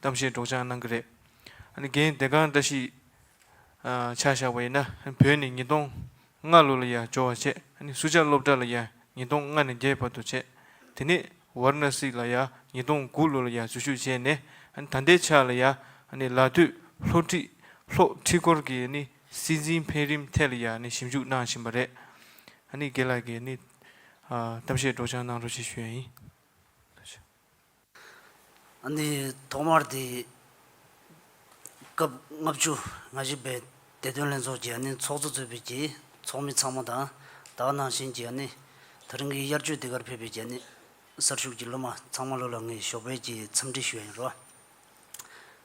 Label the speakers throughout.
Speaker 1: གཏམ་བཤད་སྒྲོག་སྦྱང་གནང་གི་རེད། རྒན་བདེ་སྒང་བཀྲ་ཤིས། ཆ་བཞག་པ་ཡིན་ན་བོད་ནས་ཉིས་སྟོང་ལྔ་ལོ་ལ་ཡང་འབྱོར་བ་བྱས། སུ་ཇཱ་སློབ་གྲྭ་ལ་ཡང་ཉིས་སྟོང་ལྔ་ནས་བརྒྱད་བར་དུ་བྱས། དེ་ནས་ཝར་ན་སི་ལ་ཡང་ཉིས་སྟོང་དགུ་ལོ་ལ་ཡང་འཛུལ་ཞུགས་བྱས་ནས་ད་ལྟའི་ཆ་ལ་ཡང་ལ་སྟོད་ལྷོ་ཁྲིད་ལྷོ་ཁྲིད་སྐོར་གྱི་སྲིད་འཛིན་འཕེལ་རིམ་ཐད་ལ་ཡང་ཞིབ་འཇུག་གནང་བཞིན་པ་རེད། དགེ་ལགས་ཀྱིས་གཏམ་བཤད་སྒྲོག་སྦྱང་གནང་རོགས་ཞེས་ཞུ་ཡ་ཡིན།
Speaker 2: འདི་ཐོག་མར་དེ་སྐབས་ལྔ་བཅུ་ང་བཞི་པའི་བདེ་དོན་ལྷན་ཚོགས་ཀྱི་ཚོགས་གཙོ་གཙོས་པའི་ཚོགས་མི་ཚང་མ་དང་དག་སྣང་ཞིང་གི་ད་རིང་གི་དབྱར་ཆོས་དེ་གར་ཕེབས་པའི་གསར་ཞུགས་ཀྱི་སློབ་མ་ཚང་མ་བློ་ལ་ངེས་ཞོགས་པའི་འཚམས་འདྲི་ཞུ་ཡ་ཡིན་རོགས།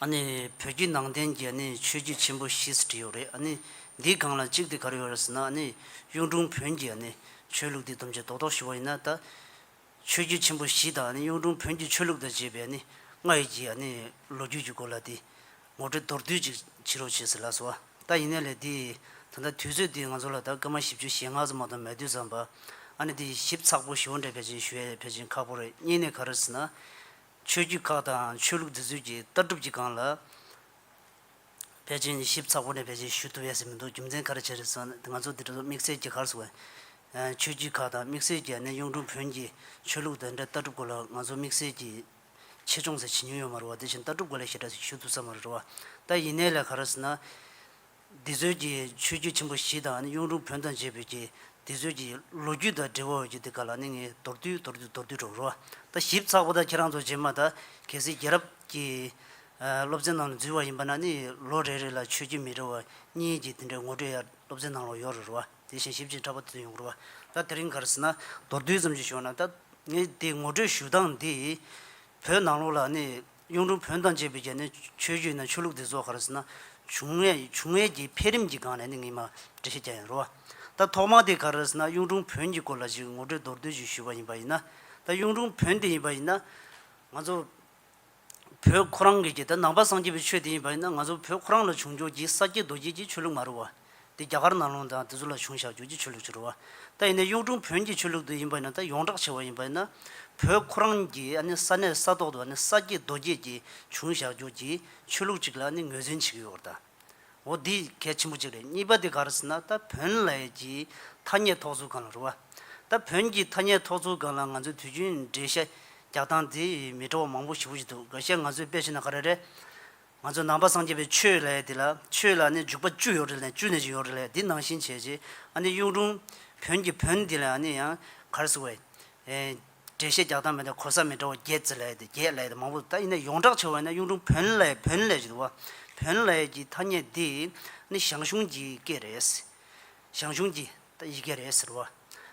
Speaker 2: ཨ་ནི་བོད་བརྒྱུད་ནང་བསྟན་གྱི་ཨ་ནི་ཆོས་བརྒྱུད་ཆེན་པོ་བཞི་ཟེར་གྱི་ཡོད་རེད་ཨ་ནི་འདིའི་སྒང་ལ་གཅིག་དེ་ག་རེ་ཡོད་རེད་ཟེར་ན་ཨ་ནི་གཡུང་དྲུང་བོན་གྱི་ཨ་ནི་ཆོས་ལུགས་དེ་བསྡོམས་བྱས་རྡོག་རྡོག་ཞུ་བ་ཡིན་ན་ད། ཆོས་བརྒྱུད་ཆེན་པོ་བཞི་དང་ཨ་ནི་གཡུང་དྲུང་བོན་གྱི་ཆོས་ལུགས་དང་བཅས་པའི་ཨ་ནི་སྔར་ཡོད་ཀྱི་ཨ་ནི་ལོ་རྒྱུས་ཀྱི་སྐོར་ལ་དེ་ངོ་སྤྲོད་མདོར་བསྡུས་ཅིག་བྱེད་རོགས་བྱས་ཟེར་ལགས་སོ། ད་ཡིན་ན་ལས་དེ་ད་ལྟ་དུས་ཚོད་དེ་ང་ཚོ་ལ་ད་སྐར་མ་བཞི་བཅུ་ཞེ་ལྔ་ཙམ་མ་གཏོགས་མེད་དུས་ཙམ་པ་ཨ་ནི་དེ་ཞིབ་ཚགས་པོ་ཞུ་བ་འདྲ་བས་ཅན་ཞུ་ཡ་བས་ཅན་ཁག་པོ་རེད་གཉིས་ནས་ག་རེ་ཟེར་ན། ཆོས་བརྒྱུད་ཁག་དང་ཆོས་ལུགས་འདི་ཚོས་ཀྱི་ལྟ་གྲུབ་ཀྱི་སྒང་ལ། ཕལ་ཆེར་ནི་ཞིབ་ཚགས་པོ་ནས་ཕལ་ཆེར་ཞུ་ཐུབ་ཡ་ཟིན་མི་འདུག་རྒྱུ་མཚན་ག་རེ་བྱས་རེད་ཟེར་ན་ང་ཚོ་འདི་གྲོ་སོ་དམིགས་བསལ་གྱི་ཁར་སོང་བས། ཆོས་བརྒྱུད་ཁག་དང་དམིགས་བསལ་གྱི་གནས་གཡུང་དྲུང་བོན་གྱི་ཆོས་ལུགས་དང་འབྲེལ་ལྟ་གྲུབ་སྐོར་ལ་ང་ཚོ་དམིགས་བསལ་གྱི་ཆེད་སྦྱོང་ཟེར་བྱེད་མྱོང་ཡོད་མ་རེད་བ་དེ་བཞིན་ལྟ་གྲུབ་སྐོར་ལས་ཞེ་དྲགས་ཞིག་ཞུ་ཐུབ་ས་མ་རེད་བ། ད་ཡིན་ནའི་ལས་ག་རེ་ཟེར་ན། འདི་ཚོའི་ཀྱི་ཆོས་བརྒྱུད་ཆེན་པོ་བཞི་དང་ནི་གཡུང་དྲུང་བོན་དང་བཅས་པའི་ཀྱི་འདི་ཚོའི་ཀྱི་ལོ་རྒྱུས་དང་འབྲེལ་བ་འོད་ཀྱི་འདི་ག་ལ་ནི་ངས་མདོར་བསྡུས་མདོར་བསྡུས་མདོར་བསྡུས་སྒྲོག་རོགས་ད་ཞིབ་ཚགས་པོ་ད་ཁྱེད་རང་ཚོ་རྗེས་མ་ད་གལ་སྲིད་རྒྱལ་རབས་ཀྱི་སློབ་ཚན་ནང་ལ་འཛུལ་བ་ཡིན་པ་ན་ནི་ལོ་རེ་རེ་ལ་ཆོས་བརྒྱུད་མི་རེ་བ་གཉིས་ཀྱི་དེ་འདྲའི་ངོ་སྤྲོད་ཡར་སློབ་ཚན་ནང་ལ་ཡོད་རེ་རོ་དེ་བཞིན་ཞིབ་ཅིང་ཕྲ་པོ་དེ་ཚོ་ཡོང་གི་རོ་ད་དེ་རིང་གར་སྲིད་ན་མདོར་བསྡུས་ཙམ་ཞིག་ཞུ་བ་ན་ད་ངས་དེ་ངོ་སྤྲོད་ཞུ་སྟངས་འདི་བོད་ནང་ལོགས་ལ་ནི་གཡུང་དྲུང་བོན་དང་བཅས་པའི་རྒྱ་ནས་ཆོས་བརྒྱུད་ནང་ཆོས་ལུགས་འདི་བཟོ་ག་རེ་ཟེར་ན། བྱུང་ངེས་ཡིན་བྱུང་ངེས་ཀྱི་འཕེལ་རིམ་གྱི་སྒང་ནས་ནི་ངས་མ་འབྲི་ཤེས་ཀྱང་ཡང་རུང་བ། ད་ཐོག་མ་དེ་ག་རེ་ཟེར་ན་གཡུང་དྲུང་བོན་གྱི་སྐོར་ལ་ཅིག་ངོ་སྤྲོད་མདོར་བསྡུས་ཤིག་ཞུས་པ་ཡིན་པ་ཡིན་ན། ད་གཡུང་དྲུང་བོན་དེ་ཡིན་པ་ཡིན་ན། ང་ཚོ་བོད་ཁོ་རང་གིས་ཀྱི་ད་ནང་པ་སངས་རྒྱས་པའི་ཆོས་དེ་ཡིན་པ་ཡིན་ན་ང་ཚོ་བོད་ཁོ་རང་ལ་བྱུང་འཇུག་གྱི་ས་སྐྱེས་རྡོ་སྐྱེས་ཀྱི་ཆོས་ལུགས་མ་རུང་བ། འདི་རྒྱ་གར་ནང་ལུང་དང་དེ་ཚོ་ལ་བྱུང་བཞག་བརྗོད་ཀྱི་ཆོས་ལུགས་ཀྱི་རུ་བ། ད་ཡིན་ནའི་གཡུང་དྲུང་བོན་གྱི་ཆོས་ལུགས་དེ་ཡིན་པ་ཡིན་ན་ད་ཡོངས་གྲགས་ཆེ་བ་ཡིན་པ་ཡིན་ན། བོད་ཁོ་རང་གི་ཨ་ནི་ས་གནས་ས་ཐོག་ཏུ་ཨ་ནི་ས་སྐྱེས་རྡོ་སྐྱེས་ཀྱི་བྱུང་བཞག་བརྗོད་ཀྱི་ཆོས་ལུགས་ཅིག་ལ་ཨ་ནི་ངོས་འཛིན་བྱེད་ཀྱི་ཡོད་རེད་ད། འོ་འདི་གལ་ཆེན་པོ་ཅིག་རེད་གཉིས་པ་དེ་ག་རེད་ཟེར་ན་ད་བོན་ལས་ཀྱི་ཐ་སྙད་ཐོགས་ཚུལ་གང་ལ་རུ་བ། ད་བོན་གྱི་ཐ་སྙད་ཐོགས་ཚུལ་གང་ལ་ང་ཚོས་དུས་རྒྱུན་འགྲེལ་བཤད་རྒྱག་སྟངས་དེ་མི་འདྲ་བ་མང་པོ་ཞིག་འོ་ཞིག་འདུག་གལ་སྲིད་ང་ཚོས་དཔེ་བྱས་ན་ག་རེ་རེད། ང་ཚོས་ནང་པ་སངས་རྒྱས་པའི་ཆོས་ལས་དེ་ལ་ཆོས་ལ་ནི་འཇུག་པ་བཅུ་ཡོད་རེད་ལས་བཅུ་ནས་ཅིག་ཡོད་རེད་ལས་དེ་ནང་བཞིན་བྱས་རྗེས་ཨ་ནི་གཡུང་དྲུང་བོན་གྱི་བོན་དེ་ལས་ཨ་ནི་ཡང་གར་སི་བའི། འགྲེལ་བཤད་རྒྱག་སྟངས་མེད་དེ་གོ་ས་མི་འདྲ་བ་བརྒྱད་ཙི་ལས་དེ་བརྒྱད་ལས་དེ་མང་པོ་འདུག་ད་ཡིན་ན་ཡོངས་གྲགས་བྱ་བ་ཡིན་ན་གཡུང་དྲུང་བོན་ལས་བོན་ལས་ཅིག་འདུག་བ་བོན་ལས་ཀྱི་ཐ་སྙད་འདི་ནི་ཞང་ཞུང་གྱི་སྐད་རེད། ཞང་ཞུང་གྱི། ད་ཡི་གེ་རེད་ཟེར་བ།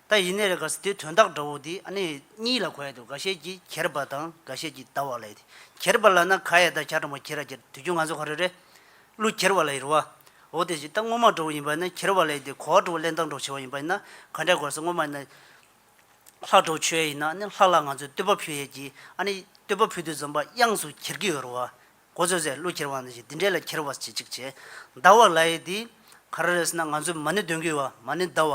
Speaker 2: ད་ཡིན་ནི་རེད་ག་ཟེར་དེ་དོན་དག་འདྲ་བོ་འདི་ཨ་ནི་གཉིས་ལ་གོ་ཡ་འདུག་ག་ཤེད་ཀྱི་གྱེར་པ་དང་ག་ཤེད་ཀྱི་ད་བ་ལ་ཡི་དེ་གྱེར་པ་ལ་ན་ག་ཡ་ད་གྱ་དྲ་མོ་གྱེར་ར་གྱེར་དུས་རྒྱུན་ང་ཚོ་ག་རེ་རེད་གླུ་གྱེར་བ་ལ་ཡི་རུ་བ་འོ་དེ་བཞིན་ད་སྔོན་མ་འགྲོ་བོ་ཡིན་པ་ན་གྱེར་བ་ལ་ཡི་དེ་གོ་བ་འགྲོ་བོ་གླེན་སྟངས་འགྲོ་བྱེད་བ་ཡིན་པ་ཡིན་ན་ག་འདྲ་གོ་ཟེར་སྔོན་མ་ཡིན་ན་ལྷག་འགྲོ་བོ་ཆོད་ཡ་ཡིན་ན་ཨ་ནི་ལྷག་ལ་ང་ཚོས་བསྟོད་པ་ཕུལ་ཡས་ཀྱི་ཨ་ནི་བསྟོད་པ་ཕུལ་དུས་འཛོམས་པ་དབྱངས་སུ་གྱེར་གྱི་ཡོད་རུ་བ་གོ་ཚོད་ཟེར་གླུ་འཁྱེར་བ་འདི་ཞིག་འདི་འདྲས་ལ་འཁྱེར་བ་བྱེད་ཅིག་ཅེས། ཟླ་བ་ལ་ཡི་དེས། ག་ར་རེས་ན་ང་ཚོས་མ་ཎི་འདོན་གི་བ་མ་ཎི་ཟླ་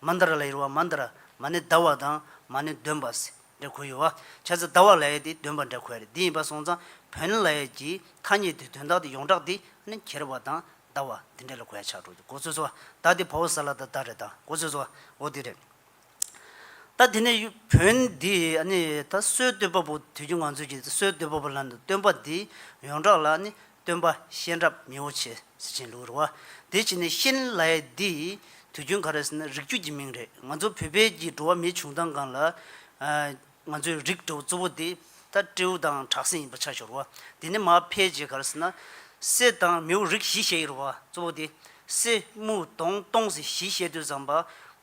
Speaker 2: བ། མ་འདར་ལ་ཡིར་བ་མ་འདར། མ་ཎི་ཟླ་བ་དང་མ་ཎི་འདོན་པ། འདྲ་གོ་ཡོད། བྱ་ཚིག་ཟླ་བ་ལ་ཡི་དེས་འདོན་པ་འདྲ་གོ་ཡ་རེད་འདི་ཡིན་པ་སོང་ཙང་བོན་ལ་ཡི་གྱི་ཐ་སྙད་དེ་དོན་དག་དེ་ཡོངས་གྲགས་འདི་ནི་འཁྱེར་བ་དང་ཟླ་བ་འདི་འདྲས་ལ་གོ་ཡ་ཆགས་འགྲོ་གི་གོ་ཚོད་ཟོ་བ་ཟླ་འདི་བ་བོ་ཟ་ལ་ད་ད་རེད་ད་གོ་ཚོད་ཟོ་བ་བོ་འདི་རེད། ད་དེ་ནས་བོན་འདི་ད་གསོལ་བསྟོད་པ་པོ་དུས་ཀྱི་ང་ཚོས་ཀྱི་གསོལ་བསྟོད་པ་པོ་ལ་སྟོན་པ་འདི་ཡོངས་གྲགས་ལ་སྟོན་པ་གཤེན་རབ་མི་བོ་ཆེ་སེ་ཆེན་ལུགས་ར་བ་དེ་བྱས་ནས་གཤེན་ལའི་འདི་དུས་རྒྱུན་ག་རེ་ཟེར་ན་རིགས་རྒྱུད་ཀྱི་མིང་རེད་ང་ཚོ་བོད་པའི་ཀྱི་འགྲོ་བ་མིའི་བྱུང་སྟངས་གང་ལ་ང་ཚོའི་རིགས་གྲོ་གཙོ་བོ་འདི་ད་སྤྲེའུ་དང་བྲག་སྲིན་ཡིན་པ་ཆ་ཞོར་བ་དེ་ནས་མ་ཕལ་རྗེས་ག་རེ་ཟེར་ན་སེ་དང་མིའུ་རིགས་བཞི་བཤད་ཡོད་ར་བ་གཙོ་བོ་དེ་སེ་མུའུ་དོང་སྟོང་སེ་བཞི་བཤད་དུས་བཟང་པ།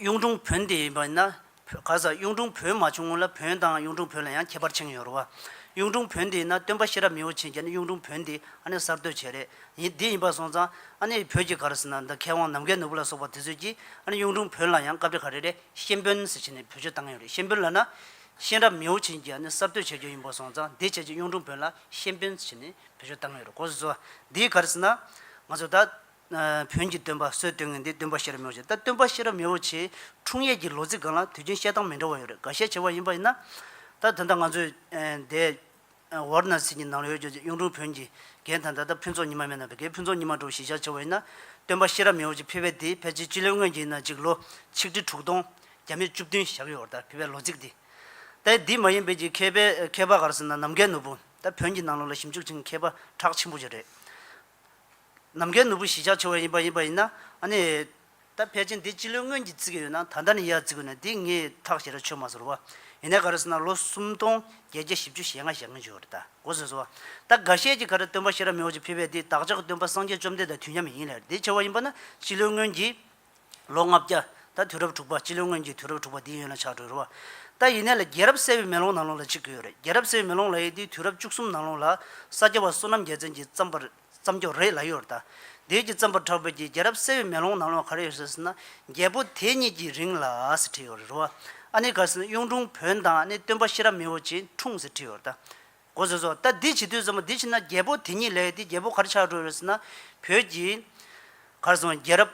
Speaker 2: གཡུང་དྲུང་བོན་དེ་ཡིན་པ་ཡིན་ན། ག་ས་གཡུང་དྲུང་བོན་མ་བྱུང་སྔོན་ལ་བོན་དང་གཡུང་དྲུང་བོན་ལ་ཡང་ཁྱད་པར་ཆེན་ཡོད་རུང་བ། གཡུང་དྲུང་བོན་དེ་ཡིན་ན་སྟོན་པ་ཤེས་རབ་མི་བོ་ཆེན་རྒྱལ་ནི་གཡུང་དྲུང་བོན་དེ་ཨ་ནི་གསར་གཏོད་བྱས་རེད་ཡིན་དེ་ཡིན་པར་སོང་ཙང་ཨ་ནི་བོད་ཀྱི་གར་ཟེར་ན་འདི་མཁས་དབང་ནམ་མཁའི་ནོར་བུ་ལ་སོགས་པ་དེ་ཚོས་ཀྱིས་ཨ་ནི་གཡུང་དྲུང་བོན་ལ་ཡང་བཀའ་བསྒྲིགས་ག་རེ་རེད་གཤེན་བོན་ཟེར་བྱས་ནས་བེད་སྤྱོད་བཏང་ཡོད་རེད་གཤེན་བོན་ལ་ན། ཤེས་རབ་མི་བོ་ཆེན་གྱིས་ཨ་ནི་གསར་གཏོད་བྱས་རྒྱུ་ཡིན་པར་སོང་ཙང་དེ་བྱས་རྗེས་གཡུང་དྲུང་བོན་ལ་གཤེན་བོན་ཟེར་བྱས་ནས་བེད་སྤྱོད་བཏང་ཡོད་རེད་གོ་ཟེར་ཚོ། དེའི་གར་ཟེར་ན། ང་ཚོ་ད། བོན་གྱི་སྟོན་པ་སྲོལ་བཏོད་ངན་འདི་སྟོན་པ་ཤེས་རབ་མེ་བོ་ཆེ་ད་སྟོན་པ་ཤེས་རབ་མེ་བོ་ཆེའི་འཁྲུངས་ཡས་ཀྱི་ལོ་ཚིགས་གང་ལ་དུས་ཆེན་བཤད་སྟངས་མི་འདྲ་བ་ཡོད་རེད་འགའ་ཤས་བྱེ་བ་ཡིན་པ་ཡིན་ན། ད་དོན་དག་ང་ཚོས་འདས་ཝར་ན་སི་གྱི་ནང་ལོའི་ཡོད་གཡུང་དྲུང་བོན་གྱི་རྒན་དང་ད་ལྟ་ཕུན་ཚོགས་ཉི་མ་མེད་ན་བི་གའི་ཕུན་ཚོགས་ཉི་མ་འགྲོ་བཞིན་བཞག་བྱེ་བ་ཡིན་ན། སྟོན་པ་ཤེས་རབ་མེ་བོ་ཆེ་ཕི་བས་འདི་ཕལ་ཆེར་སྤྱི་ལོའི་སྔོན་གྱི་ཡིན་ན་ཅིག་ལོ་ཆིག་ཁྲི་དྲུག་སྟོང་བརྒྱ་མེད་བཅུ་བདུན་ཞག་ཡོད་བར་ད་ཕི་བའི་ལོ་ཚིགས་འདི་ད་འདི་མ་ཡིན་པའི་གྱི་མཁས་པའི་མཁས་པ་གར་སོང་ན་ནམ་མཁའི་ནོར་བུ་ད་བོན་གྱི་ནང་ལོ་ལ་ཞིབ་འཇུག་བྱེད་མཁས་པ་གྲགས་ཆེན་པོ་ཅིག་རེད། ནམ་མཁའི་ནོར་བུ་བཞི་ཆ་ཆུང་བ་ཡིན་པ་ཡིན་པ་ཡིན་ན་ནི། ད་ཕལ་ཆེར་འདི་སྤྱི་ལོའི་སྔོན་གྱི་བརྩི་གི་ཡོད་ན་ད་ལྟ་ནི་ཡར་བརྩི་དགོས་ན་འདི་ངས་ཐག་བཅད་ར་ཆོད་མ་ཟེར་རོ། ཡིན་ནའི་ག་རེ་ཟེར་ན་ལོ་སུམ་སྟོང་བརྒྱད་བརྒྱ་བཞི་བཅུ་ཞེ་ལྔ་ཞེ་ལྔ་བཅུ་རེད་ད་གོ་ཟེར་སོ། ད་ག་ཤེད་ཀྱི་ག་རེ་སྟོན་པ་ཤེས་རབ་མེ་འོ་ཅི་ཕེབས་པས་འདི་བདག་ཅག་གི་སྟོན་པ་སངས་རྒྱས་བཅོམ་ལྡན་དང་དུས་མཉམ་ཡིན་ལེར་འདི་བྱ་བ་ཡིན་པ་ན་སྤྱི་ལོའི་སྔོན་གྱི། ལོ་ལྔ་བརྒྱ། ད་དུས་རབས་དྲུག་པ་སྤྱི་ལོའི་སྔོན་གྱི་དུས་རབས་དྲུག་པ་འདི་ཡོད་ན་ཆགས་གྲོལ་རོ། ད་ཡིན་ནའི་ལ་རྒྱལ་རབས་གསལ་བའི་མེ་ལོང་ནང་ལོང་ལ་གཅིག་གི་ཡོད་རེད་རྒྱལ་རབས་གསལ་བའི་མེ་ལོང་ལ་ཡི་འདི་དུས་རབས་བཅུ་གསུམ་ནང་ལོང་ལ་ས་སྐྱ་བ་བསོད་ནམས་རྒྱལ་མཚན་གྱིས་བརྩམས་པ་རེད། བརྩམས་ཆོས་རེད་ལ་ཡོར་དཱ་དུས་ཀྱི་བརྩམས་པ་ཁྲ་བོས་ཀྱི་རྒྱལ་རབས་གསལ་བའི་མེ་ལོང་ནང་ལོགས་གར་ཡོད་ཟེར་སྲིད་ན་རྒྱལ་པོ་དེ་གཉིས་ཀྱི་རིང་ལ་ཟེར་བྲིས་ཡོད་རེད་རོ། ཨ་ནི་གར་སེ་ན་གཡུང་དྲུང་བོན་དང་ཨ་ནི་སྟོན་པ་ཤེས་རབ་མི་བོ་ཆེའི་འཁྲུངས་ཟེར་བྲིས་ཡོད་རེད་དཱ། གོ་ཟེར་སོ། ད་འདི་བྱེད་དུས་བརྩམས་པ་འདི་བྱས་ན་རྒྱལ་པོ་དེ་གཉིས་ལས་དེ་རྒྱལ་པོ་གར་ཆགས་འགྲོ་ཡོད་ཟེར་ན་བོད་ཀྱི་གར་སོང་རྒྱལ་རབས་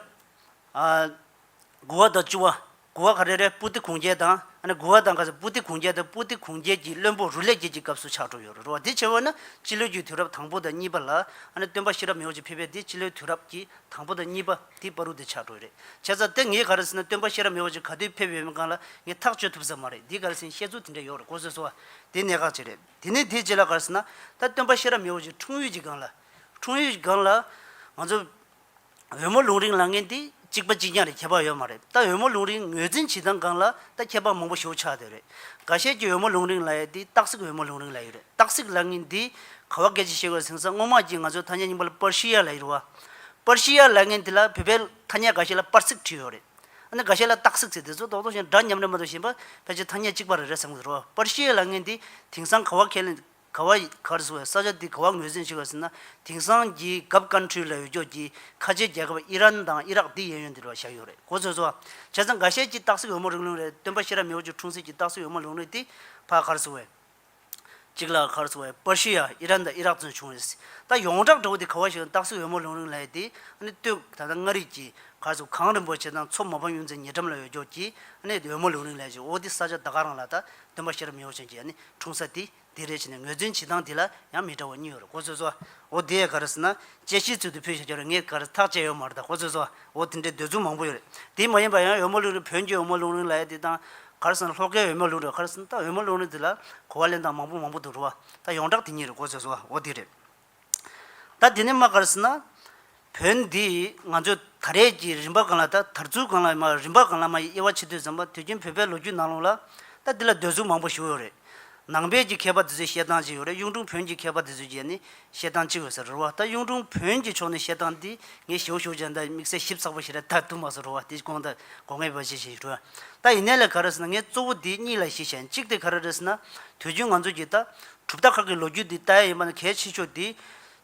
Speaker 2: དགུ་བ་དང་བཅུ་བ་དགུ་བ་ཁ་རེ་རེ་པུ་ཏི་གུང་རྒྱལ་དང། དགུ་བ་དང་ཁ་སང་པུ་ཏི་གུང་རྒྱལ་དང་པུ་ཏི་གུང་རྒྱལ་གྱི་བློན་པོ་རུ་ལས་རྒྱལ་གྱི་སྐབས་སུ་ཕྱག་གྲུབ་ཡོད་རུང་རུང་བ་དེ་བྱེད་པ་ནི་སྤྱི་ལོའི་རྒྱུའི་དུས་རབས་དང་པོ་དང་གཉིས་པ་ལ། སྟོན་པ་ཤེས་རབ་མེའོ་ཅེ་ཕེབས་པའི་དེ་སྤྱི་ལོའི་དུས་རབས་ཀྱི་དང་པོ་དང་གཉིས་པ་དེ་པ་རུ་དེ་ཕྱག་གྲུབ་རེད་བྱས་ཙང་དེ་ངས་ག་རེ་ཟེར་ན་སྟོན་པ་ཤེས་རབ་མེའོ་ཅེ་ག་དུས་ཕེབས་ཡོད་མེད་གང་ལ་ངས་ཐག་གཅོད་ཐུབ་ས་མ་རེད་འདི་ག་རེ་ཟིན་བཤད་ཚུལ་དེ་འདྲ་ཡོད་རེད་གོ་སོས་སོ། དེ་གནད་འགག་ཅིག་རེད་དེ་ནས་དེ་རྗེས་ལ་ག་རེ་ཟེར་ན། ད་སྟོན་པ་ཤེས་རབ་མེའོ་ཅེ་འཁྲུངས་ཡུལ་གྱི་སྒང་ལ། འཁྲུངས་ཡུལ་གྱི་སྒང་ལ། ང་ཚོ། འོལ་མོ་ལུང་རིང་ལ་ངན་དེ་གཅིག་པ་གཅིག་རྐྱང་རེད་ཁྱད་པར་ཡོད་མ་རེད་ད་འོལ་མོ་ལུང་རིང་ངོས་འཛིན་བྱེད་སྟངས་སྒང་ལ་ད་ཁྱད་པར་མང་པོ་ཞུགས་ཆགས་དེ་རེད་ག་ཤེད་ཀྱི་འོལ་མོ་ལུང་རིང་ལ་ཡོད་དེ་སྟག་གཟིག་འོལ་མོ་ལུང་རིང་ལ་ཡོད་རེད་སྟག་གཟིག་ལ་ངན་དེ་ག་བ་སྐད་ཅིག་བཤད་དགོས་ཟིང་ས་སྔོན་མ་གྱི་ང་ཚོའི་ཐ་སྙད་རྙིང་པ་ལ་པར་ཤི་ཡ་ལ་ཡིར་བ་པར་ཤི་ཡ་ལ་ངན་དེ་ལ་བོད་པའི་ཐ་སྙད་ག་ཤེད་ལ་པར་གཟིག་བྲིས་ཡོད་རེད་ཨ་ནི་ག་ཤེད་ལ་སྟག་གཟིག་ཟེར་དེ་ཚོ་རྡོག་རྡོག་ཞན་སྒྲ་ཉམས་རེད་མ་གཏོགས་གཞན་པ་ཕལ་ཆེར་ཐ་སྙད་གཅིག་པ་རེད་རེད་བསམ་གི་འདུག་རོ་པར་ཤི་ཡ་ལ་ངན་དེ་དེང་སང་ག་བ་ཁས་ལེན་ག་བ་ཡིགར་ཟེར་བའི་ས་ཆ་འདི་ག་བ་ངོས་ཟིན་བྱེད་དགོས་ཟེར་ན་དེང་སང་གི་གབ་ཀན་ཁྲུའི་ལ་ཡོད་ཀྱོག་གྱི་ཁ་ཆེའི་རྒྱལ་ཁབ་ཨི་རན་དང་ཨི་རག་འདི་ཡན་ཡོད་འདི་རུ་བ་ཞག་ཡོད་རེད་གོ་ཚོད་ཚོད་བྱས་ཙང་འགའ་ཤས་ཀྱིས་སྟག་གཟིག་འོལ་མོ་རིགས་ལུང་རེད་སྟོན་པ་ཤེས་རབ་མེ་བོ་ཆུ་འཁྲུངས་སྲིད་ཀྱི་སྟག་གཟིག་འོལ་མོ་ལུང་རེད་དེ་ཕ་གར་ཟེར་བའི། གཅིག་ལ་གར་ཟེར་བའི་པར་ཤི་ཡ་ཨི་རན་དང་ཨི་རག་བཙོན་བྱུང་རེད་ད་ཡོངས་གྲགས་འདྲ་བོ་དེ་ག་བ་ཞིག་ཡང་སྟག་གཟིག་འོལ་མོ་ལུང་རིང་ལ་ཡོད་དེ་ཨ་ནི་ལྟོས་ད་ལྟ་མངའ་རིས་ཀྱི་གར་ཟེར་བ་གངས་རིན་པོ་ཆེ་དང་མཚོ་མོ་བམ་ཡུམ་ཚའི་ཉེ་འགྲམ་ལ་ཡོད་ཀྱོག་གྱི་ཨ་ནི་འོལ་མོ་ལུང་རིང་ལ་ཡོད་ཅིང་ཨོ་དེ་ས་ཆ་ད་ག་རང་ལ་ད་སྟོན་པ་ཤེས་རབ་མི་བོ་ཆེན་གྱིས་ནི་འཁྲུངས་ས་དེ་དེ་རེད་ཅེས་ནས་ངོས་འཛིན་བྱེད་སྟངས་དེ་ལ་ཡང་མི་འདྲ་བ་གཉིས་ཡོད་ཀོ་ཚོད་ཟོ། འོ་དེ་ཡས་ག་རེ་ཟེར་ན། དཔྱད་གཞིའི་ཚུལ་དུ་ཕུལ་བཞག་རྒྱུ་རེད་ངས་ག་རེ་ཐག་བཅད་ཡོད་མ་རེད་ད་ཀོ་ཚོད་ཟོ། འོ་དེ་འདྲའི་འདོད་ཚུལ་མང་པོ་ཡོད་རེད། དེ་མ་ཡིན་པར་ཡང་འོལ་མོ་ལུང་རིང་བོན་གྱི་འོལ་མོ་ལུང་རིང་ལ་ཡས་དེ་དང། ག་རེ་ཟེར་ན་ལྷོ་ཁའི་འོལ་མོ་ལུང་རིང་ག་རེ་ཟེར་ན་ད་འོལ་མོ་ལུང་རིང་དེ་ལ་གོ་བ་ལེན་སྟངས་མང་པོ་མང་པོ་འདུག་འགྲོ་བ་ད་ཡོངས་གྲགས་དེ་གཉིས་རེད་ཀོ་ཚོད་ཟོ། འོ་དེ་རེད། ད་དེ་ནས་མ་དགར་ཟེར་ན། བོད་འདི་ང་ཚོས་ད་རེས་ཀྱི་རིམ་པ་གང་ལ་ད་དར་ཚུལ་གང་ལ་རིམ་པ་གང་ལ་མ་ཡི་དབྱེ་བ་ཕྱེ་དུས་ཙམ་པ་དུས་རྒྱུན་བོད་པའི་ལོ་རྒྱུས་ནང་ལོགས་ལ། ད་འདི་ལ་སྡོད་གཟུགས་མང་པོ་ཞུགས་ཡོད་རེད། ནང་པས་ཀྱི་མཁས་པ་དེ་ཚོས་བཤད་སྟངས་གཅིག་ཡོད་རེད་གཡུང་དྲུང་བོན་གྱི་མཁས་པ་དེ་ཚོས་ཀྱི་ནི་བཤད་སྟངས་གཅིག་ཡོད་ཟེར་རེད་བ་ད་གཡུང་དྲུང་བོན་གྱི་ཕྱོགས་ནས་བཤད་སྟངས་འདི་ངས་ཞེའུ་ཞོགས་ཅན་དང་དམིགས་བསལ་ཞིབ་ཚགས་པོ་ཞིག་རེ་ད་ཐུག་མ་སོང་རེད་བ་དེ་ཀྱི་དགོངས་དག་གོ་ངེས་པའི་བྱེད་བཞིན་ཡོད་རེད་བ་ད་ཡིན་ནའི་ལས་ག་རེ་ཟེར་ན་ངས་གཙོ་བོ་འདི་གཉིས་ལ་གཞི་བཞེན་གཅིག་དེ་ག་རེ་རེད་ཟེར་ན་དུས་རྒྱུན་ང་ཚོས་ཀྱི་ད་གྲུབ་མཐའ་ཁག་གི་ལོ་རྒྱུས་འདི་ལྟ་ཡ་ཡིན་པ་ནི་གལ་ཆེ་ཆོག་འདི།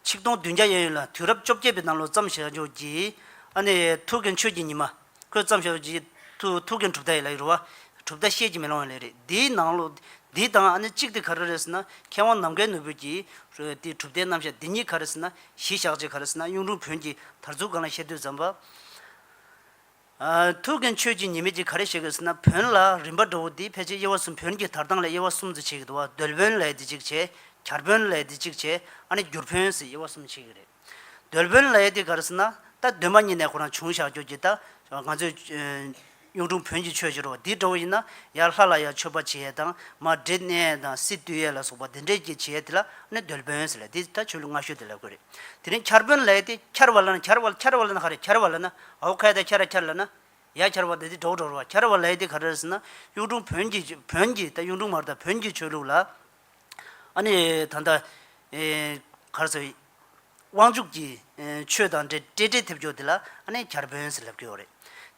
Speaker 2: ཆིག་སྟོང་བདུན་བརྒྱ་ཡན་ཡོད་ལ་དུས་རབས་བཅོ་བརྒྱད་པའི་ནང་ལོ་བརྩམས་ཞེས་རྗོགས་ཀྱི། ཨ་ནི་ཡའི་ཐུའུ་གན་ཆོས་ཀྱི་ཉི་མ། ཁོས་བརྩམས་ཞེས་རྗོགས་ཀྱི། ཐུའུ་ཐུའུ་གན་གྲུབ་མཐའ་ཡི་ལ་ཡི་རུ་བ། གྲུབ་མཐའ་བཤད་ཀྱིས་མི་ལང་བ་ལས་རེད། འདིའི་ནང་ལོ། འདི་དང་ཨ་ནི་གཅིག་དེ་ག་རེ་རེད་ཟེར་ན། མཁས་དབང་ནམ་མཁའི་ནོར་བུ་གྱིས། དེའི་གྲུབ་མཐའི་རྣམ་བཞག་འདི་གཉིས་ག་རེ་ཟེར་ན། གཞི་བཞག་ཅེས་ག་རེ་ཟེར་ན་གཡུང་དྲུང་བོན་གྱིས་དར་ཚུལ་སྒང་ལ་བཤད་དུས་བརྩམས་པ། ཐུགས་ཀྱི་མཆོད་ཅིང་ཉེས་མེད་ཅིག་ག་རེ་བྱེད་དགོས་ཟེར་ན་བོན་ལ་རིམ་པ་འགྲོ་བོ་འདིས་ཕལ་ཆེར་དབྱེ་བ་གསུམ་བོན་གྱི་དར་ཐང་ལས་དབྱེ་བ་གསུམ་དུ་ཕྱེ་གི་འདུག་བ་རྡོལ་བོན་ལས་འདི་གཅིག་ཕྱེ། གར་བོན་ལས་འདི་གཅིག་ཕྱེ་ཨ་ནི་འགྱུར་བོན་ཟེར་དབྱེ་བ་གསུམ་ཕྱེ་གི་རེད། རྡོལ་བོན་ལས་དེ་ག་རེ་ཟེར་ན་རྟ་འདོན་པ་གཉིས་ནས་ཁོ་རང་བྱུང་ཞག་སྐྱོར་གྱི་རྟ། ང་ཚོས་གཡུང་དྲུང་བོན་གྱི་ཆོས་བྱེད་རོགས་འདི་འགྲོ་བོ་ཡིན་ན་ཡར་ལྷ་ལ་ཡང་མཆོད་པ་བྱེད་ཡས་དང་མར་བྲེ་གནས་ཡས་དང་སི་བཏུལ་ཡས་ལ་སོགས་པ་འདི་འདྲས་ཀྱི་བྱེད་ཡས་དེ་ལ་ཨ་ནི་རྡོལ་བོན་ཟེར་ལས་དེ་ད་ཆོས་ལུགས་སྔ་ཤོས་དེ་ལས་དགོས་རེད། དེ་རིང་གར་བོན་ལས་དེ་འཁྱར་བ་ལ་ན་འཁྱར་བ་འཁྱར་བ་ལ་ན་ག་རེ་འཁྱར་བ་ལ་ན་ཨའོ་ཁལ་དེ་ཁྱེར་ར་ཁྱེར་ལ་ན། ཡ་ཁྱེར་བ་དེ་དེ་གྲོགས་གྲོགས་ར་བ་ཁྱེར་བ་ལའི་དེ་ག་རེ་ཟེར་ན། གཡུང་དྲུང་བོན་གྱི་བོན་གྱི་དང་གཡུང་དྲུང་མར་དང་བོན་གྱི་ཆོས་ལུགས་ལ། ཨ་ནི་ད་ལྟ། གར་སོ། དབང་ཕྱུག་གི་ཆོས་དང་འདྲེ་བཀྲེས་བཀྲེས་ཐེབས་ཀྱོ་དེ་ལ་ཨ་ནི་གར་བོན་ཟེར་ལབ་ཀྱོ་རེད།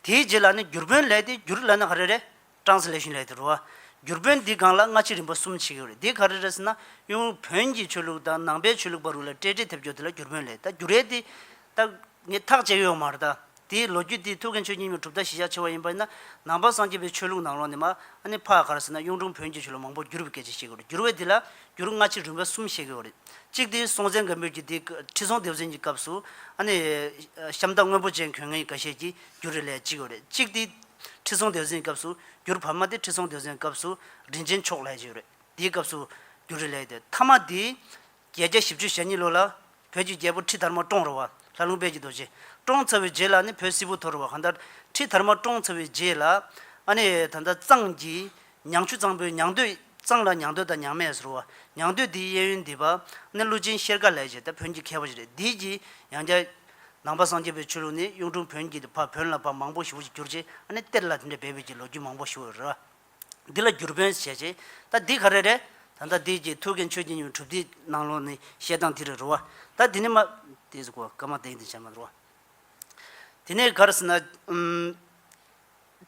Speaker 2: དེའི་རྗེས་ལ་ནི་བསྒྱུར་བོན་ལའི་དེ་བསྒྱུར་ལ་ན་ག་རེ་རེད། Translation ལས་དུ་རུ་བ། འགྱུར་བོན་འདི་གང་ལ་སྔ་ཕྱི་རིམ་པ་གསུམ་ཕྱེས་ཡོད་རེད་དེ་ག་རེ་རེད་ཟེར་ན་གཡོན་དབུས་བོན་གྱི་ཆོས་ལུགས་དང་ནང་པའི་ཆོས་ལུགས་པ་རུ་ལ་སྤྲད་སྤྲད་ཐེབས་འགྱུར་དེ་ལ་འགྱུར་བོན་ལས་ད་འགྱུར་རེད་དེ། ད། ངས་ཐག་བཅད་ཡོད་མ་རེད་ད། དེའི་ལོ་རྒྱུས་དེ་ཐུའུ་བཀྭན་ཆོས་རྒྱུན་ཉི་མ་གྲུབ་མཐའ་གཞི་བཞག་ཆེ་བ་ཡིན་པ་ཡིན་ན་ནང་པ་སངས་རྒྱས་པའི་ཆོས་ལུགས་ནང་ལོགས་ནས་མ་ཨ་ནི་ཕ་ག་རེ་ཟེར་ན་གཡུང་དྲུང་བོན་གྱི་ཆོས་ལུགས་མང་པོ་འགྱུར་བའི་སྐད་ཆ་བཤད་གི་རེད་འགྱུར་བས་དེ་ལ་འགྱུར་སྔ་ཕྱི་རིམ་པ་གསུམ་ཕྱེས་གི་ཡོད་རེད། གཅིག་དེ་སྲོང་བཙན་སྒམ་པོད་ཀྱི་དེའི་ཁྲི་སྲོང་ལྡེའུ་བཙན་གྱི་སྐབས་སུ་ཨ་ནི། ཤམ་ཐབས་སྔོན་པོ་ཅན་གོན་ངེས་ཡིན་ག་བཤད་ཀྱི་འགྱུར་རེ་ལས་གཅིག་ཡོད་རེད་གཅིག་དེ། ཁྲི་སྲོང་ལྡེའུ་བཙན་སྐབས་སུ་འགྱུར་བར་མ་དེ་ཁྲི་སྲོང་ལྡེའུ་བཙན་སྐབས་སུ་རིན་ཆེན་ཕྱོགས་ལས་ཅིག་ཡོད་རེད་དེའི་སྐབས་སུ་འགྱུར་རེ་ལས་ཡོད་དེ་ཐ་མ་དེ། བརྒྱད་བརྒྱ་བཞི་བཅུ་ཞེ་གཉིས་ལོ་ལ་བོད་ཀྱི་རྒྱལ་པོ་ཁྲི་དར་མ་ཀྲོང་རོ་བ་ལྷ་ལུང་དཔལ་གྱི་རྡོ་རྗེ་ཀྲོང་ཚ་བོའི་རྗེས་ལ་ནི་བོད་སིལ་བུ་ཐོ་རོ་བ་གང་ལྟར་ཁྲི་དར་མ་ཀྲོང་ཚ་བོའི་རྗེས་ལ་ཨ་ནི་ད་ལྟ་གཙང་གི་མྱང་ཆུ་གཙང་པོའི་མྱང་འདོད། གཙང་ལ་མྱང་འདོད་དང་མྱང་མས་ཟུར་བ། མྱང་འདོད་འདིའི་གཡས་གཡོན་འདི་པ། ནི་ཀླུ་ཆེན་ཤེལ་དཀར་ལས་བྱས་ཏེ་བོན་གྱི་མཁས་པ་ཞིག་རེད་འདིའི་གྱི། ཡང་བརྒྱ། ནང་པ་སངས་རྒྱས་པའི་ཆོས་ལུགས་ནི་གཡུང་དྲུང་བོན་གྱི་ལས་ཕ་བོན་ལ་ཕ་མང་པོ་ཞུ་བ་ཞིག་གྱུར་རྗེས་ཨ་ནི་གཏེར་ལ་དེ་འདྲའི་འབད་འབུད་ཀྱི་ལོ་རྒྱུས་མང་པོ་ཞུ་བས་རེད། འདི་ལ་བསྒྱུར་བོན་བྱས་རྗེས་ད་འདི་ག་རེ་རེད། ད་ལྟ་འདིའི་གྱི་ཐུའུ་བཀན་ཆོས་རྒྱལ་ཉི་མའི་གྲུབ་མཐའི་ནང་ལོ་ནི་བཤད་སྟངས་དེ་རེད་རུ་བ། ད་འདི་ནི་མ། དེ་ཟེར་གོ་ཀ་མ་དེང་དེ་བྱས་མ་རུ་བ། དེ་ནས་ག་རེ་ཟེར་ན།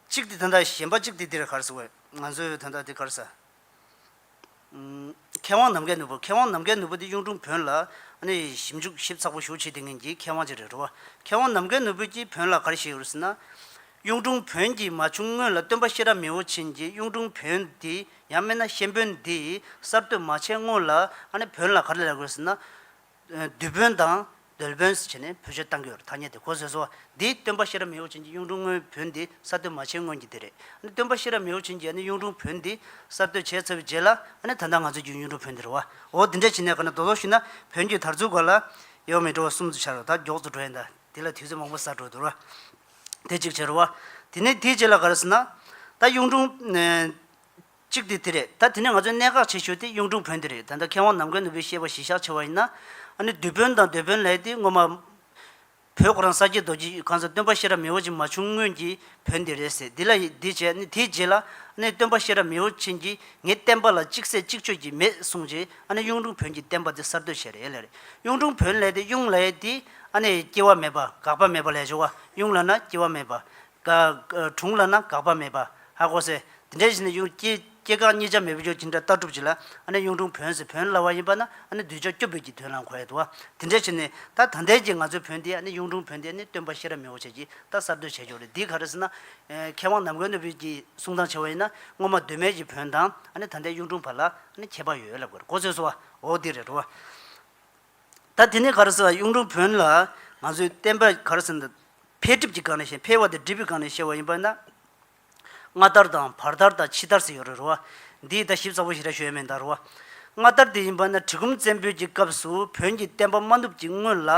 Speaker 2: གཅིག་དེ་དོན་དག་གཞན་པ་གཅིག་དེ་འདིར་གར་ཟེར་བས་ང་ཚོས་དོན་དག་འདི་གར་ཟེར། མཁས་དབང་ནམ་མཁའི་ནོར་བུ་མཁས་དབང་ནམ་མཁའི་ནོར་བུ་དེ་གཡུང་དྲུང་བོན་ལ་ཞིབ་འཇུག་ཞིབ་ཚགས་པོ་ཞུ་བྱེད་དེ་ངན་གྱི་མཁས་དབང་ཅིག་རེད་འགྲོ་བ་མཁས་དབང་ནམ་མཁའི་ནོར་བུ་གྱིས་བོན་ལ་གར་ཞེས་ཡོད་ཟེར་ན། གཡུང་དྲུང་བོན་གྱིས་མ་བྱུང་སྔོན་ལ་སྟོན་པ་ཤེས་རབ་མི་བོ་ཆེན་གྱིས་གཡུང་དྲུང་བོན་འདི་ཡང་སྨྲས་ན་གཤེན་བོན་འདི་གསར་གཏོད་མ་བྱས་སྔོན་ལ་བོན་ལ་གར་ལས་དགོས་ཟེར་ན། བདུད་བོན་དང་རྡོལ་བོན་ཟེར་བྱས་ནས་བོད་ཆས་བཏང་གི་ཡོད་རེད་ཐ་སྙད་དེ་གོ་བཟོས་སོ། འདིའི་སྟོན་པ་ཤེས་རབ་མེ་ཨོ་ཆེན་གྱི་གཡུང་དྲུང་སྔོན་བོན་འདི་གསར་གཏོད་མ་བྱས་སྔོན་གྱི་དེ་རེད། ཨ་ནི་སྟོན་པ་ཤེས་རབ་མེ་ཨོ་ཆེན་གྱིས་ཨ་ནི་གཡུང་དྲུང་བོན་འདི་གསར་གཏོད་བྱས་ཚར་བའི་རྗེས་ལ་ཨ་ནི་ད་ལྟ་ང་ཚོས་རྒྱུའི་གཡུང་དྲུང་བོན་འདི་རེད། བ་འོ་འདི་འདྲ་བྱས་ནས་ག་ན་རྡོ་ལོག་ཞུས་ན་བོན་རྒྱུད་དར་ཚུར་ག་ལ་ཡོད་མི་འགྲོ་བ་གསུམ་དུ་ཆར་བ་ད་མགྱོགས་སུ་འགྲོ་ཡིན་དཱ་དེ་ལ་དུས་ཚོད་མང་པོ་ཟག་འགྲོ་འདུག་ར། དེ་གཅིག་བྱས་རོགས། དེ་ནས་དེའི་རྗེས་ལ་ག་རེ་ཟེར་ན། ད་གཡུང་དྲུང། གཅིག་དེ་དེ་རེད་ད་དེ་ནས་ང་ཚོས་གནད་འགག་ཆེ་ཤོས་དེ་གཡུང་དྲུང་བོན་དེ་རེད་ད་ལྟ་མཁས་དབང་ནམ་མཁའི་ནུ་བོས་བཤད་པ་གཞི་བཞག་ཆེ་བ་ཡིན་ན། ཨ་ནི་བདུད་བོན་དང་འདོད་བོན་ལྷའི་དེ་སྔོན་མ། བོད་གོ་རང་ས་སྐྱའི་རྡོ་རྗེ་གང་ཟག་སྟོན་པ་ཤེས་རབ་མི་བོ་ཆེ་མ་བྱུང་སྔོན་གྱི་བོན་དེ་རེད་ཟེར་དེ་ལ་དེ་བྱས་ཨ་ནི་དེའི་རྗེས་ལ་ཨ་ནི་སྟོན་པ་ཤེས་རབ་མི་བོ་ཆེ་གྱིས་ངའི་བསྟན་པ་ལ་གཅིག་ཟད་གཅིག་གཅོད་ཀྱི་མེད་གསུངས་རྗེས་ཨ་ནི་གཡུང་དྲུང་བོན་གྱི་བསྟན་པ་དེ་གསར་གཏོད་བྱས་རེད་ལས་གཡུང་དྲུང་བོན་ལྷའི་དེ་གཡུང་ལྷའི་དེ་ཨ་ནི་སྐྱེ་བ་མེད་པ་འགག་པ་མེད་པ་ལས་འབྱུང་བ་གཡུང་ལྷ་ན་སྐྱེ་བ་མེད་པ་དྲུང་ལ་ན་དགག་པ་མེད་པ། ཧ་གོ་སེ། དེ་འདྲའི་གཞི་ནས་གཡུང་སྐྱེས་སྐྱེ་འགག་གཉིས་ཆ་མེད་བུ་ཅོ་ཇི་འདྲ་ལྟ་གྲུབ་ཅིག་ལ་ཨ་ནི་གཡུང་དྲུང་བོན་ཟེར་བོན་སླ་བ་ཡིན་པ་ན་ཨ་ནི་གདུལ་བྱ་སྐྱོབ་འབུལ་གྱི་དོན་ལ་མཁོ་ཡོད་དོ། དེ་འདྲའི་ཕྱིར་ནི་ད་ད་ལྟའི་གྱི་ང་ཚོའི་བོན་དེ་ཨ་ནི་གཡུང་དྲུང་བོན་དེ་ཨ་ནི་སྟོན་པ་ཤེས་རབ་མི་བོ་ཆེ་གྱིས་ད་གསར་གཏོད་བྱས་ཆོག་རེད་འདི་ག་རེ་ཟེར་ན། མཁས་དབང་ནམ་མཁའི་སྣོད་བུད་ཀྱི་གསུང་སྟངས་ཆེ་བ་ཡིན་ན་སྔོན་མ་གདོད་མའི་གྱི་བོན་དང་ཨ་ནི་ད་ལྟའི་གཡུང་དྲུང་བར་ལ་ཨ་ནི་ཁྱད་པར་ཡོད་ལབ་དགོས་རེད་གོ་ཚོད་སོ། འོ་དེ་རེད་དོ། ད་དེ་ནི་ག་རེ་ཟེར་ན་གཡུང་དྲུང་བོན་ལ་ང་ཚོས་བསྟན་པ་ག་རེ་ཟེར་ན། འཕེལ་འགྲིབ་ཀྱི་སྒང་ནས་བཤད་འཕེལ་བ་དེ་འགྲིབ་པའི་སྒང་ནས་བཤད་པ་ཡིན་པས་ན། སྔ་དར་དང་བར་དར་དང་ཕྱི་དར་ཟེར་ཡོད་རེད་རོ། འདིའི་ལྟ་ཞིབ་གསལ་བོ་ཞིག་རེ་ཞུ་ཡོད་མེད་ད་རོ། སྔ་དར་དེ་ཡིན་པ་ན་གྲི་གུམ་བཙན་པོའི་གྱི་སྐབས་སུ་བོན་གྱི་བསྟན་པ་མ་བསྣུབས་ཀྱི་སྔོན་ལ་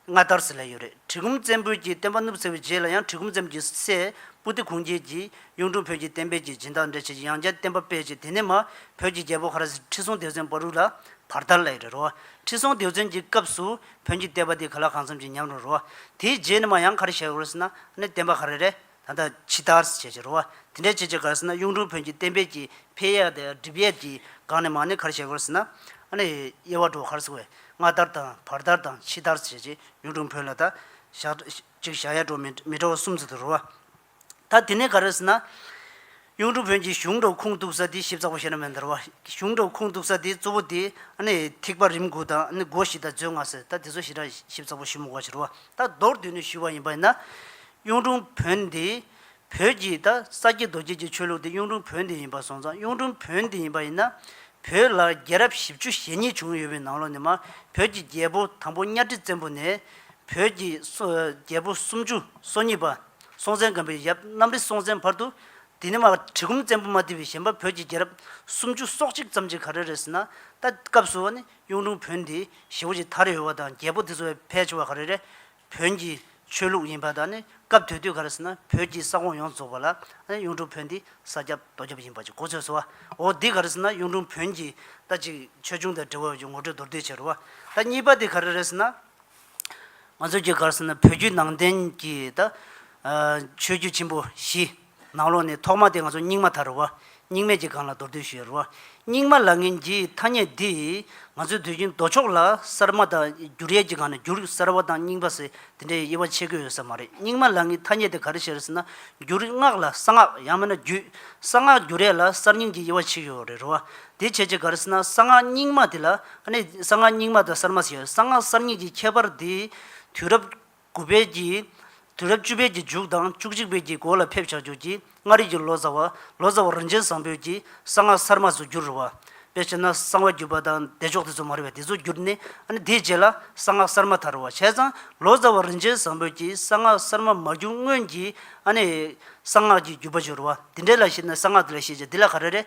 Speaker 2: སྔ་དར་ཟེར་ལེ་ཡོད་རེད་གྲི་གུམ་བཙན་པོའི་གྱི་བསྟན་པ་བསྣུབས་ཟེར་བའི་རྗེས་ལ་ཡང་གྲི་གུམ་བཙན་པོ་གྱི་སྲས་པུ་ཏི་གུང་རྒྱལ་གྱིས་གཡུང་དྲུང་བོན་གྱི་བསྟན་པའི་གྱི་སྦྱིན་བདག་འདྲེ་བྱས་ཀྱི་ཡང་བསྐྱར་བསྟན་པ་སྤེལ་ཅིག་དེ་ནས་མ་བོད་ཀྱི་རྒྱལ་པོ་ཧ་ར་སི་ཁྲི་སྲོང་ལྡེའུ་བཙན་པར་རུ་ལ་བར་དར་ལེ་ཡོད་རེད་རོ། ཁྲི་སྲོང་ལྡེའུ་བཙན་གྱི་སྐབས་སུ་བོན་གྱི་བསྟན་པ་འདི་ག་ལ་གང་འཚམ་གྱིས་ཉམས་རུང་རུང་བ། དེའི་རྗེས་ནི་མ་ཡང་ག་རེ་བྱེད་དགོས་ཟེར་ན་ནི་བསྟན་པ་ག་རེ་རེད་ད་ལྟ་ཇི་ལྟར་བྱེད་ཀྱི་རུང་བ། དེ་འདྲའི་བྱེད་ཀྱི་ག་རེ་ཟེར་ན་གཡུང་དྲུང་བོན་གྱི་བསྟན་པའི་ཀྱི་འཕེལ་ཡས་དང་སྒྲིབ་ཡས་ཀྱི་སྒང་ནས་མ་ནི་ག་རེ་བྱེད་དགོས་ཟེར་ན། ནི་དབྱེ་བ་འགྲོ་ག་རེ་སོང་བས་སྔར་ལྟར་དང་བར་ལྟར་དང་ཕྱི་ལྟར་བྱེད་ཀྱི་གཡུང་དྲུང་བོན་ལ་ད། ཞག། གཅིག་ཞག་ཡས་འགྲོ་མི་འགྲོ་བ་གསུམ་ཚུལ་དུ་རུང་བ། ད་དེ་ནས་ག་རེ་ཟེར་ན། གཡུང་དྲུང་བོན་གྱི་གཞུང་སྒྲོག་ཁུངས་གཏུགས་ས་དེ་ཞིབ་ཚགས་པོ་བཤད་ན་མི་འདར་བ། གཞུང་སྒྲོག་ཁུངས་གཏུགས་ས་དེ་གཙོ་བོ་དེ། ཐིགས་པ་རིམ་དགུ་དང་སྒོ་བཞི་དང་མཛོད་ལྔ་ཟེར་ད་དེ་ཚོ་ཞེ་དྲག་ཞིབ་ཚགས་པོ་ཞུ་མི་དགོས་ཕྱིར་རོ། ད་མདོར་བསྡུས་ནས་ཞུས་པ་ཡིན་པ་ཡིན་ན། གཡུང་དྲུང་བོན་འདི། བོད་ཀྱི་ད་ས་སྐྱེས་རྡོ་སྐྱེས་ཀྱི་ཆོས་ལུགས་དེ་གཡུང་དྲུང་བོན་འདི་ཡིན་པ་སོང་ཙང་གཡུང་དྲུང་བོན་འདི་ཡིན་པ་ཡིན་ན། བོད་ལ་རྒྱལ་རབས་བཞི་བཅུ་ཞེ་གཉིས་བྱུང་ཡོད་པའི་ནང་ལོགས་ནས་མ་བོད་ཀྱི་རྒྱལ་པོ་དང་པོ་གཉའ་ཁྲི་བཙན་པོ་ནས། བོད་ཀྱི་རྒྱལ་པོ་སུམ་ཅུ་སོ་གཉིས་པ། སྲོང་བཙན་སྒམ་པོའི་ཡབ་གནམ་རི་སྲོང་བཙན་བར་དུ། དེ་ནི་མ་གྲི་གུམ་བཙན་པོ་མ་ལྡི་བའི་བཞེན་པ་བོད་ཀྱི་རྒྱལ་རབས་སུམ་ཅུ་སོ་གཅིག་ཙམ་གྱི་གར་རེ་རེད་ཟེར་ན། ད་ལྟའི་སྐབས་སུ་བ་ནི་གཡུང་དྲུང་བོན་དེའི་བཞི་བོ་ཅིག་དར་ཡོད་བ་དང་རྒྱལ་པོ་དེ་ཚོ་བས་ཕལ་ཆེ་བ་གར་རེ་རེད། བོན་གྱི་ཆོས་ལུགས་ཡིན་པ་དག་ནི་སྐབས་དེ་དུས་ག་རེ་ཟེར་ན་བོད་ཀྱི་ས་ཁོངས་ཡོངས་རྫོགས་པ་ལ་ཨ་ནི་གཡུང་དྲུང་བོན་འདི་ས་སྐྱ་རྡོ་སྐྱ་བ་ཡིན་པ་ཅིག་གོ་ཚོད་བཟོ་བ་འོ་འདི་ག་རེ་ཟེར་ན་གཡུང་དྲུང་བོན་གྱི་ད་ཅིག་ཆོས་འབྱུང་དང་འབྲེལ་བ་ཡོད་ཀྱི་ངོ་སྤྲོད་མདོར་བསྡུས་བྱས་རུ་བ། ད་གཉིས་པ་དེ་ག་རེ་རེད་ཟེར་ན། ང་ཚོའི་རྒྱུ་སྐར་ཟེར་ན་བོད་བརྒྱུད་ནང་བསྟན་གྱི་ད་ཆོས་བརྒྱུད་ཆེན་པོ་བཞི། ནང་ལོགས་ནས་ཐོག་མ་དེ་ང་ཚོ་རྙིང་མ་དར་རུ་བ། རྙིང་མེད་ཀྱི་སྒང་ལ་མདོར་བསྡུས་ཞུས་རུ་བ། རྙིང་མ་ལ་ངན་གྱི་ཐ་སྙད་འདིས་ང་ཚོའི་དུས་རྒྱུན་ལྡོག་ཕྱོགས་ལ་གསར་མ་དང་བསྒྱུར་ཡས་ཀྱི་སྒང་ནས་བསྒྱུར་གསར་བ་དང་རྙིང་པ་ཟེར་དེ་འདྲའི་དབྱེ་བ་ཕྱེ་དགོས་ཡོད་ས་མ་རེད་རྙིང་མ་ལ་ངའི་ཐ་སྙད་དེ་ག་རེ་བྱེད་རེད་ཟེར་ན་བསྒྱུར་སྔགས་ལ་གསང་སྔགས་ཡང་མེད་ན་བརྒྱུད་གསང་སྔགས་བསྒྱུར་ཡས་ལ་གསར་རྙིང་གྱི་དབྱེ་བ་ཕྱེ་ཞོར་རེད་རུ་བ། དེ་བྱས་རྗེས་གར་སྲིད་ན་གསང་སྔགས་རྙིང་མ་དེ་ལ་གནས། གསང་སྔགས་རྙིང་མ་དང་གསར་མ་ཟེར། གསང་སྔགས་གསར་རྙིང་གི་ཁྱད་པར་འདི། དུས་རབས་དགུ་པའི་ཀྱི། དུས་རབས་བཅུ་པའི་ཀྱི་མཇུག་དང་བཅུ་གཅིག་པའི་ཀྱི་འགོ་ལ་ཕེབས་བྱ་འགྱུར་གྱི་མངའ་རིས་ཀྱི་ལོ་ཙཱ་བ། ལོ་ཙཱ་བ་རིན་ཆེན་བཟང་པོས་ཀྱི་གསང་སྔགས་གསར་མ་ཚོ་འགྱུར་རུ་བ། དཔེར་བཤད་ན་གསང་བ་འགྱུར་པ་དང་བདེ་མཆོག་དེ་ཚོ་མ་རེད་པ་དེ་ཚོ་འགྱུར་ནས་དེ་རྗེས་ལ་གསང་སྔགས་གསར་མ་དར་རུ་བ་བྱས་ཙང་ལོ་ཙཱ་བ་རིན་ཆེན་བཟང་པོས་ཀྱི་གསང་སྔགས་གསར་མ་མ་འགྱུར་སྔོན་གྱི་གསང་སྔགས་ཀྱི་འགྱུར་པ་བྱུང་རུ་བ་དེ་འདྲའི་ལ་ཞེས་ན་གསང་སྔགས་དེ་ལ་ཤེས་བྱ་འདི་ལ་ག་རེ་རེད་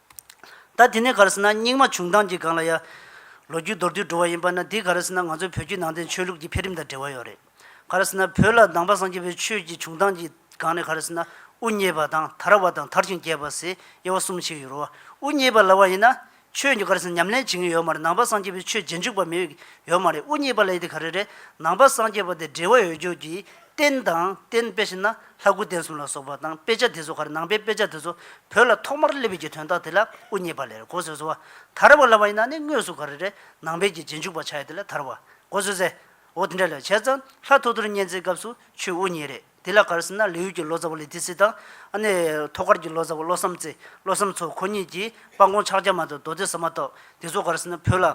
Speaker 2: ད་དེ་ནས་ག་རེ་ཟེར་ན་རྙིང་མ་བྱུང་སྟངས་ཀྱི་སྒང་ལ་ཡ། ལོ་རྒྱུས་མདོར་བསྡུས་འགྲོ་བ་ཡིན་པ་ན་དེ་ག་རེ་ཟེར་ན་ང་ཚོའི་བོད་བརྒྱུད་ནང་བསྟན་ཆོས་ལུགས་ཀྱི་འཕེལ་རིམ་དང་འབྲེལ་བ་ཡོད་རེད། ག་རེ་ཟེར་ན་བོད་ལ་གདམས་པ་སངས་རྒྱས་པའི་ཆོས་ཀྱི་བྱུང་སྟངས་ཀྱི་སྒང་ནས་ག་རེ་ཟེར་ན་དབུ་བརྙེས་པ་དང་དར་བ་དང་དར་ཞིང་རྒྱས་པ་ཟེར་དབྱེ་བ་གསུམ་ཕྱེ་ཡོད་རོ། དབུ་བརྙེས་པ་ལ་བ་ཡིན་ན་ཆོས་ཀྱི་ག་རེ་ཟེར་ན་ཉམས་ལེན་བྱེད་མཁན་ཡོད་མ་རེད་ནང་པ་སངས་རྒྱས་པའི་ཆོས་རྗེས་འཇུག་པ་མི་ཡོད་མ་རེད་དབུ་བརྙེས་པ་ལ་ཡི་དེ་ག་རེ་རེད་ནང་པ་སངས་རྒྱས་པ་དེ་འབྲེལ་བ་ཡོད་རྒྱུ་གྱི་རྟེན་དང་རྟེན་དཔེ་བཞིན་ན་ལྷ་སྐུ་རྟེན་གསུམ་ལ་སོགས་པ་དང་དཔེ་ཆ་དེ་ཚོ་གར་ནང་པའི་དཔེ་ཆ་དེ་ཚོ་བོད་ལ་ཐོག་མར་སླེབས་ཡོད་ཀྱི་དོན་དག་དེ་ལ་དབུ་བརྙེས་པ་ལས་གོ་ཟོས་སོ། དར་བ་ལ་བ་ཡིན་ན་ནི་དངོས་སུ་ག་རེ་རེད་ནང་པའི་གྱི་རྗེས་འཇུག་པ་ཆགས་ཡོད་དེ་ལ་དར་བ་གོ་ཟོས་ཟེར། འོ་དེ་འདྲ་ལས་བྱས་ཙང་ལྷ་ཐོ་ཐོར་བརྙེས་མཛད་སྐབས་སུ་ཆུའི་དབུ་བརྙེས་རེད་དེ་ལ་གར་སེམས་ན་ལི་ཡུལ་གྱི་ལོ་ཙཱ་བ་ལི་ཏི་སི་དང། ཨ་ནི་ཐོག་ཁར་གྱི་ལོ་ཙཱ་བ་བློ་བསམ་རྩེ་བློ་བསམ་མཚོ་ཁོ་གཉིས་ཀྱིས་སྤང་གོང་ཕྱག་རྒྱ་མ་དང་རྡོ་རྗེ་ཟ་མ་ཏོག་དེ་ཚོ་གར་སེམས་ན་བོད་ལ་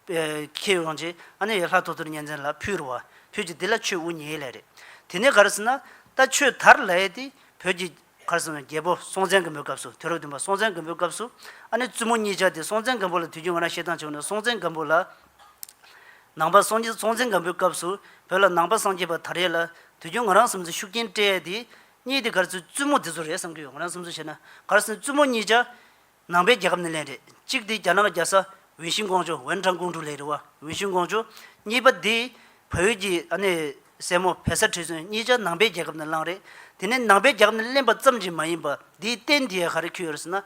Speaker 2: ཁྱེད་འོང་རྗེས་ཨ་ནེ་ཡེ་ལྷ་ཐོ་ཐོར་གཉན་བཙན་ལ་ཕུལ་རུ་བ་ཁྱོད་ཀྱིས་འདི་ལ་ཆོས་དབུ་བརྙེས་ལེ་རེད། དེ་ནས་གར་སོང་ན་ད་ཆོས་དར་ལ་ཡེ་དེ་བོད་ཀྱི་གར་སོང་ན་རྒྱལ་པོ་སྲོང་བཙན་སྒམ་པོའི་སྐབས་སུ་དུས་རབས་བདུན་པ་སྲོང་བཙན་སྒམ་པོའི་སྐབས་སུ་ཨ་ནེ་བཙུན་མོ་གཉིས་ཆགས་ཏེ་སྲོང་བཙན་སྒམ་པོ་ལ་དུས་རྒྱུན་ང་རང་ཤེས་སྟངས་བྱུང་ན་སྲོང་བཙན་སྒམ་པོ་ལ་ནང་པ་སངས་རྒྱས་སྲོང་བཙན་སྒམ་པོའི་སྐབས་སུ་བོད་ལ་ནང་པ་སངས་རྒྱས་པ་དར་ཡེ་ལ་དུས་རྒྱུན་ང་རང་བསམ་ཚུལ་ཤུགས་རྐྱེན་སྤྲད་ཡེ་དེ་གཉིས་དེ་གར་སོའི་བཙུན་མོ་དེ་ཚོ་རེད་བསམ་གྱི་ཡོད་ང་རང་བསམ་ཚུལ་བྱས་ན་གར་སོང་ནས་བཙུན་མོ་གཉིས་ཆགས། ནང་པའི་རྒྱལ་ཁབ་ནས་ལན་རེ་གཅིག་དེ་རྒྱ་ནག་རྒྱལ་ས་ཝིན་ཤིན་ཀོང་ཆུ་ཝེན་ཁྲང་ཀུང་ཀྲུའུ་ལས་རེ་བ་ཝིན་ཤིན་ཀོང་ཆུ། གཉིས་པ་དེ་བོད་ཡུལ་གྱི་ཨ་ནེ་སྲས་མོ་བེ་སར་ཁྲི་བཙུན་གཉིས་ཆ་ནང་པའི་རྒྱལ་ཁབ་ནས་བླངས་རེད། དེ་ནས་ནང་པའི་རྒྱལ་ཁབ་ནས་གླེན་པ་ཙམ་གྱིས་མ་ཡིན་པ་དེའི་རྟེན་དེའི་ཧ་རེ་འཁྱུད་ཡོད་ཟེར་ན།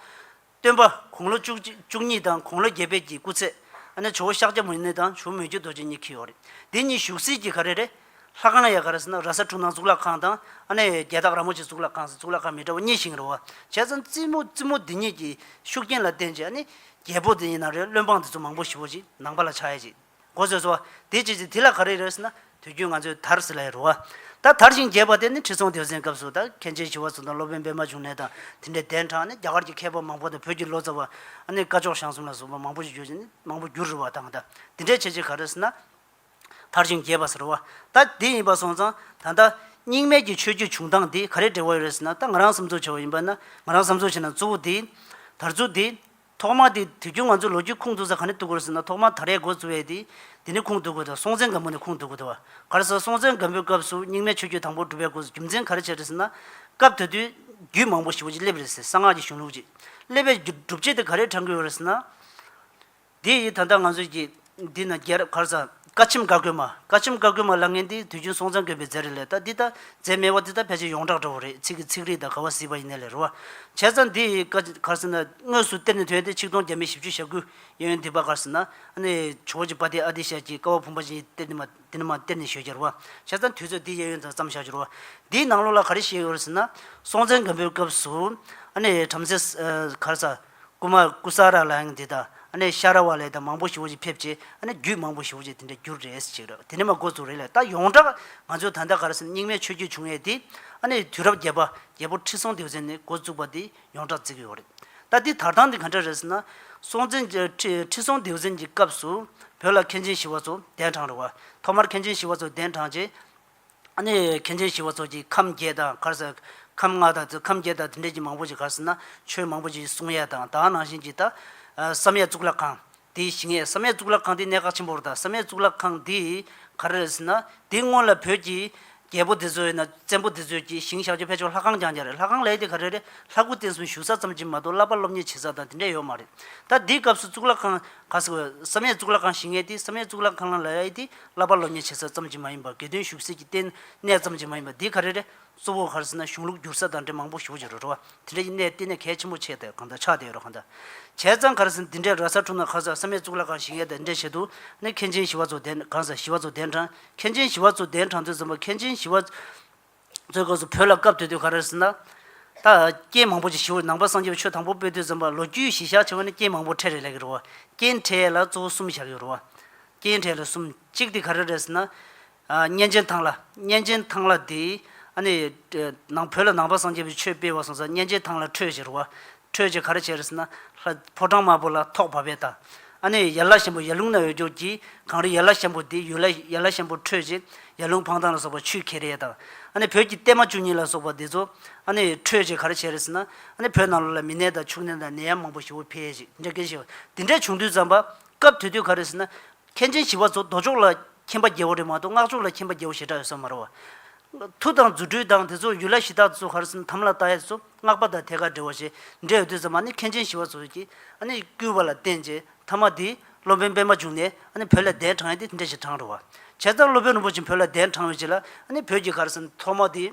Speaker 2: སྟོན་པ་དགུང་ལོ་བཅུ་གཅིག་བཅུ་གཉིས་དང་དགུང་ལོ་བརྒྱད་པད་ཀྱི་སྐུ་ཚེ། ཨ་ནེ་ཇོ་བོ་ཤཱཀྱ་མུ་ནེ་དང་ཇོ་མོ་མོས་རྒྱུད་རྡོ་རྗེ་གཉིས་འཁྱུད་ཡོད་རེད་དེ་གཉིས་བཞུགས་སྲིད་ཀྱི་ཧ་རེ་རེད། ལྷ་ཁང་ཡ་ག་རེ་ཟེར་ན་ར་ས་འཁྲུངས་ནང་གཙུག་ལག་ཁང་དང། ཨ་ནེ་རྒྱལ་རྟགས་ར་མོ་ཆེ་གཙུག་ལག་ཁང་ཟེར་གཙུག་ལག་ཁང་མི་འདྲ་བ་གཉིས་བཞེངས་རོ། བྱས་ཙང་རྩིས་མོ་རྩིས་མོ་འདི་གཉིས་ཀྱི་ཤུགས་རྐྱེན་ལ་བརྟེན་ཅེ་ཨ་ནེ་རྒྱལ་པོ་དེ་ཡིན་ན་རེ་བློན་འབངས་དེ་ཚོ་མང་པོ་ཞི་བོ་ཅིག་ནང་པ་ལ་ཆགས་ཡས་ཅིག་གོ་བཟོས་སོ། དེ་བྱས་ཅིག་དེ་ལ་ག་རེ་རེད་ཟེར་ན་དུས་རྒྱུན་ང་ཚོས་དར་ཟེར་ལ་ཡ་རོ། ད་དར་ཞིང་རྒྱས་པ་དེ་ནི་ཁྲི་སྲོང་ལྡེའུ་བཙན་སྐབས་སུ་ད་མཁན་ཆེན་ཞི་བ་འཚོ་དང་སློབ་དཔོན་པདྨ་འབྱུང་གནས་དང་དེ་འདྲའི་གདན་དྲངས་ཨ་ནེ་རྒྱ་གར་གྱི་མཁས་པ་མང་པོ་དང་བོད་ཀྱི་ལོ་ཙཱ་བ་ཨ་ནེ་བཀའ་ཆོག་ཞང་གསུམ་ལ་བཟོ་པ་མང་པོ་ཞིག་བརྗོད་ཅིག་ནི་མང་པོ་བསྒྱུར་རོ་བ་དང་ད་དེ་འདྲས་བྱས་ཅིག་ག་རེ་ཟེར་ན། མཐར་ཕྱིན་རྒྱས་པ་ཟེར་བ་ད་འདི་ཡིན་པར་སོང་ཙང་ད་ལྟ། སྙིང་མེད་ཀྱི་ཆོས་བརྒྱུད་བྱུང་སྟངས་འདི་ག་རེ་འབྲེལ་བ་ཡོད་རེད་ཟེར་ན་ད་ང་རང་བསམ་ཚོད་བྱས་བ་ཡིན་པ་ན་ང་རང་བསམ་ཚོད་བྱས་ན་གཙོ་བོ་འདི་ཡིན། དར་རྩུ་འདི་ཡིན། ཐོག་མར་དེ་དུས་རྒྱུན་ང་ཚོས་ལོ་རྒྱུས་ཁུངས་གཏུགས་ས་ག་ནས་གཏུགས་དགོས་རེད་ཟེར་ན་ཐོག་མར་དར་ཡས་མགོ་བཙུགས་ཡས་དེ་འདི་ནས་ཁུངས་གཏུགས་དགོས་དང་སྲོང་བཙན་སྒམ་པོ་ནས་ཁུངས་གཏུགས་དགོས་དང་བ་ག་རེ་ཟེར་སྲོང་བཙན་སྒམ་པོའི་སྐབས་སུ་སྙིང་མེད་ཆོས་བརྒྱུད་དང་པོ་གྲུབ་པའི་སྒོ་རྒྱུ་མཚན་ག་རེ་བྱས་རེད་ཟེར་ན། སྐབས་དེ་དུས་རྒྱུད་མང་པོ་ཞི་བ་ཅིག་སླེབས་རེད་ཟེར་གསང་སྔགས་ཀྱི་གཞུང་ལུགས་ཅིག་སླེབས་པའི་རྒྱུ་སྒྲུབ་བྱེད་དེ་ག་རེ་དྲངས་དགོས་ཡོད་རེད་ཟེར་ན། དེ་ཡིས་ད་ལྟ་ང་ཚོས་ཀྱིས་འདི་ན་རྒྱལ་རབས་གར་ཟངས་བཀའ་ཆེམས་བཀའ་བཀོད་མ་བཀའ་ཆེམས་བཀའ་བཀོད་མ་ལ་ངན་འདི་དུས་རྒྱུན་སྲོང་བཙན་དགོན་པའི་རྫས་རི་ལས་ད་འདི་ད་རྫས་མེད་བ་འདི་ད་ཕལ་ཆེར་ཡོངས་གྲགས་འདྲ་བོ་རེད་ཚིག་གི་ཚིག་རིས་ད་ག་བ་ཟིག་པ་ཡིན་ནའི་ལེ་རོ་བ་བྱས་ཙང་འདི་ཡི་བཀའ་གར་ཟེར་ན་དངོས་སུ་གཏེར་ནས་ཐོན་ཏེ་ཆིག་སྟོང་བརྒྱ་མེད་བཞི་བཅུ་ཞག་དགུ་ཡན་ཡོད་འདི་བཀའ་གར་ཟེར་ན་ཨ་ནི་ཇོ་བོ་རྗེ་པ་དེ་ཨ་དེ་ཞལ་གྱིས་བཀའ་བ་བུམ་པ་ཅན་གྱི་གཏེར་འདི་མ་འདི་ནི་མ་གཏེར་ནས་ཞོལ་གྱར་བ་བྱས་ཙང་དུས་ཚོད་འདི་ཡན་ཡོད་ཙང་བརྩམས་བཞག་འགྱུར་བ་འདིའི་ནང་ལོགས་ལ་ག་རེ་བཤད་ཡོད་རེད་ཟེར་ན་སྲོང་བཙན་དགོན་པའི་སྐབས་སུ་ཨ་ནི་བྲམ་ཟེ་གར་ཟངས། ཀུ་མ་ར་ཀུ་སཱ་ར་ལ་ཡང་འདི་ལྟ། ནས་ཤ་ར་བ་ལས་དང་མང་པོ་ཞིག་འོ་ཅིག་ཕེབས་ཅེ། ནས་རྒྱུད་མང་པོ་ཞིག་འོ་ཅིག་དེ་འདྲ་རྒྱུར་རེ་ཞིག་རེ་བ་དེ་ནས་མ་འགོ་ཚུགས་རེ་ལས་ད་ཡོངས་གྲགས་ང་ཚོའི་ད་ལྟ་ག་རེ་ཟེར་ན་རྙིང་མའི་ཆོས་བརྒྱུད་བྱུང་ཡས་དེ། ནས་དུས་རབས་བརྒྱད་པ་རྒྱལ་པོ་ཁྲི་སྲོང་ལྡེའུ་བཙན་ནས་འགོ་བཙུགས་པ་དེ་ཡོངས་གྲགས་བརྩི་གི་ཡོད་རེད། ད་འདི་དར་ཐང་འདི་ག་འདྲ་རེ་ཟེར་ན། སྲོང་བཙན་ཁྲི་སྲོང་ལྡེའུ་བཙན་གྱི་སྐབས་སུ་བོད་ལ་མཁན་ཆེན་ཞི་བ་འཚོ་གདན་དྲངས་རེ་བ། ཐོག་མར་མཁན་ཆེན་ཞི་བ་འཚོ་གདན་དྲངས་རྗེས། གནས་ཡོད་མཁན་ཆེན་ཞི་བ་འཚོ་གཅིག་ཁམས་བརྒྱད་དང་གར་སོད། ཁམས་ལྔ་དང་ཁམས་བརྒྱད་དང་དེ་འབྲེལ་གྱི་མང་པོ་ཞིག་གར་སོད་ན་ཆོས་མང་པོ་ཞིག་གསུང་ཡས་དང་དག་སྣང་བཞིན་གྱི་ད། བསམ་ཡས་གཙུག་ལག་ཁང། དེའི་ཞིང་ཡས་བསམ་ཡས་གཙུག་ལག་ཁང་དེའི་གནས་ཁག་ཆེན་པོར་ད་བསམ་ཡས་གཙུག་ལག་ཁང་འདི་གར་རེད་ཟེར་ན་དེའི་སྔོན་ལ་བོད་ཀྱི། རྒྱལ་པོ་འདི་ཚོའི་ན་བཙན་པོ་འདི་ཚོས་ཀྱི་ཞིང་བཞག་རྒྱུ་ཕལ་ཆེར་ལྷ་ཁང་རྐྱང་རྐྱང་རེད་ལྷ་ཁང་ལས་དེ་ག་རེ་རེད་ལྷ་སྐུ་རྟེན་གསུམ་བཞུགས་ས་ཙམ་གྱིས་མ་གཏོགས་བསླབ་པ་སློབ་གཉེར་བྱེད་ས་དང་དེ་འདྲ་ཡོད་མ་རེད། ད་འདིའི་སྐབས་སུ་གཙུག་ལག་ཁང་ག་ས་གོ་བསམ་ཡས་གཙུག་ལག་ཁང་ཞིང་ཡས་དེ་བསམ་ཡས་གཙུག་ལག་ཁང་ལ་ལས་དེ་བསླབ་པ་བློ་ཉེས་བྱེད་ས་ཙམ་གྱིས་མ་ཡིན་པར་དགེ་འདུན་ཞུགས་སའི་ཀྱི་ལྟེ་གནས་ཙམ་གྱིས་མ་ཡིན་པར་འདི་ག་རེ་རེ་གཙོ་བོ་གར་ཟིན་ན་གཞུང་ལུགས་བསྒྱུར་ས་དང་འབྲེལ་མང་པོ་ཞུགས་ཀྱི་རུ་རུ་བ་དེ་འདྲ་ཡི་གནས་ལྟེ་གནས་གལ་ཆེན་པོ་ཆེ་དེ་གང་དང་ཆགས་དེ་ཡོད་རུ་གང་དང་བྱས་ཙང་གར་ཟིན་འདི་འདྲའི་ར་ས་ཁྲུང་ན་གང་ཟག་ས་མེད་གཙུག་ལག་ཁང་ཞིག་ཡས་དེ་འདྲའི་བྱེད་དུ་ནི་མཁན་ཆེན་ཞི་བ་ཚོ་གདན་གང་ཟག་ཞི་བ་ཚོ་གདན་དྲངས་མཁན་ཆེན་ཞི་བ་ཚོ་གདན་དྲངས་ཚུལ་ཟིན་པ་མཁན་ཆེན་ཞི་བ། གཙོས་སྐབས་སུ་བོད་ལ་སྐབས་དེ་དུས་ག་རེ་ཟེར་ན། ད་རྐྱེན་མང་པོ་ཅིག་ཞུ་བའི་ནང་པ་སངས་རྒྱས་པ་ཆོས་དང་པོ་དཔལ་དུས་ཙམ་པ་ལོ་རྒྱུས་གཞི་བཞག་ཆེ་བ་ནི་རྐྱེན་མང་པོ་ཕྲད་རེ་ལས་ཀྱི་རུང་བ། རྐྱེན་ཕྲད་ལ་གཙོ་བོ་གསུམ་བཞག་ཡོད་རུང་བ། རྐྱེན་ཕྲད་ལ་གསུམ་གཅིག་དེ་ག་རེ་རེད་ཟེར་ན། གཉན་ཆེན་ཐང་ལ། གཉན་ཆེན་ཐང་ལ་དེ། ཨ་ནི། ནང་བོད་ལ་ནང་པ་སངས་རྒྱས་པའི་ཆོས་སྤེལ་བ་སོང་ས་གཉན་ཆེན་ཐང་ལ་འཕྲོས་བཞིན་རུང་བ། ཁྲོད་ཀྱི་གར་བྱེད་རི་སི་ན། ལྷ། ཕོ་བྲང་དམར་པོ་ལ་ཐོག་བབས་པའི་བརྡ། ཨ་ནི་ཡར་ལ་ཞན་པོ་ཡར་ལུང་ན་འོད་སྐྱོར་གྱིས། གངས་རི་ཡར་ལ་ཞན་པོ་འདི་ཡུལ་ལ་ཡར་ལ་ཞན་པོ་ཁྲོད་ཀྱི། ཡར་ལུང་འཕང་ཐང་ལ་སོགས་པ་ཆུས་ཁེར་ཡས་དང། ཨ་ནི་བོད་ཀྱི་བརྟན་མ་བཅུ་གཉིས་ལ་སོགས་པ་འདི་ཚོ། ཨ་ནི་ཁྲོད་ཀྱི་གར་བྱེད་རི་སི་ན། ཨ་ནི་བོད་ནང་ལོ་ལ་མི་ནད་དང་ཕྱུགས་ནད་དང་ནད་ཡམས་མང་པོ་ཞི་བོ་འཕེལ། ཅེས་འཇགས་སྐད་བཤད། འདི་འདྲའི་བྱུང་དུས་ཙམ་པ། སྐབས་དུས་དུས་གར་རི་སི་ན། མཁན་ཆེན་ཞི་བ་འཚོ་རྡོ་ཕྱོགས་ལ་མཁྱེན་པ་རྒྱལ་བོ་རེད་མ་གཏོགས་སྔགས་ཕྱོགས་ལ་མཁྱེན་པ་རྒྱལ་བོ་ཞེ་དྲག་ཡོད་ས་མ་རེད་བ། མཐུ་དང་རྫུ་འཕྲུལ་དང་དེ་ཚོ་ཡུལ་ལྷ་གཞི་བདག་ཚོ་ཧར་སེམས་དམ་ལ་བཏགས་ཡས་ཚོ་སྔགས་པ་དང་ཐད་ཀར་འབྲེལ་བ་ཞེ་འབྲེལ་ཡོད་དུས་ཙམ་མ་ནི་མཁན་ཆེན་ཞི་བ་འཚོ་ཀྱིས་ཨ་ནི་བསྐུལ་བ་ལ་བརྟེན་ཅེས་མཐའ་མ་དེའི་སློབ་དཔོན་པད་མ་བྱུང་ནས་ཨ་ནི་བོད་ལ་གདན་དྲངས་ཡས་དེ་འདྲས་ཞིག་དྲངས་རེད་བ། བྱས་ཙང་སློབ་དཔོན་རིན་པོ་ཆེ་བོད་ལ་གདན་དྲངས་ཡོད་ཅེས་ལ་ཨ་ནི་བོད་ཀྱི་ཁར་སེམས་ཐོག་མ་དེའི།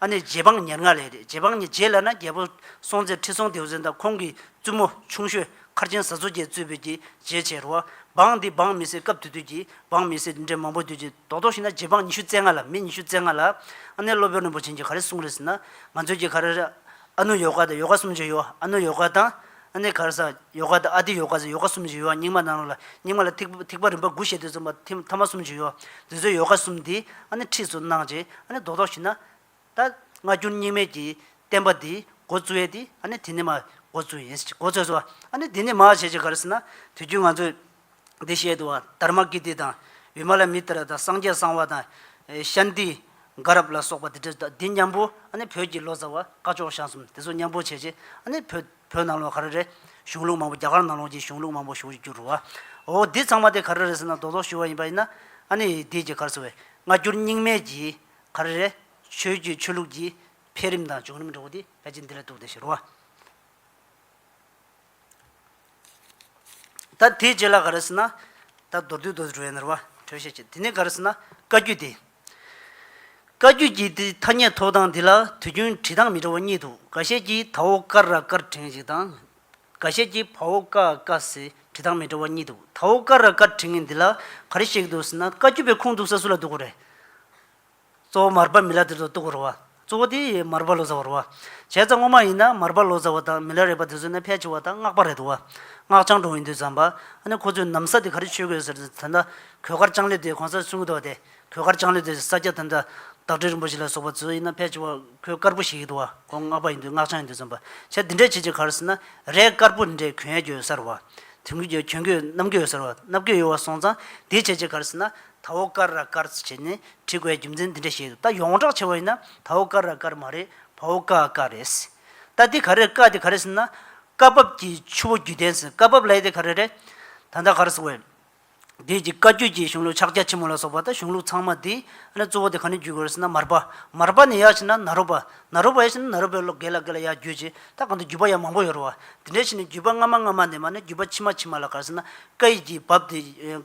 Speaker 2: ཨ་ནི་རྗེ་འབངས་ཉེར་ལྔ་ལས་རེད་རྗེ་འབངས་ཉེར་བརྒྱད་ལ་ན་རྒྱལ་པོ་སྲོང་བཙན་ཁྲི་སྲོང་ལྡེའུ་བཙན་དང་ཁོང་གི་བཙུན་མོ་ཆུང་ཤོས་མཁར་ཆེན་བཟའ་མཚོ་རྒྱལ་གཙོས་བོད་ཀྱི་རྗེའི་བྱེས་རོ། འབངས་འདི་འབངས་མི་སེར་སྐབས་དུས་དུས་ཀྱི་འབངས་མི་སེར་འདི་འདྲའི་མང་པོ་འདུས་ཀྱི་རྡོག་རྡོག་ཤིག་ན་རྗེ་འབངས་ཉི་ཤུ་རྩེ་ལྔ་ལ་མི་ཉི་ཤུ་རྩེ་ལྔ་ལ། ཨ་ནེ་བློ་དཔོན་རིན་པོ་ཆེན་གྱིས་ག་རེ་གསུངས་རེད་ཟེར་ན། ང་ཚོས་ཀྱི་ག་རེ་རེད། ཨ་ནུ་ཡོ་ག་དང་ཡོ་ག་གསུམ་བྱས་ཡོད། ཨ་ནུ་ཡོ་ག་དང། ཨ་ནེ་གྷར་སཱ། ཡོ་ག་དང་ཨ་ཏི་ཡོ་ག་སོགས་ཡོ་ག་གསུམ་བརྗོད་ཡོད་ཨང་རྙིང་མ་ནང་རོ་ལ་རྙིང་མ་ལ་ཐིག་ཐིག་པ་རིམ་པ་དགུ་ཞེས་དུས་གསུམ་པ་ཐིམ་ཐ་མ་གསུམ་བརྗོད་ཡོད་དུས་ཚོད་ཡོ་ག་གསུམ་འདི་ཨ་ནེ་ཁྲིད་སུ་གནང་རྗེས་ཨ་ནེ་རྡོག་རྡོག་ཞིག་ན། ད། སྔ་འགྱུར་རྙིང་མའི་གྱི། བསྟན་པ་འདིའི། འགོ་བཙུགས་ཡས་དེ་ཨ་ནེ་དེ་ནི་མ། འགོ་བཙུགས་ཡས་འགོ་བཙུགས་སོ། ཨ་ནེ་དེ་ནི་མ་ཞེས་ཀྱི་ག་རེ་ཟེར་ན། དུས་རྒྱུན་ང་ཚོས། འདི་བཤད་དུ་བ་དར་མ་ཀི་ཏི་དང། བི་མ་ལ་མི་ཏི་ར་དང་སངས་རྒྱས་གསང་བ་དང། ཤཱན་ཏི། དགའ་རབ་ལ་སོགས་པ་འདི་བྲིས་དང་འདི་མཉམ་པོ་ཨ་ནི་བོད་ཀྱི་ལོ་ཙཱ་བ་བཀའ་ཅོག་ཞང་གསུམ་དེ་ཚོ་མཉམ་པོ་བྱས་རྗེས་ཨ་ནི་བོད་བོད་ནང་ལོ་ག་རེ་རེ་གཞུང་ལུགས་མང་པོ་རྒྱ་གར་ནང་ལོ་གྱི་གཞུང་ལུགས་མང་པོ་བཞུགས་འགྱུར་རོ། འོ་འདི་ཚང་མ་དེ་ག་རེ་རེ་ཟེར་ན་རྡོག་རྡོག་ཞུ་བ་ཡིན་པ་ཡིན་ན་ཨ་ནི་འདིའི་རྒྱ་གར་ཚོ་བས་སྔ་འགྱུར་རྙིང་མའི་གྱི་ག་རེ་རེ་ཆོས་བརྒྱུད་ཆོས་ལུགས་ཀྱི་འཕེལ་རིམ་དང་བྱུང་རིམ་འགྲོ་བ་དེ་ཕལ་ཆེར་འདི་ལ་གཏུགས་ཏེ་བཞེད་རོ། ད་དེའི་རྗེས་ལ་ག་རེ་ཟེར་ན། ད་མདོར་བསྡུས་མདོ་སྦྲུལ་ནོར་བ་གྲོལ་བཤད་ཅེས་དེ་ནི་ག་རེ་ཟེར་ན་བཀའ་བརྒྱུད་དེ། བཀའ་བརྒྱུད་ཀྱི་དེ་ཐ་སྙད་ཐོགས་སྟངས་འདི་ལ་དུས་རྒྱུན་བྲིས་སྟངས་མི་འདྲ་བ་གཉིས་འདུག་ག་ཤེད་ཀྱིས་དྭོགས་དཀར་ར་དཀར་བྲེང་ཞིག་དང། ག་ཤེད་ཀྱིས་བ་འོག་ཀ་ཀ་ཟེར་བྲིས་སྟངས་མི་འདྲ་བ་གཉིས་འདུག་དྭོགས་དཀར་ར་དཀར་བྲེང་ངེ་འདི་ལ་ག་རེ་བཤད་ཀྱི་འདུག་ཟེར་ན་བཀའ་བརྒྱུད་པའི་ཁུངས་འདུག་ས་སུ་ལ་འདུག་གོ་རེད། གཙོ་བོ་མར་པ་མི་ལ་དེ་ཚོ་གཏུགས་པར་རོ། གཙོ་བོ་དེ་ཡིས་མར་པ་ལོ་ཟ་བར་རོ། བྱས་ཙང་སྔོན་མ་ཡིན་ན་མར་པ་ལོ་ཟ་བ་དང་མི་ལ་རས་པ་དེ་ཚོ་ནི་ཕལ་ཆེ་བ་དང་སྔགས་པ་རེད་དོ། སྔགས་འཆང་གྲོང་ཡིན་དུས་ཙམ་པ། ནི་ཁོ་ཚོས་ནམ་ས་དེ་ག་རེ་ཆོས་གོས་ཟེར་ཏེ་དེ་འདྲ་གོས་དཀར་ལྕང་ལོས་དེ་གོང་ས་སྲུང་གི་འདུག་བ་དེ་གོས་དཀར་ལྕང་ལོས་དེ་ས་སྐྱ་དེ་འདྲ་བདག་ཁྲི་རིན་པོ་ཆེ་ལ་སོགས་པ་ཚོས་ཡིན་ན་ཕལ་ཆེ་བ་གོས་དཀར་པོ་ཞིག་ཡིན་འདུག་བ་ཁོང་སྔགས་པ་ཡིན་དུས་སྔགས་འཆང་ཡིན་དུས་ཙམ་པ། བྱས་འདི་འདྲ་བྱེད་ཅིག་ག་རེ་ཟེར་ན་རས་དཀར་པོ་འདི་འདྲས་གོས་གཡས་གྱོན་ཟེར་རོ། དེང་གི་གྱོན་གོས་གནམ་གོས་ཟེར་རོ་གནམ་གོས་ཡོད་བ་སོང་ཙང་དེ་བྱེད་ཅིག་ག་རེ་ཟེར་ན་དྭོགས་དཀར་ར་དཀར་ཚུལ་བྱས་ནས་བྲིས་དགོས་རྒྱུ་མཚན་འདི་འདྲ་བཤད་འདུག་ད་ཡོངས་གྲགས་ཆེ་བ་ཡིན་ན་དྭོགས་དཀར་ར་དཀར་མ་རེད་བའོ་ཀ་ཨ་ཀ་རེད། ད་འདི་ག་རེད་ཀ་འདི་ག་རེད་ཟེར་ན། བཀའ་བབས་ཀྱི་ཆུ་བོ་བརྒྱུད་ལྡན་ཟེར་བཀའ་བབས་ལའི་དེ་ག་རེ་རེད། ད་ལྟ་ག་རེ་ཟེར་བའི། བདུད་ཀྱི་བཀའ་བརྒྱུད་ཀྱི་གཞུང་ལུགས་ཕྱག་རྒྱ་ཆེན་མོ་ལ་སོགས་པ་དང་གཞུང་ལུགས་ཚང་མ་འདི། ཨ་ནི་གཙོ་བོ་དེ་ག་ནས་བརྒྱུད་དགོས་རེད་ཟེར་ན་མར་པ། མར་པ་ནས་ཡག་ཕྱིན་ན་ནཱ་རོ་པ། ནཱ་རོ་པ་ཡག་ཕྱིན་ན་ནཱ་རོ་པའི་ལོ་རྒས་ལ་རྒས་ལ་ཡག་བརྒྱུད་ཅིག་ད་གང་དུ་བརྒྱུད་པ་ཡང་མང་པོ་ཡོད་རེད་བ། འདི་འདྲས་ཕྱིན་ནས་བརྒྱུད་པ་སྔ་མ་སྔ་མ་ནས་མ་ནི་བརྒྱུད་པ་ཕྱི་མ་ཕྱི་མ་ལ་ག་རེ་ཟེར་ན། བཀའ་ཡིག་གི་བབས་དེ།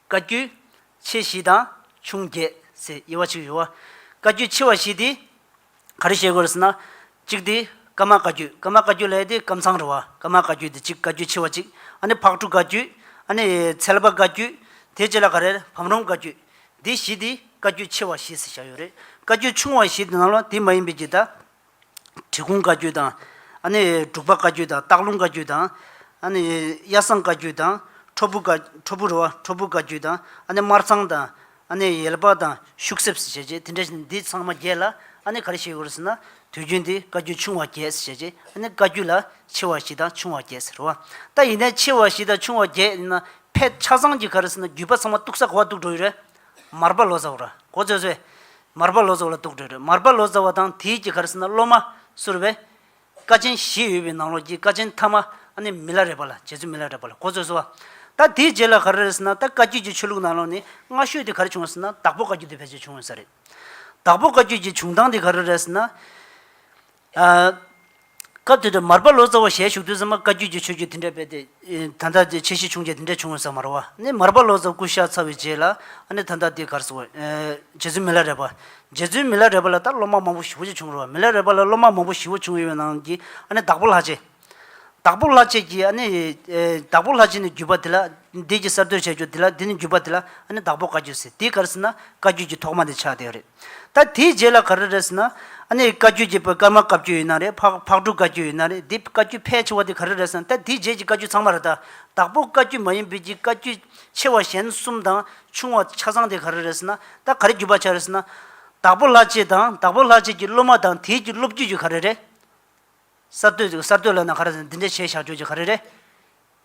Speaker 2: བཀའ་བརྒྱུད། ཆེ་བཞི་དང་ཆུང་བརྒྱད་ཟེར་དབྱེ་བ་གཅིག་ཡོད། བཀའ་བརྒྱུད་ཆེ་བ་བཞི་དེ་ག་རེ་བཤད་དགོས་རེད་ཟེར་ན། གཅིག་དེ་ཀརྨ་བཀའ་བརྒྱུད་ཀརྨ་བཀའ་བརྒྱུད་ལས་དེ་ཀམ་ཚང་རེད་བ། ཀརྨ་བཀའ་བརྒྱུད་དེ་གཅིག་བཀའ་བརྒྱུད་ཆེ་བ་གཅིག། ཨ་ནི་ཕག་གྲུ་བཀའ་བརྒྱུད། ཨ་ནི་ཚལ་པ་བཀའ་བརྒྱུད། དེ་རྗེས་ལ་ག་རེ་རེད་བམ་རོང་བཀའ་བརྒྱུད། འདི་བཞི་དེ་བཀའ་བརྒྱུད་ཆེ་བ་བཞི་ཟེར་བཞག་ཡོད་རེད། བཀའ་བརྒྱུད་ཆུང་བ་བཞི་དེ་ནང་ལོ་དེ་མ་ཡིན་པའི་རྒྱུད་དང། གྲི་གུང་བཀའ་བརྒྱུད་དང། འབྲུག་པ་བཀའ་བརྒྱུད་དང་སྟག་ལུང་བཀའ་བརྒྱུད་དང། གཡའ་བཟང་བཀའ་བརྒྱུད་དང། ཁྲོ་ཕུ་བཀའ་བརྒྱུད་དང། དམར་ཚང་དང། ཡལ་པ་དང་ཤུག་གསེབ་ཟེར་བྱས་རྗེས་དེ་འདྲ་འདི་ཚང་མ་བརྒྱད་ལ། ག་རེ་ཞིག་ཡོད་ཟེར་ན། དུས་རྒྱུན་འདི་བཀའ་བརྒྱུད་ཆུང་བ་བརྒྱད་ཟེར་བྱས་རྗེས་བཀའ་བརྒྱུད་ལ་ཆེ་བ་བཞི་དང་ཆུང་བ་བརྒྱད་ཟེར་རོ། ད་ཡིན་ན་ཆེ་བ་བཞི་དང་ཆུང་བ་བརྒྱད་ཡིན་ན་ཕལ་ཆ་ཚང་གི་ག་རེ་ཟེར་ན་བརྒྱུད་པ་ཚང་མ་གཏུགས་ས་གོ་བ་གཏུགས་འགྲོ་ཡི་རེད། མར་པ་ལོ་ཙཱ་བ་ར་གོ་ཙོས་ཙོས། མར་པ་ལོ་ཙཱ་བ་ལ་དུག་སྤྲོད་སྤྲོད། མར་པ་ལོ་ཙཱ་བ་དང་དེའི་སྐྱེ་གར་སྲིད་ན་སློབ་མ་གསུར་བས། ཀ་ཆེན་བཞི་ཡོད་པའི་ནང་ལོགས་ཀྱི་ཀ་ཆེན་ཐ་མ་ནི་མི་ལ་རས་པ་ལ་རྗེ་བཙུན་མི་ལ་རས་པ་ལ་གོ་ཙོས་ཙོ། ད་དེའི་རྗེས་ལ་ག་རེ་རེད་ཟེར་ན་ད་བཀའ་བརྒྱུད་ཀྱི་ཆོས་ལུགས་ནང་ལོགས་ནི་སྔ་ཤོས་དེ་ག་རེ་བྱུང་བ་ཟེར་ན་བདག་པོ་བཀའ་བརྒྱུད་དེ་ཕལ་ཆེར་བྱུང་ཡོད་ས་རེད། བདག་པོ་བཀའ་བརྒྱུད་ཀྱི་བྱུང་སྟངས་དེ་ག་རེ་རེད་ཟེར་ན། སྐབས་དེ་དུས་མར་པ་ལོ་ཙཱ་བ་ཞལ་བཞུགས་དུས་སངས་མ་བཀའ་བརྒྱུད་ཀྱི་ཆོས་བརྒྱུད་དེ་འདྲ་སྤེལ་ཏེ། ད་ལྟ་དེ་ཆེ་བཞི་བྱུང་རྗེས་དེ་འདྲ་བྱུང་བ་ཟ་མ་རོ་བ་ནི་མར་པ་ལོ་ཙཱ་སྐུ་ཤ་ཚ་བའི་རྗེས་ལ་ཨ་ནི་ད་ལྟ་དེ་གར་སོང་བས། རྗེ་བཙུན་མི་ལ་རས་པ། རྗེ་བཙུན་མི་ལ་རས་པ་ལ་ལྟར་སློབ་མ་མང་པོ་བཞི་བོ་ཅིག་བྱུང་རོ་བ་མི་ལ་རས་པ་ལ་སློབ་མ་མང་པོ་བཞི་བོ་བྱུང་ཡོད་པའི་ནང་གི་ཨ་ནི་བདག་པོ་ལྷ་རྗེ། བདག་པོ་ལྷ་བསྐྱེད་ཀྱི་ཨ་ནི། བདག་པོ་ལྷ་བསྐྱེད་ནི་བརྒྱུད་པ་དེ་ལ། འདས་ཀྱིས་གསར་བཏོད་བྱ་རྒྱུ་དེ་ལ་དེ་ནི་བརྒྱུད་པ་དེ་ལ་ཨ་ནི་བདག་པོ་བཀའ་བརྒྱུད་ཟེར་དེའི་གར་ཟེར་ན་བཀའ་བརྒྱུད་ཀྱི་ཐོག་མ་དེ་ཆགས་བསྡད་རེད། ད་དེའི་རྗེས་ལ་ག་རེ་རེད་ཟེར་ན། ཨ་ནི་བཀའ་བརྒྱུད་ཀྱི་སྐར་མ་བཀའ་བརྒྱུད་ཡིན་ན་རེད་ཕག་ཕག་གྲུ་བཀའ་བརྒྱུད་ཡིན་ན་རེད་དེ་བཀའ་བརྒྱུད་ཕལ་ཆེ་བ་དེ་ག་རེ་རེད་ཟེར་ན་ད་དེའི་རྗེས་ཀྱི་བཀའ་བརྒྱུད་ཚང་མ་རེད་ད། བདག་པོ་བཀའ་བརྒྱུད་མ་ཡིན་པའི་ཀྱི་བཀའ་བརྒྱུད་ཆེ་བ་གཞན་གསུམ་དང་ཆུང་བ་ཆ་ཚང་དེ་ག་རེ་རེད་ཟེར་ན་ད་ག་རེ་བརྒྱུད་པ་ཆགས་རེད་ཟེར་ན། བདག་པོ་ལྷ་བསྐྱེད་དང་བདག་པོ་ལྷ་བསྐྱེད་ཀྱི་སློབ་མ་དང་དེའི་ཀྱི་སློབ་བརྒྱུད་ཀྱི་ག་རེ་རེད། གསར་གཏོད་ཅིག་གསར་གཏོད་ལབ་ན་ག་རེ་རེད་འདི་འདྲ་བྱས་བཞག་ཁྱོད་ཀྱིས་ག་རེ་རེད།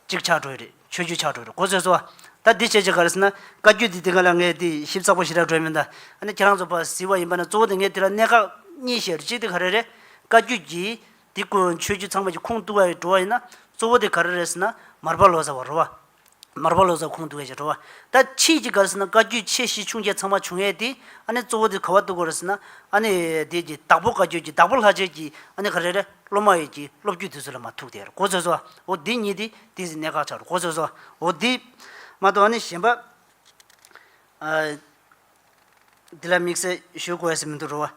Speaker 2: ཅིག་ཆགས་གྲོལ་རེད་ཆོས་བརྒྱུད་ཆགས་གྲོལ་རེད་གོ་ཟེར་སོ། ད་འདི་བྱས་ཅིག་ག་རེ་ཟེར་ན་བཀའ་བརྒྱུད་འདི་དེ་ག་ལ་ངས་དེ་ཞིབ་ཚགས་པོ་ཞིག་ར་སྤྲོད་མི་འདའ། ཨ་ནི་ཁྱེད་རང་ཚོ་བ་ཟི་བ་ཡིན་པ་ན་གཙོ་བོ་དེ་ངས་དེ་ལ་གནད་འགག་གཉིས་བཤད་རེད་གཅིག་དེ་ག་རེ་རེད། བཀའ་བརྒྱུད་ཀྱིས་འདི་བཀོད་འོང་ཆོས་བརྒྱུད་ཚང་མ་ཀྱི་ཁུངས་གཏུགས་ཡ་འགྲོ་བ་ཡིན་ན་གཙོ་བོ་དེ་ག་རེ་རེད་ཟེར་ན་མར་པ་ལོ་ཟེར་བ་རོ་བ། མར་པ་ལོ་ཙཱ་ཁོང་འདུག་ཡས་བྱས་འགྲོ་བ། ད་ཁྱེད་ཀྱིས་ག་རེ་ཟེར་ན་བཀའ་བརྒྱུད་ཆེ་བཞི་ཆུང་བརྒྱད་ཚང་མ་བྱུང་ཡས་དེ། ཨ་ནི་གཙོ་བོ་དེ་ག་བ་འདུག་གོ་རེ་ཟེར་ན། ཨ་ནི། དེ་ཀྱི་བདག་པོ་བཀའ་བརྒྱུད་ཀྱི་བདག་པོ་ལྷ་རྗེ་ཀྱི་ཨ་ནི་ག་རེ་རེ་སློབ་མ་ཡས་ཀྱི་སློབ་བརྒྱུད་དེ་ཚོ་ལ་མ་ཐུག་དེ་ཡར་གོ་ཚོད་ཟོ། འོ་དེ་ཉིད་དེ་དེ་ཟིན་གནད་འགག་ཆགས་འགྲོ་གོ་ཚོད་ཟོ། འོ་དེ། མ་གཏོགས་ཨ་ནི་གཞན་པ། འདི་ལ་དམིགས་བསལ་ཞུ་དགོས་ས་མི་འདུག་རོ།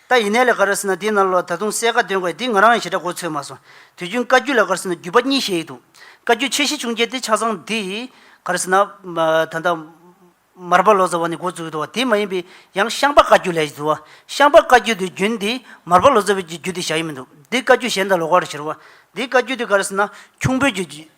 Speaker 2: ད་ཡིན་ནའི་ལས་ཀར་ཟེར་ན་འདི་ནང་ལོགས་ད་དུང་གསལ་ཁ་འདོན་དགོས་འདི་ང་རང་ཡང་ཞེ་དྲག་གོ་ཚོད་མ་སོང། དུས་རྒྱུན་བཀའ་རྒྱུད་ལས་ཀར་ཟེར་ན་བརྒྱུད་པ་གཉིས་བཤད་ཡི་འདུག་བཀའ་རྒྱུད་ཆེ་བཞི་ཆུང་བརྒྱད་དེ་ཆ་ཚང་འདི། གར་ཟེར་ན། ད་ལྟ། མར་པ་ལོ་ཙཱ་བ་ནས་འགོ་བཙུགས་ཡོད་འདུག་བ་དེ་མ་ཡིན་པའི་ཡང་ཤངས་པ་བཀའ་རྒྱུད་ལས་ཀྱི་འདུག་བ། ཤངས་པ་བཀའ་རྒྱུད་དེ་རྒྱུན་འདི་མར་པ་ལོ་ཙཱ་བས་ཀྱི་རྒྱུད་དེ་བཞག་ཡོད་མི་འདུག་འདི་བཀའ་རྒྱུད་གཞན་དང་ལོགས་ཀར་བྱེད་རོ། འདི་བཀའ་རྒྱུད་དེ་ག་རེ་ཟེར་ན་ཁྱུང་པོའི་རྒྱུད།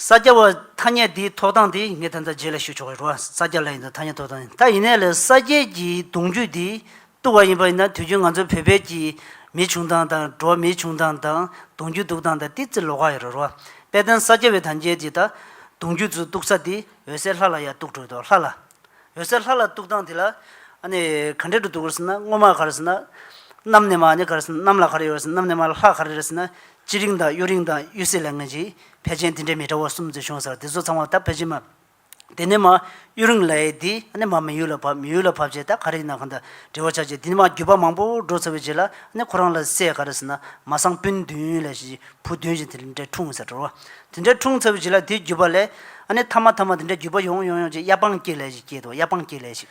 Speaker 2: ས་སྐྱ་བ་ཐ་སྙད་འདིའི་ཐོག་དང་དེ་ངས་ད་ལྟ་རྗེས་ལ་ཞུ་ཆོག་གི་རུང་བ་ས་སྐྱ་ལ་ཡིན་འདུག་ཐ་སྙད་ཐོག་དང་ད་ཡིན་ནའི་ལས་ས་སྐྱའི་གྱི་གདུང་རྒྱུད་འདི་གཏུག་བ་ཡིན་པ་ཡིན་ན་དུས་རྒྱུན་ང་ཚོའི་བོད་པའི་གྱི་མི་བྱུང་དང་དང་འགྲོ་བ་མི་བྱུང་དང་དང་གདུང་རྒྱུད་འདུག་དང་ད་ཏི་ཙི་ལོ་ཁ་ཡོད་ར་རུང་བ་དཔལ་ལྡན་ས་སྐྱ་བའི་ཐ་མཇལ་གྱི་ད་གདུང་རྒྱུད་ཚུ་གཏུག་ས་འདི་འོད་ཟེར་ལྷ་ལ་ཡ་གཏུག་འགྲོ་འདུག་ལྷ་ལ་འོད་ཟེར་ལྷ་ལ་གཏུག་དང་དེ་ལ་ཨ་ནི་ག་འདྲེ་འགྲོ་འདུག་ག་རེ་ཟེར་ན་སྔོན་མ་ག་རེ་ཟེར་ན་གནམ་ནས་མ་ཨ་ནི་ག་རེ་ཟེར་ན་གནམ་ལ་ག་རེ་ཡོད་ར་ཟེར་ན་གནམ་ནས་མ་ལྷ་ག་རེ་ར་ཟེར་ན་ཅི་རིང་དང་གཡུ་རིང་དང་གཡུ་སེ་ལེ་ངན་ཅིག་ཕལ་ཆེན་དེ་འདྲའི་མི་ཏྲ་བོ་གསུམ་འཛུལ་བྱུང་ཟེར་བ་དེ་ཚོ་ཚང་མ་ད་ཕལ་ཆེན་མ། དེ་ནས་མ། གཡུ་རིང་ལའེ་དེ་ནས་མ་མི་ཡུལ་ལ་བབས་མི་ཡུལ་ལ་བབས་རྗེས་ད་ག་རེ་ཡིན་ནམ་གང་ད་འབྲེལ་བ་ཆགས་རྗེས་དེ་ནས་མ་བརྒྱུད་པ་མང་པོ་འགྲོ་ཚར་བའི་རྗེས་ལ་ནས་ཁོ་རང་ལ་སྲས་ག་རེ་ཟེར་ན་མ་བཟང་སྤུན་བདུན་ལས་ཞེས་བུ་བདུན་ཞིག་དེ་འདྲས་འཁྲུངས་ཟེར་བྲོ། དེ་འདྲས་འཁྲུངས་ཚར་བའི་རྗེས་ལ་དེའི་བརྒྱུད་པ་ལས། ཨ་ནས་མཐའ་མ་མཐའ་མ་དེ་འདྲས་བརྒྱུད་པ་ཡོང་ཡོང་ཡོང་རྗེས་གཡའ་སྤང་སྐྱེས་ལས་ཞིག་སྐྱེས་འདུག་གཡའ་སྤང་སྐྱེས་ལས་ཞིག།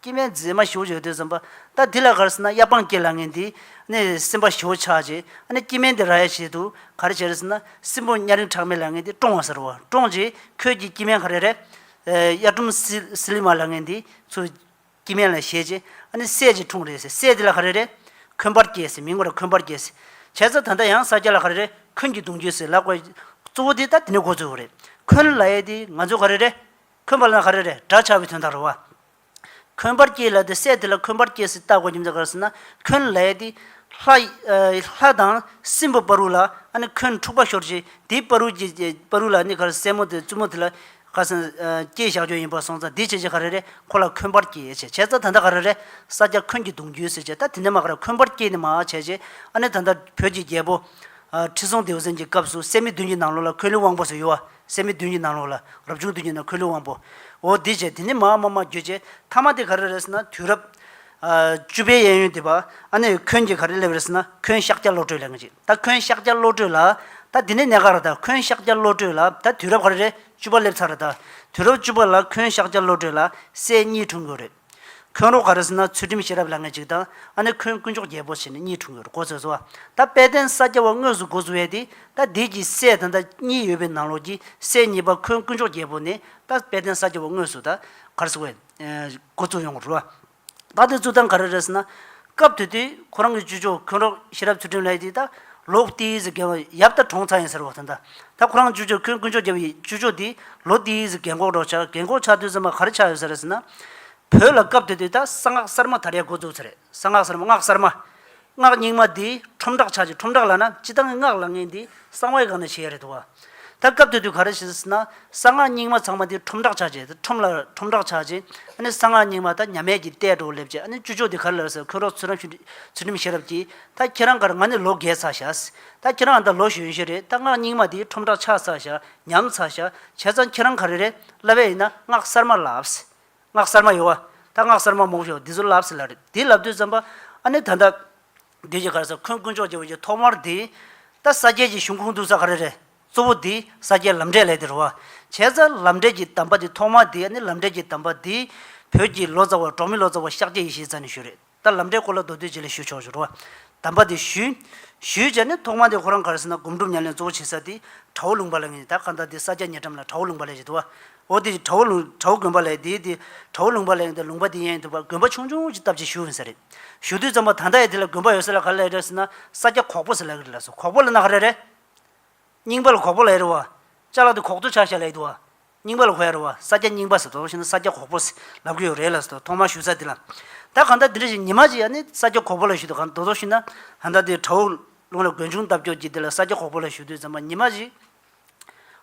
Speaker 2: སྐྱེ་མེད་མཛེས་མ་ཞོ་བྱས་ཐོས་བསམ་པ། ད་དེ་ལ་གར་ཟེར་ན་གཡའ་སྤང་སྐྱེས་ལ་ངན་དེ། ནས་སེམས་པ་ཞོ་ཆགས་བྱས་ཨ་ནས་སྐྱེ་མེད་འདི་ར་ཡ་བྱས་དུ་གར་བྱས་རེ་ཟེར་ན་སྲིན་པོ་གཉའ་རིང་ཁྲག་མེད་ལ་ངན་དེ་བཀྲོང་བ་ཟེར་རོ་བཀྲོང་བྱས་ཁོད་ཀྱི་སྐྱེ་མེད་ག་རེ་རེ། གཡའ་ཁྲོམ་སི་ལི་མ་ལ་ངན་དེ་ཚུ་སྐྱེ་མེད་ལ་བྱས་བྱས་ཨ་ནས་སད་ཅིག་འཁྲུངས་རེ་ཟེར་སད་དེ་ལ་ག་རེ་རེ། འཁོན་པར་སྐྱེས་ཟེར་མིང་ངོ་རེ་འཁོན་པར་སྐྱེས་ཟེར་བྱས་ས་ད་ལྟ་ཡང་ས་སྐྱ་ལ་ག་རེ་རེ་འཁོན་གྱི་གདུང་བརྒྱུད་ཟེར་ལ་གོ། གཙོ་བོ་དེ་ད་དེ་ནས་གོ་ཚོད་བོ་རེད་འཁོན་ལ་ཡས་དེ་ང་ཚོ་ག་རེ་རེ། འཁོན་པར་ལ་ཧ་རེ་རེ་དགྲ་བྱ་བའི་དོན་དང་རུང་བ། འཁོན་པར་སྐྱེས་ལ་དེ་སྲས་དེ་ལ་འཁོན་པར་སྐྱེས་སུ་བཏགས་གོ་སྙམ་དུ་ག་རེ་ཟེར་ན་འཁོན་ལས་ཏེ། ལྷ་དང་སྲིན་པོ་དཔའ་རུས་ལ་ནི་འཁོན་འཁྲུགས་པ་ཤོར་བྱས་དེའི་དཔའ་རུས་ཀྱི་དཔའ་རུས་ལ་ནི་ག་རེ་སྲས་མོ་དེ་བཙུན་མོ་དེ་ལ་ག་རེ་ཟེར་ན་སྐྱེས་ཞག་སྐྱོན་ཡིན་པར་སོང་ཙང་དེ་བྱས་ཀྱི་ཧ་རེ་རེ་ཁོ་ལ་འཁོན་པར་སྐྱེས་བྱས་ཙང་ད་ལྟ་ག་རེ་རེ་ས་སྐྱ་འཁོན་གྱི་གདུང་བརྒྱུད་ཟེར་བྱས་ད་དེ་འདྲ་མ་ག་རེ་འཁོན་པར་སྐྱེས་ནི་མ་བྱས་བྱས་ཨ་ནི་ད་ལྟ་བོད་ཀྱི་རྒྱལ་པོ། ཁྲི་སྲོང་ལྡེའུ་བཙན་གྱི་སྐབས་སུ་སད་མི་བདུན་གྱི་ནང་ལོགས་ལ་འཁོན་ལི་དབང་པོ་སུ་ཡོད་བ། སད་མི་བདུན་གྱི་ནང་ལོགས་ལ་རབ་བྱུང་བདུན་གྱི་ནང་ཁོལ་ལུས་དབང་པོ། འོ་དེ་བྱས་དེ་ནས་མ་ཨ་མ་མ་འགྱོད་ཅེས་ཐ་མ་དེ་ག་རེ་རེད་ཟེར་ན་དུས་རབས། བཅུ་པའི་གཡས་གཡོན་དེ་བ་ཨ་ནས་ཁོན་གྱིས་ག་རེ་སླེབས་རེད་ཟེར་ན་ཁོན་ཤཱཀྱ་བློ་གྲོས་ལས་འགའ་ཅིག་ད་ཁོན་ཤཱཀྱ་བློ་གྲོས་ལ་ད་དེ་ནས་ནས་ག་རེ་ད་ཁོན་ཤཱཀྱ་བློ་གྲོས་ལ་ད་དུས་རབས་ག་རེ་རེད་བཅུ་པ་སླེབས་ཚར་རེད་ད་དུས་རབས་བཅུ་པ་ལ་ཁོན་ཤཱཀྱ་བློ་གྲོས་ལ་སད་གཉིས་འཁྲུངས་དགོས་རེད། ཁོན་རོག་ག་རེ་ཟེར་ན་ཚུལ་ཁྲིམས་ཤེས་རབ་ལ་ངེས་ཅིག་དང་ཨ་ནི་ཁོན་དཀོན་མཆོག་རྒྱལ་པོ་ཞེས་ནི་གཉིས་འཁྲུངས་ཡོད་རེད་གོ་ཟེར་སོ། ད་དཔལ་ལྡན་ས་སྐྱ་བ་དངོས་སུ་འགོ་བཙུགས་ཡས་དེ་ད་བདེ་གྱི་སྲས་དང་ད་གཉིས་ཡོད་པའི་ནང་ལོགས་ཀྱི་སྲས་གཉིས་པ་ཁོན་དཀོན་མཆོག་རྒྱལ་པོ་ནི་ད་དཔལ་ལྡན་ས་སྐྱ་བ་དངོས་སུ་ད་ག་རེ་ཟེར་བས་འགོ་བཙུགས་ཡོང་རུ་ཨ། ད་དེ་བཙུགས་སྟངས་ག་རེ་རེད་ཟེར་ན། སྐབས་དེ་དུས་ཁོ་རང་གི་ཅུས་ཅོ་ཁོན་རོག་ཤེས་རབ་ཚུལ་ཁྲིམས་ལགས་ཀྱིས་ད་ལོ་ཏིའི་ཟི་གན་འོག་ཡབ་ད་གྲོངས་ཚར་ཡིན་ཟེར་བ་དང། ད་ཁོ་རང་ཅུས་ཅོ་ཁོན་དཀོན་མཆོག་རྒྱལ་བོ་ཡི་ཅུས་ཅོ་དེ་ལོ་ཏིའི་ཟི་གན་འགོག་འགྲོ་ཆགས་གན་འགོག་ཆགས་དུས་ཟེར་མ་ག་རེ་ཆགས་ཡོད་ཟེར་ཟེར་ན། བོད་ལ་སྐབས་དེ་དུས་ད་གསང་སྔགས་གསར་མ་དར་ཡས་འགོ་བཙུགས་ཚར་རེད་གསང་སྔགས་གསར་མ་སྔགས་གསར་མ། སྔགས་རྙིང་མ་དེའི་ཁྲོམ་བསྒྲགས་ཆགས་ཀྱི་ཁྲོམ་བསྒྲགས་ལ་ན་སྤྱི་བཏང་གི་སྔགས་ལ་ངན་དེ་གསང་བའི་སྒང་ན་བྱས་ཡོད་རེད་འདུག་བ། ད་སྐབས་དེ་དུས་ག་རེ་བྱེད་ཟེར་ན། གསང་སྔགས་རྙིང་མ་ཚང་མ་དེ་ཁྲོམ་བསྒྲགས་བྱ་ཅེས་དེ་ཁྲོམ་ལ་ཁྲོམ་བསྒྲགས་བྱ་ཅེས། ཨ་ནི་གསང་སྔགས་རྙིང་མ་ད་ཉམས་མེད་ཀྱིས་བལྟས་འགྲོ་སླེབས་ཅེས་ཨ་ནི་བཅུ་ཕྱོགས་དེ་ག་རེ་ལབ་ཟེར་ཁོས་རོགས་ཚུར་རང་ཤུ་ཚུལ་ཁྲིམས་ཤེས་རབ་ཀྱིས། ད་ཁྱེད་རང་གར་ང་ནི་ལོ་བརྒྱད་ཚར་ཤག། ད་ཁྱེད་རང་ད་ལོ་གཞོན་ཤོས་རེད་ད་སྔགས་རྙིང་མ་དེ་ཁྲོམ་བསྒྲགས་ཆགས་ཚར་ཤག་ཉམས་ཚར་ཤག་བྱས་ཙང་ཁྱེད་རང་ག་རེ་རེད་ལབ་ཨེ་ཡིན་ན་སྔགས་གསར་མ་ལབ། སྔགས་གསར་མ་ཡོད། ད་སྔགས་གསར་མ་མོག་ཤོག་འདི་ཚོ་ལབ་ཟེར་ལབ་རེད་དེ་ལབ་དུས་ཙམ་པ། ཨ་ནི་ད་ལྟ། བདུད་ཀྱི་གར་ས་འཁོན་དཀོན་མཆོག་ཅེས་པ་ཀྱི་ཐོག་མར་དེ། ད་ས་སྐྱའི་ཀྱི་གཞུང་ཁུངས་གཏུགས་ས་ག་རེ་རེད། གཙོ་བོ་དེ་ས་སྐྱའི་ལམ་འབྲས་ལས་དེར་བ། བྱས་ཙ་ལམ་འབྲས་ཀྱི་གདམས་པ་དེ་ཐོག་མར་དེ་ནི་ལམ་འབྲས་ཀྱི་གདམས་པ་དེ། བོད་ཀྱི་ལོ་ཙཱ་བ་གྲོང་མི་ལོ་ཙཱ་བ་ཤཱཀྱ་ཡེ་ཤེས་ཙཱ་ནས་ཞུས་རེད། ད་ལམ་འབྲས་སྐོར་ལ་མདོ་སྟོད་བྱེད་ལས་ཞུ་ཆོག་ཞུ་རོ། གདམས་པ་དེ་ཞུས། ཞུས་བྱས་ནས་ཐོག་མར་དེ་ཁོ་རང་གར་ས་ན་སྒོམ་སྒྲུབ་ཉམས་ལེན་གཙོ་བོ་བྱེད་ས་དེ། ཁྲ་བོ་ལུང་པ་ལ་ངེས། ད་གང་ལྟར་དེ་ས་སྐྱ་ཉེ་འགྲམ་ལ་ཁྲ་བོ་ལུང་པ་ལས་བྱེད་དུ་བ། འོ་དེ་བྲ་བོ་ལུང་བྲ་བོ་དགོན་པ་ལས་དེའི་དེ་བྲ་བོ་ལུང་པ་ལས་ཡིན་དུ་ལུང་པ་དེ་ཡན་དུ་བར་དགོན་པ་ཆུང་ཆུང་ཅིག་བཏབ་ཅིག་ཞུ་ཡིན་ས་རེད། ཞུ་དུས་ཙམ་པ་ད་ལྟ་ཡ་དེ་ལ་དགོན་པ་ཡོད་ས་ལ་ག་ལ་ཡོད་རེད་ཟེར་ན་ས་སྐྱ་ཁོག་པོ་ཟེར་ལ་ཡོད་རེད་ལ་སོ་ཁོག་པོ་ལ་ན་ག་རེ་རེད། རྙིང་པ་ལ་ཁོག་པོ་ལ་ཡོད་རེད་བ། ལྕགས་ལ་དེ་ཁོག་ཏུ་ཆགས་ཞག་ལ་ཡོད་དུ་བ། རྙིང་པ་ལ་ཁོ་ཡ་རེད་བ་ས་སྐྱ་རྙིང་པ་ཟེར་དོ་ཞེ་ན་ས་སྐྱ་ཁོག་པོ་ཟེར་ལབ་གི་ཡོད་རེད་ལ་སོ་ཐོག་མར་ཞུ་ས་དེ་ལ། ད་གང་ལྟར་དེ་འདྲ་ཞིག་ཉི་མ་ཅིག་ཡ་ནི་ས་སྐྱ་ཁོག་པོ་ལ་ཞུ་དུ་གང་འདོད་དོ་ཞེ་ན། ད་ལྟ་དེ་བྲ་བོ་ལུང་ལ་དགོན་ཆུང་བཏབ་སྐྱོར་གྱིས་དེ་ལ་ས་སྐྱ་ཁོག་པོ་ལ་ཞུ་དུས་ཙམ་པ་ཉི་མ་ཅིག།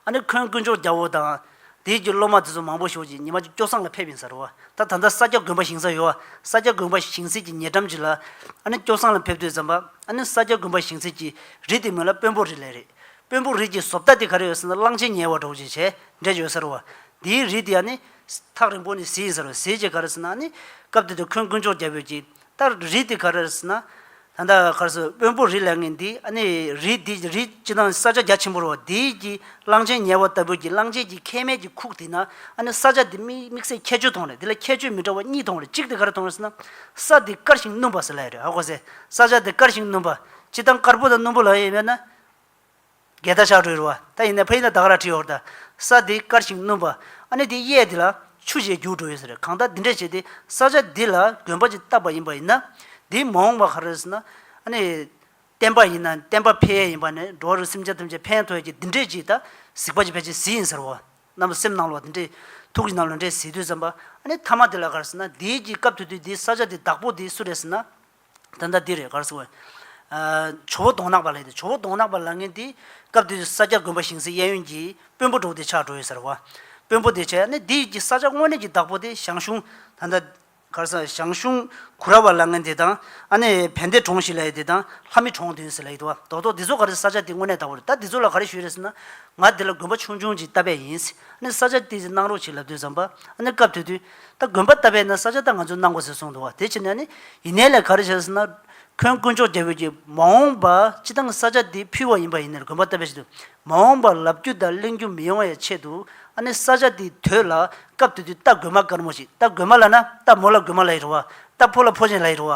Speaker 2: ཨ་ནི་ཁོན་དཀོན་མཆོག་རྒྱ་བོ་དང། དེའི་རྒྱུ་སློབ་མ་དེ་ཚོ་མང་པོ་ཞོག་ཅིག་ཉི་མ་གཅིག་སྐྱོ་སངས་ལ་ཕེབས་ཡིན་ས་རོ། ད་ད་ལྟ་ས་སྐྱ་དགོན་པ་ཞིང་ས་ཡོ་ཨ་ས་སྐྱ་དགོན་པ་ཞིང་སིད་ཀྱི་ཉེ་འགྲམ་གྱི་ལ། ཨ་ནི་སྐྱོ་སངས་ལ་ཕེབས་དུས་ཛམ་པ་ཨ་ནི་ས་སྐྱ་དགོན་པ་ཞིང་སིད་ཀྱི་རི་དེ་མོད་ལ་དཔོན་པོ་རི་ལས་རེད། དཔོན་པོ་རི་གྱི་ཟོབ་རྟ་དེ་ག་རེ་ཡོད་ཟེར་ན་གླང་ཆེན་ཉལ་བ་གྲོགས་ཅིག་བྱས་འདྲེ་ཡོད་ས་རོ། དེའི་རི་དེ་ཨ་ནི། ཐག་རིང་པོ་ནས་བཟི་ཡིན་ས་རོ་བཟི་བྱས་ག་རེ་ཟེར་ན་ཨ་ནི། སྐབས་དེ་དུས་ཁོན་དཀོན་མཆོག་རྒྱ་བོས་ཀྱིས་ལྟར་རི་དེ་ག་རེ་ཟེར་ན། ད་ལྟ་གར་སོང་དབོན་པོ་རི་ལས་ངན་འདི་ཨ་ནི་རི་འདི་རི་སྤྱི་དང་ས་ཆ་རྒྱ་ཆེན་པོར་བ་འདི་ཀྱི་གླང་ཆེན་ཉལ་བ་ལྟ་བུ་ཀྱི་གླང་ཆེན་གྱི་ཁལ་མེད་ཀྱི་ཁུག་དེ་ན་ཨ་ནི་ས་ཆ་འདི་དམིགས་བསལ་ཁྱད་ཆོས་མཐོང་རེད་འདི་ལ་ཁྱད་ཆོས་མི་འདྲ་བ་གཉིས་མཐོང་རེད་གཅིག་དེ་ག་རེ་མཐོང་རེད་ཟེར་ན། ས་འདི་དཀར་ཞིང་སྣུམ་པ་ཟེར་ལ་ཡོད་རེད་ཧ་གོ་ཟེར་ས་ཆ་འདི་དཀར་ཞིང་སྣུམ་པ་སྤྱི་དང་དཀར་པོ་དང་སྣུམ་པོ་ལ་ཡོད་ཡིན་པས་ན། གད་ད་ཤག་དྲོས་རུ་བ་ད་ཡིན་ནས་ཕ་ཡིན་ད་དག་ར་ཁྲིད་ཧོར་ད་ས་དེ་དཀར་ཞིང་སྣུམ་པ་ཨ་ནི་དེ་གཡས་དེ་ལ་ཆུ་ཞེས་རྒྱུགས་འགྲོ་ཡོད་ཟེར་གང་ད་འདི་འདྲས་བྱས་ཏེ་ས་ཆ་འདི་ལ་གོན་པ་ཅིག་བཏབ་པ་ཡིན་པ་ཡིན་ན་དེ་མ་འོངས་པ་ག་རེ་ཟེར་ན་ཨ་ནི་བསྟན་པ་ཡིན་ན་བསྟན་པ་ཕལ་ཡས་ཡིན་པ་ནས་འགྲོ་བ་རུ་སེམས་ཅན་ཐམས་ཅད་ཕན་ཐོགས་ཡོད་ཀྱི་འདི་འདྲས་ཀྱིས་ད་གཟིགས་པ་ཅིག་ཕལ་ཆེར་གཟི་ཡིན་ཟེར་བ་རྣམས་སེམས་ནང་ལོག་འདི་འདྲས་ཐུགས་ཀྱི་ནང་ལོག་འདྲས་གཟིགས་དུས་བསམ་པ་ཨ་ནི་མཐའ་མ་དེ་ལ་ག་རེ་ཟེར་ན་འདིའི་གྱི་སྐབས་དུས་དུས་འདི་ས་ཆ་འདི་བདག་པོ་འདི་སུ་རེད་ཟེར་ན། ད་ལྟ་འདི་རེད་གར་སོང་བས། ཇོ་བོ་གདོང་ནག་པ་ལས་ཏེ་ཇོ་བོ་གདོང་ནག་པ་ལ་ངན་ཏེ། སྐབས་དེ་དུས་ས་སྐྱ་དགོན་པ་ཞིང་སའི་གཡས་གཡོན་གྱི་དཔོན་པོ་འབྲོག་སྡེ་ཆགས་འགྲོ་ཡོད་ཟེར་བ། དཔོན་པོ་སྡེ་ཆགས་ནི་འདི་ཡིད་ཀྱི་ས་ཆ་དངོས་གནས་ཀྱི་བདག་པོ་སྟེ་ཞང་ཞུང། ད་ལྟ། གར་སོང་བས་ཞང་ཞུང་གུ་ར་བ་ལ་ངན་དེ་དང། ཨ་ནེ་བན་དེ་གྲོང་ཞིག་ལ་ཡོད་དེ་དང་ལྷ་མི་གྲོང་དུ་ཡོད་ཟེར་ལ་ཡོད་དོ། རྡོག་རྡོག་འདི་ཚོ་ག་རེ་ས་ཆ་དེ་དངོས་གནས་བདག་པོ་རེད་ད་འདི་ཚོ་ལ་ག་རེ་ཞུས་རེད་ཟེར་ན། ང་འདི་ལ་དགོན་པ་ཆུང་ཆུང་ཅིག་བཏབ་པས་ཡིན། ཨ་ནེ་ས་ཆ་དེ་ཚོ་གནང་རོགས་བྱེད་ལབ་དུས་བསམ་པ། ཨ་ནེ་སྐབས་དེ་དུས། ད་དགོན་པ་བཏབ་པས་ན་ས་ཆ་ད་ང་ཚོས་གནང་དགོས་ཟེར་གསུངས་འདུག་བ་དེ་ཕྱིར་ན་ནི་ཡིན་ནའི་ལས་ག་རེ་བྱས་ཟེར་ན། ཁོན་དཀོན་མཆོག་རྒྱལ་པོས་ཀྱིས་མ་འོངས་པ་སྤྱི་བཏང་ས་ཆ་འདི་ཕུལ་བ་ཡིན་པ་ཡིན་ནའི་དགོན་པ་བཏབ་པའི་ཆེད་དུ་མ་འོངས་པ་ལབ་རྒྱུ་དང་གླེང་རྒྱུ་མི་ཡོང་བའི་ཆེད་དུ་ཨ་ནི་ས་ཆ་འདི་དོད་ལ་སྐབས་དེ་དུས་རྟ་དགོན་མ་དཀར་མོ་ཞིག་རྟ་དགོན་མ་ལ་ན་རྟ་མོ་ལ་དགོན་མ་ལ་ཡི་རུ་བ་རྟ་ཕོ་ལ་ཕོ་ཆེན་ལ་ཡི་རུ་བ་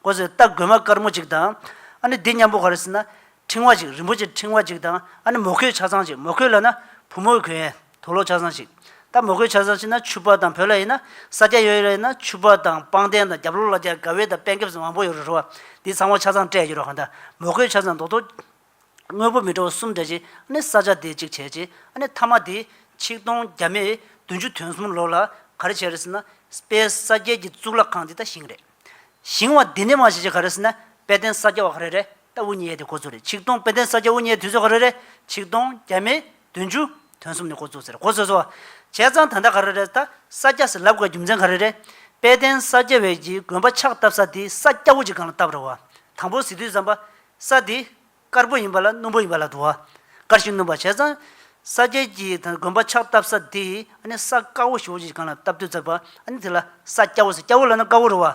Speaker 2: དགོས་ཟེར་རྟ་དགོན་མ་དཀར་མོ་ཅིག་དང་ཨ་ནི་འདི་མཉམ་པོ་ག་རེ་ཟེར་ན་ཕྲེང་བ་ཅིག་རིན་པོ་ཆེ་ཕྲེང་བ་ཅིག་དང་ཨ་ནི་མོ་ཁོའི་ཆ་ཚང་ཅིག་མོ་ཁོའི་ལ་ན་བུ་མོའི་གོས་ཡིན་དོ་ལོག་ཆ་ཚང་ཅིག་ད་མོ་ཁོའི་ཆ་ཚང་ཅིག་ན་ཆུ་བ་དང་བོད་ལ་ཡིན་ན་ས་སྐྱ་ཡོད་ལ་ཡིན་ན་ཆུ་བ་དང་སྤང་རྟེན་དང་རྒྱབ་ལོག་ལ་རྒྱ་ག་བེ་དང་པན་ཁེབས་སུ་མང་པོ་ཡོད་རོ་རོ་བ་འདི་ཚང་བ་ཆ་ཚང་སྤྲད་ཀྱི་རོ་ཧ་ད་མོ་ཁོའི་ཆ་ཚང་མདོག་མདོག་དངོས་པོ་མི་འདྲ་བ་གསུམ་སྤྲད་ཅིག་ཨ་ནི་ས་སྐྱ་དེ་ཅིག་བྱས་ཅིག་ཨ་ནི་ཐ་མ་དེ་ཆིག་སྟོང་བརྒྱ་མེད་བདུན་ཅུ་དོན་གསུམ་ལོ་ལ་ག་རེ་བྱས་རེ་ཟི་ན་དཔལ་ས་སྐྱའི་གི་གཙུག་ལག་ཁང་འདི་ད་ཞིང་རེད་ཞིང་བ་འདི་ནི་མ་བྱས་ཅིག་ག་རེ་ཟི་ན་དཔལ་ལྡན་ས་སྐྱ་བ་ག་རེ་རེད་ལྟ་བུ་གཉིས་ཡས་དེ་ཁོ་ཚོ་རེད་ཆིག་སྟོང་དཔེ་དོན་ས་སྐྱ་དབུ་བརྙེས་དུས་ཚོད་ག་རེ་རེད་ཆིག་སྟོང་བརྒྱ་མེད་བདུན་ཅུ་དོན་གསུམ་ནི་ཁོ་ཚོ་ཟེར་གོ་བཟོས་སོ། བྱས་ཙང་ད་ལྟ་ག་རེ་རེད་ད་ས་སྐྱ་ཟེར་ལབ་དགོས་པའི་རྒྱུ་མཚན་ག་རེ་རེད། དཔལ་ལྡན་ས་སྐྱ་བས་ཀྱི་དགོན་པ་ཕྱག་བཏབ་ས་དེ་ས་སྐྱ་དབུ་ཅིག་གང་ལ་བཏབ་རེད་བ། དང་པོ་ཟི་དུས་བརྩམས་པ། ས་དེ་དཀར་པོ་ཡིན་པ་ལ་སྣུམ་པོ་ཡིན་པ་ལ་དུ་བ་དཀར་ཞིག་སྣུམ་པ་བྱས་ཙང། ས་སྐྱའི་ཀྱི་དགོན་པ་ཕྱག་བཏབ་ས་དེ་ཨ་ནི་ས་དཀར་བོ་ཞིག་དབུ་ཅིག་གང་ལ་བཏབ་དུས་བརྩམས་པ་ཨ་ནི་དེ་ལ་ས་སྐྱ་བོ་ཟེར་སྐྱ་བོ་ལ་ན་དཀར་བོ་རེད་བ།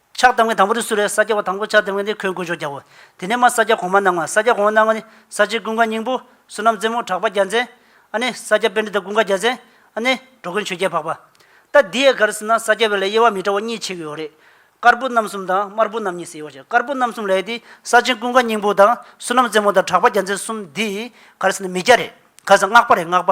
Speaker 2: ཕྱག་དང་བའི་དང་པོ་རུ་གསུར་བས་ས་སྐྱ་བ་དང་པོ་ཕྱག་དེར་བས་ནས་ཁོའི་མགོའི་ཕྱོགས་བརྒྱག་གོ། དེ་ནས་མ་ས་སྐྱ་གོང་མ་སྣང་བ་ས་སྐྱ་གོང་བ་སྣང་བ་ནི། ས་སྤྱིལ་ཀུན་དགའ་སྙིང་པོ། བསོད་ནམས་རྩེ་མོ་གྲགས་པ་རྒྱ་མཚན། ཨ་ནི། ས་སྐྱ་དཔལ་འདི་དག་ཀུན་དགའ་རྒྱ་མཚན། ཨ་ནི། འགྲོ་ཀུན་ཆོས་རྒྱལ་འཕགས་པ། ལྟ་འདི་ཡལ་གར་སྲིད་ན་ས་སྐྱ་བའི་ལས་དབྱེ་བ་མི་འདྲ་བ་གཉིས་ཕྱེ་གི་ཡོད་རེད། དཀར་པོ་རྣམ་གསུམ་དང་དམར་པོ་རྣམ་གཉིས་ཟེར་ཡོད་ཀྱང་དཀར་པོ་རྣམ་གསུམ་ལས་དེ་ས་སྤྱིལ་ཀུན་དགའ་སྙིང་པོ་དང་བསོད་ནམས་རྩེ་མོ་དང་གྲགས་པ་རྒྱ་མཚན་གསུམ་འདི་ཡི་གར་སྲིད་ན་མི་རྒྱ་རེད། ག་ས་སྔགས་པ་རེད་སྔགས་པ།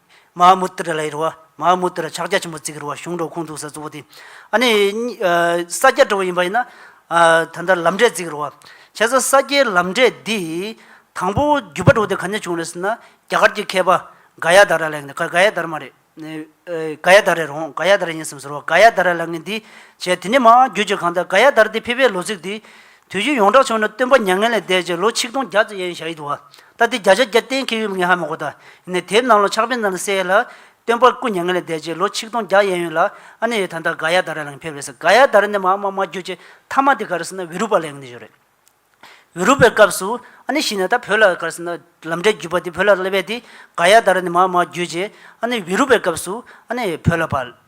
Speaker 2: མ་ཧཱ་མུ་ཏྲ་ལའི་རུ་བ། མ་ཧཱ་མུ་ཏྲ་ཕྱག་རྒྱ་ཆེན་པོ་གཙིགས་ཀྱི་རུ་བ་གཞུང་འབྲོག་ཁུངས་གཏུགས་ས་གཙོ་བོ་དེ། ཨ་ནི། ས་སྐྱ་གྲོལ་བ་ཡིན་པ་ཡིན་ན། ད་ལྟ་ལམ་འབྲས་གཙིགས་ཀྱི་རུ་བ། བྱས་ཙང་ས་སྐྱའི་ལམ་འབྲས་འདི། དང་པོ་བརྒྱུད་པ་འགྲོ་དེ་ག་ནས་བྱུང་རེད་ཟེར་ན། རྒྱ་གར་གྱི་མཁས་པ། ག་ཡ་དཱ་ར་ལའི་ངན། ག་ཡ་དཱ་ར་མ་རེད། ག་ཡ་དཱ་རའི་རོང། ག་ཡ་དཱ་ར་ཡིན་སམ་ཟེར་བ། ག་ཡ་དཱ་ར་ལའི་ངན་འདི། བྱས། དེ་ནས་མ་ཧཱ་མ་ཧཱ་བརྒྱུད་ཅེས་གང་ལྟར་ག་ཡ་དཱ་ར་དེ་ཕེབས་པའི་ལོ་ཚིགས་དེ། དུས་རྒྱུན་ཡོངས་གྲགས་བྱུང་ནས་སྟོན་པ་མྱ་ངན་ལས་འདས་རྗེས་ལོ་ཆིག་སྟོང་བརྒྱ་ཙམ་ཡན་ཞག་ཡིད་དུ་བ་ད་ལྟའི་བརྒྱ་ཆ་བརྒྱ་གཏན་འཁེལ་ཡོད་མེད་ངས་ཧ་མི་གོ་ད་ནས་དེབ་ནང་ལོ་ཆག་པའི་ནང་ལ་གསལ་ཡོད་ལ། སྟོན་པ་སྐུ་མྱ་ངན་ལས་འདས་རྗེས་ལོ་ཆིག་སྟོང་བརྒྱ་ཡན་ཡོད་ལ་ཨ་ནེ་ཡོད་ད་ལྟ་ག་ཡ་དཱ་ར་ལ་ངས་ཕེབས་རེད་ཟེར་ག་ཡ་དཱ་ར་ནས་མ་མ་མ་རྒྱུ་ཅེས་མཐའ་མ་དེ་ག་རེ་ཟེར་ན་བི་རུ་པ་ལའི་ངང་ནས་བཞུགས་རེད། བི་རུ་པའི་སྐབས་སུ་ཨ་ནེ་ཤི་ནས་ད་བོད་ལ་ག་རེ་ཟེར་ན་ལམ་འབྲས་བརྒྱུད་པ་དེ་བོད་ལ་སླེབས་པས་དེ་ག་ཡ་དཱ་ར་ནས་མ་མ་རྒྱུ་ཅེས་ཨ་ནེ་བི་རུ་པའི་སྐབས་སུ་ཨ་ནེ་བོད་ལ་བ།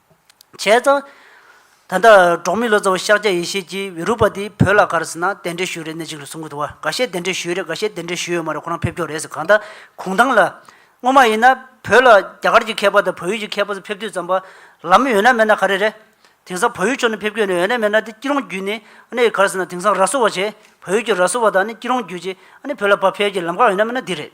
Speaker 2: བྱས་ཙང། ད་ལྟ་འབྲོག་མི་ལོ་ཙཱ་བ་ཤཱཀྱ་ཡེ་ཤེས་ཀྱིས་བི་རཱུ་པ་ཏིའི་བུ་ལ་ག་རེ་ཟེར་ན་གདན་འདྲེན་ཞུས་རེད་ནད་ཅིག་ལ་གསུང་གི་འདུག་བ་ག་ཤེད་གདན་འདྲེན་ཞུས་རེད་ག་ཤེད་གདན་འདྲེན་ཞུས་ཡོད་མ་རེད་ཁོ་རང་ཕེབས་ཀྱོག་རེད་ཟེར་གང་ལྟར་གུང་ཐང་ལ། སྔོན་མ་ཡིན་ན་བོད་ལ་རྒྱ་གར་གྱི་མཁས་པ་དང་བོད་ཡུལ་གྱི་མཁས་པ་ཚོ་ཕེབས་དུས་ཙམ་པ། ལམ་ཡོད་ན་མེད་ན་ག་རེ་རེད། དེང་སང་བོད་ཡུལ་ཕྱོགས་ནས་ཕེབས་ཀྱོག་ནས་ཡོད་ན་མེད་ན་དེ་སྐྱིད་རོང་བརྒྱུད་ནས་ཨ་ནི་ག་རེ་ཟེར་ན་དེང་སང་ར་བཟོ་བ་བྱས། བོད་ཡུལ་གྱི་ར་བཟོ་བ་དང་ཨ་ནི་སྐྱིད་རོང་བརྒྱུད་ཅིག་ཨ་ནི་བོད་ལ་བབས་ཕེབས་ཀྱི་ལམ་ཁ་ཡོད་ན་མེད་ན་འདི་རེད།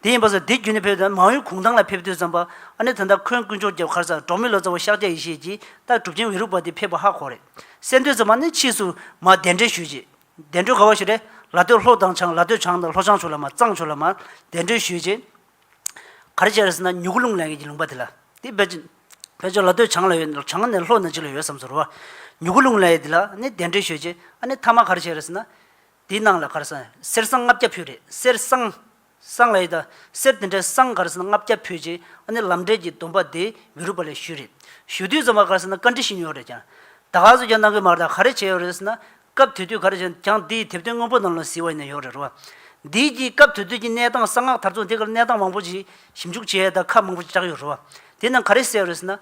Speaker 2: དེ་ཡིན་པ་སོགས་དེ་བརྒྱུད་ནས་ཕེབས་ཏེ་མང་ཡུལ་གུང་ཐང་ལ་ཕེབས་དུས་བརྩམས་པ། ཨ་ནེ་ད་ལྟ་འཁོན་དཀོན་མཆོག་རྒྱབ་ཁར་ཚ་གྲོགས་མི་ལོ་ཙཱ་བ་ཤཱཀྱ་ཡེ་ཤེས་ཀྱིས་རྟགས་གྲུབ་ཆེན་འོད་རུག་པ་དེ་ཕེབས་པ་ཧ་གོ་རེད། གསལ་འདོད་རྩོམ་པ་ནི་ཕྱིས་སུ་མ་གདན་འདྲེན་ཞུས་རྗེས། གདན་གྲོལ་ག་བ་ཞིག་རེད། ལ་སྟོད་ལྷོ་དང་བྱང་ལ་སྟོད་བྱང་དང་ལྷོ་བྱང་ཕྱོགས་ལ་མ་གཙང་ཕྱོགས་ལ་མ། གདན་གྲོལ་ཞུས་རྗེས། ག་རེ་བྱས་རེད་ཟེར་ན་མྱུ་གུ་རླུང་ལེན་མཁན་གྱི་ལུང་པ་དེ་ལ། དེ་བེད་སྤྱོད་བེད་སྤྱོད་ལ་སྟོད་བྱང་ལ་ཡོད་ནས་བྱང་ནས་ལྷོ་ནས་ཅིག་ལ་ཡོད་བསམ་ཚུལ་རོ། མྱུ་གུ་རླུང་ལེན་ཡས་དེ་ལ་ནི་གདན་གྲོལ་ཞུས་རྗེས་ཨ་ནེ་མཐའ་མ་ག་རེ་བྱས་རེད་ཟེར་ན། དེའི་ནང་ལ་གར་སང། གསེར་སྲང་ལྔ་བརྒྱ་ཕུལ་རེད། གསེར་སྲང། སྲང་ལ་ཡོད་ད། གསེར་དེ་འདྲའི་སྲང་གར་སང་ལྔ་བརྒྱ་ཕུལ་རྗེས་ཨ་ནེ་ལམ་འབྲས་ཀྱི་སྡོམ་པ་དེ་མི་རུས་པ་ལས་ཞུས་རེད། ཞུ་དུས་ཙམ་པ་གར་སང་ན་བཀའ་འདྲི་ཞུས་མྱོང་རེད་ཀྱང། ད་ག་ཚོད་ཀྱང་གནང་གི་མ་རེད་ད་ག་རེ་བྱས་ཡོད་རེད་ཟེར་ན། སྐབས་དེ་དུས་ག་རེ་བྱས་ན་ཀྱང་དེ་ཡི་དེབ་དོན་དངོས་པོ་ནང་ལ་གཟིགས་བ་ཡིན་ན་ཡོད་རེད་རོ། དེའི་རྗེས་སྐབས་དེ་དུས་ཀྱི་གནས་སྟངས་གསང་སྔགས་དར་ཚོགས་འདི་གར་གནས་སྟངས་མང་པོ་ཞིག་ཞིབ་འཇུག་བྱས་ཡོད་ད་ཁག་མང་པོ་ཞིག་བསྒྲགས་ཡོད་རེད་རོ། དེ་རྣམས་ག་རེ་བསལ་ཡོད་རེད་ཟེར་ན།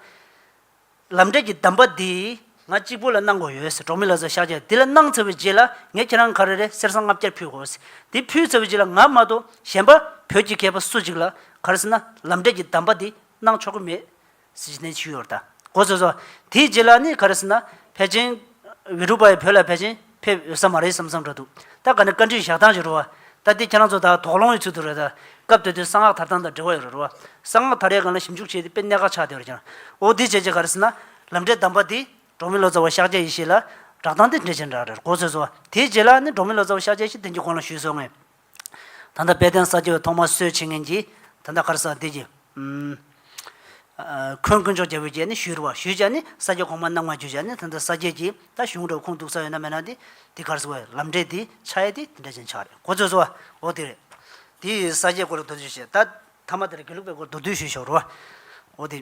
Speaker 2: ལམ་འབྲས་ཀྱི་གདམས་པ་འདི་ང་གཅིག་པུ་ལ་གནང་དགོས་ཡོད་ཟེར་གྲོང་མི་ལ་སོགས་ཤག་བྱས་འདི་ལ་གནང་ཚར་བའི་རྗེས་ལ་ངས་ཁྱེད་རང་ག་རེ་རེ་གསེར་སྲང་ལྔ་བརྒྱ་ཕུལ་དགོས་ཟེར་འདི་ཕུལ་ཚར་བའི་རྗེས་ལ་ང་མ་གཏོགས་གཞན་པ་བོད་ཀྱི་མཁས་པ་སུ་གཅིག་ལ་ག་རེ་ཟེར་ན་ལམ་འབྲས་ཀྱི་གདམས་པ་འདི་གནང་ཆོག་གི་མེད་ཟེར་གྱི་ནས་ཕྱིར་ཡོར་ད་གོ་ཟེར་སོ། དེའི་རྗེས་ལ་ནི་ག་རེ་ཟེར་ན་བལ་ཆེན། བི་རུ་པཱི་བོད་ལ་བལ་ཆེན། ཕེབས་འོས་ས་མ་རེད་བསམ་བསམ་འདྲ་འདུག་ད་ག་ནི་བཀའ་དྲིན་བཞག་སྟངས་ཀྱི་རུ་བ། ད་ལྟའི་ཁྱེད་རང་ཚོ་དག་དོགས་སློང་ཡོད་ཚུལ་དུ་རེད་ད། སྐབས་དེ་དུས་གསང་སྔགས་དར་ཐང་དང་འབྲེལ་བ་ཡོད་རེད་རུ་བ། གསང་སྔགས་དར་རའི་སྒང་ལ་ཞིབ་འཇུག་བྱས་ཏེ་དཔེ་གནད་འགག་ཆགས་བསྡད་རེད་ཀྱང། འོ་དེ་བྱས་རྗེས་ག་རེ་ཟེར་ན། ལམ་འབྲས་གདམས་པ་འདི། འབྲོག་མི་ལོ་ཙཱ་བ་ཤཱཀྱ་ཡེ་ཤེས་ལ། བསྒྲགས་སྟངས་འདི་འགྲེལ་བྱེད་འདྲ་རེད་གོ་ཚོད་བཟོ། དེའི་རྗེས་ལ་ནི་འབྲོག་མི་ལོ་ཙཱ་བ་ཤཱཀྱ་ཡེ་ཤེས་དེང་གི་གོང་ལ་ཞུས་སོང་ངས། ད་ལྟ་དཔལ་ལྡན་ས་སྐྱའི་ཐོག་མར་གསོལ་བྱེད་ངན་གྱིས། ད་ལྟ་ཁར་ས་འདི་ཀྱི། འཁོན་དཀོན་མཆོག་རྒྱལ་པོའི་རྗེས་ནི་ཞུས་བ། ཞུས་བྱ་ནི་ས་སྐྱ་གོང་མ་རྣམ་ལྔ་བརྒྱུད་བྱ་ནི་ད་ལྟ་ས་སྐྱའི་ཀྱི། ད་གཞུང་འགྲོ་ཁུངས་གཏུགས་ས་ཡོད་ན་མེད་ན་དེ། དེ་ཁར་སོ། ལམ་འབྲས་དེ་ཆ་ཡེ་དེ་དེ་འདྲ་ཅན་ཆ་རེད་གོ་ཚོད་སོ། འོ་དེ་རེད། དེ་ཡི་ས་སྐྱའི་སྐོར་ལ་མདོ་བསྡུས་བྱེད། ད་ཐ་མ་དེ་ལ་དགེ་ལུགས་པའི་སྐོར་མདོ་བསྡུས་ཞུས་ཤོག་རོ། འོ་དེ།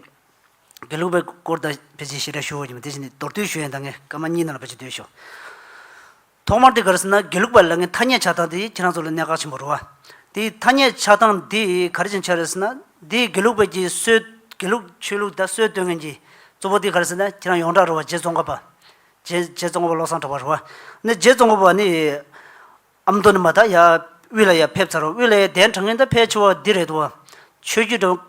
Speaker 2: དགེ་ལུགས་པའི་སྐོར་ད་ཕལ་ཆེར་ཤེས་ར་ཞུ་འོས་ཀྱི་མེད་དེ་བཞིན་དེ་མདོར་བསྡུས་ཞུ་ཡོན་ད་ངས་སྐར་མ་གཉིས་ནང་ལ་ཕལ་ཆེར་བསྡུས་ཤོག། ཐོག་མར་དེ་ག་རེ་ཟེར་ན་དགེ་ལུགས་པ་ལ་ངའི་ཐ་སྙད་ཆགས་སྟངས་དེ་ཁྱེད་རང་ཚོ་ལ་གནད་འགག་ཆེན་པོ་རུ་བ། དེ་ཐ་སྙད་ཆགས་སྟངས་དེ་ག་རེ་བྱུང་ཆགས་རེད་ཟེར་ན། དེ་དགེ་ལུགས་པ་ཀྱི་སྲོལ། དགེ་ལུགས་ཆོས་ལུགས་དང་སྲོལ་གཏོད་མཁན་གྱི། གཙོ་བོ་དེ་ག་རེ་ཟེར་ན་ཁྱེད་རང་ཡོངས་གྲགས་རུ་བ་རྗེ་བཙོང་ཁ་པ། རྗེ་རྗེ་བཙོང་ཁ་པ་བློ་བཟང་གྲགས་པ་རུ་བ། ནི་རྗེ་བཙོང་ཁ་པ་ནི། ཨ་མདོ་ནས་མ་ད་ཡ། དབུས་ལ་ཡ་ཕེབས་ཚར་བ་དབུས་ལ་ཡ་གདན་དྲངས་མཁན་ད་ཕལ་ཆེ་བ་འདི་རེད་འདུག་བ། ཆོས་བརྒྱུད་འགྲོ།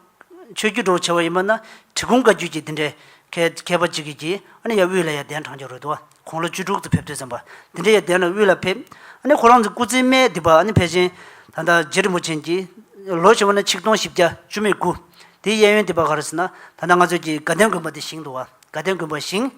Speaker 2: ཆོས་བརྒྱུད་འགྲོ་བ་ཆེ་བ་ཡིན་པ་ན། གྲི་གུམ་བཀའ་བརྒྱུད་ཀྱི་འདི་འདྲའི། མཁས་མཁས་པ་ཅིག་གིས་ཀྱིས་ཨ་ནི་ཡ་དབུས་ལ་ཡ་གདན་དྲངས་རྒྱུ་རེད་འདུག་བ། ཁོང་ལོ་བཅུ་དྲུག་ཙམ་ཕེབས་དུས་བསམ་པ་འདི་འདྲའི་ཡ་གདན་ལ་དབུས་ལ་ཕེབས། ཨ་ནི་ཁོ་རང་ཚོའི་སྐུ་ཚེའི་སྨད་དེ་བར་ཨ་ནི་ཕལ་ཆེན། ད་ལྟ་རྗེ་རིན་པོ་ཆེན་གྱིས། ལོ་བྱེ་བ་ནི་ཆིག་སྟོང་བཞི་བརྒྱ་བཅུ་མེད་དགུ། དེའི་གཡས་གཡོན་དེ་བར་ག་རེ་ཟེར་ན། ད་ལྟ་ང་ཚོས་ཀྱི་དགའ་ལྡན་དགོན་པ་དེ་བཞེངས་འདུག་བ། དགའ་ལྡན་དགོན་པ་བཞེངས།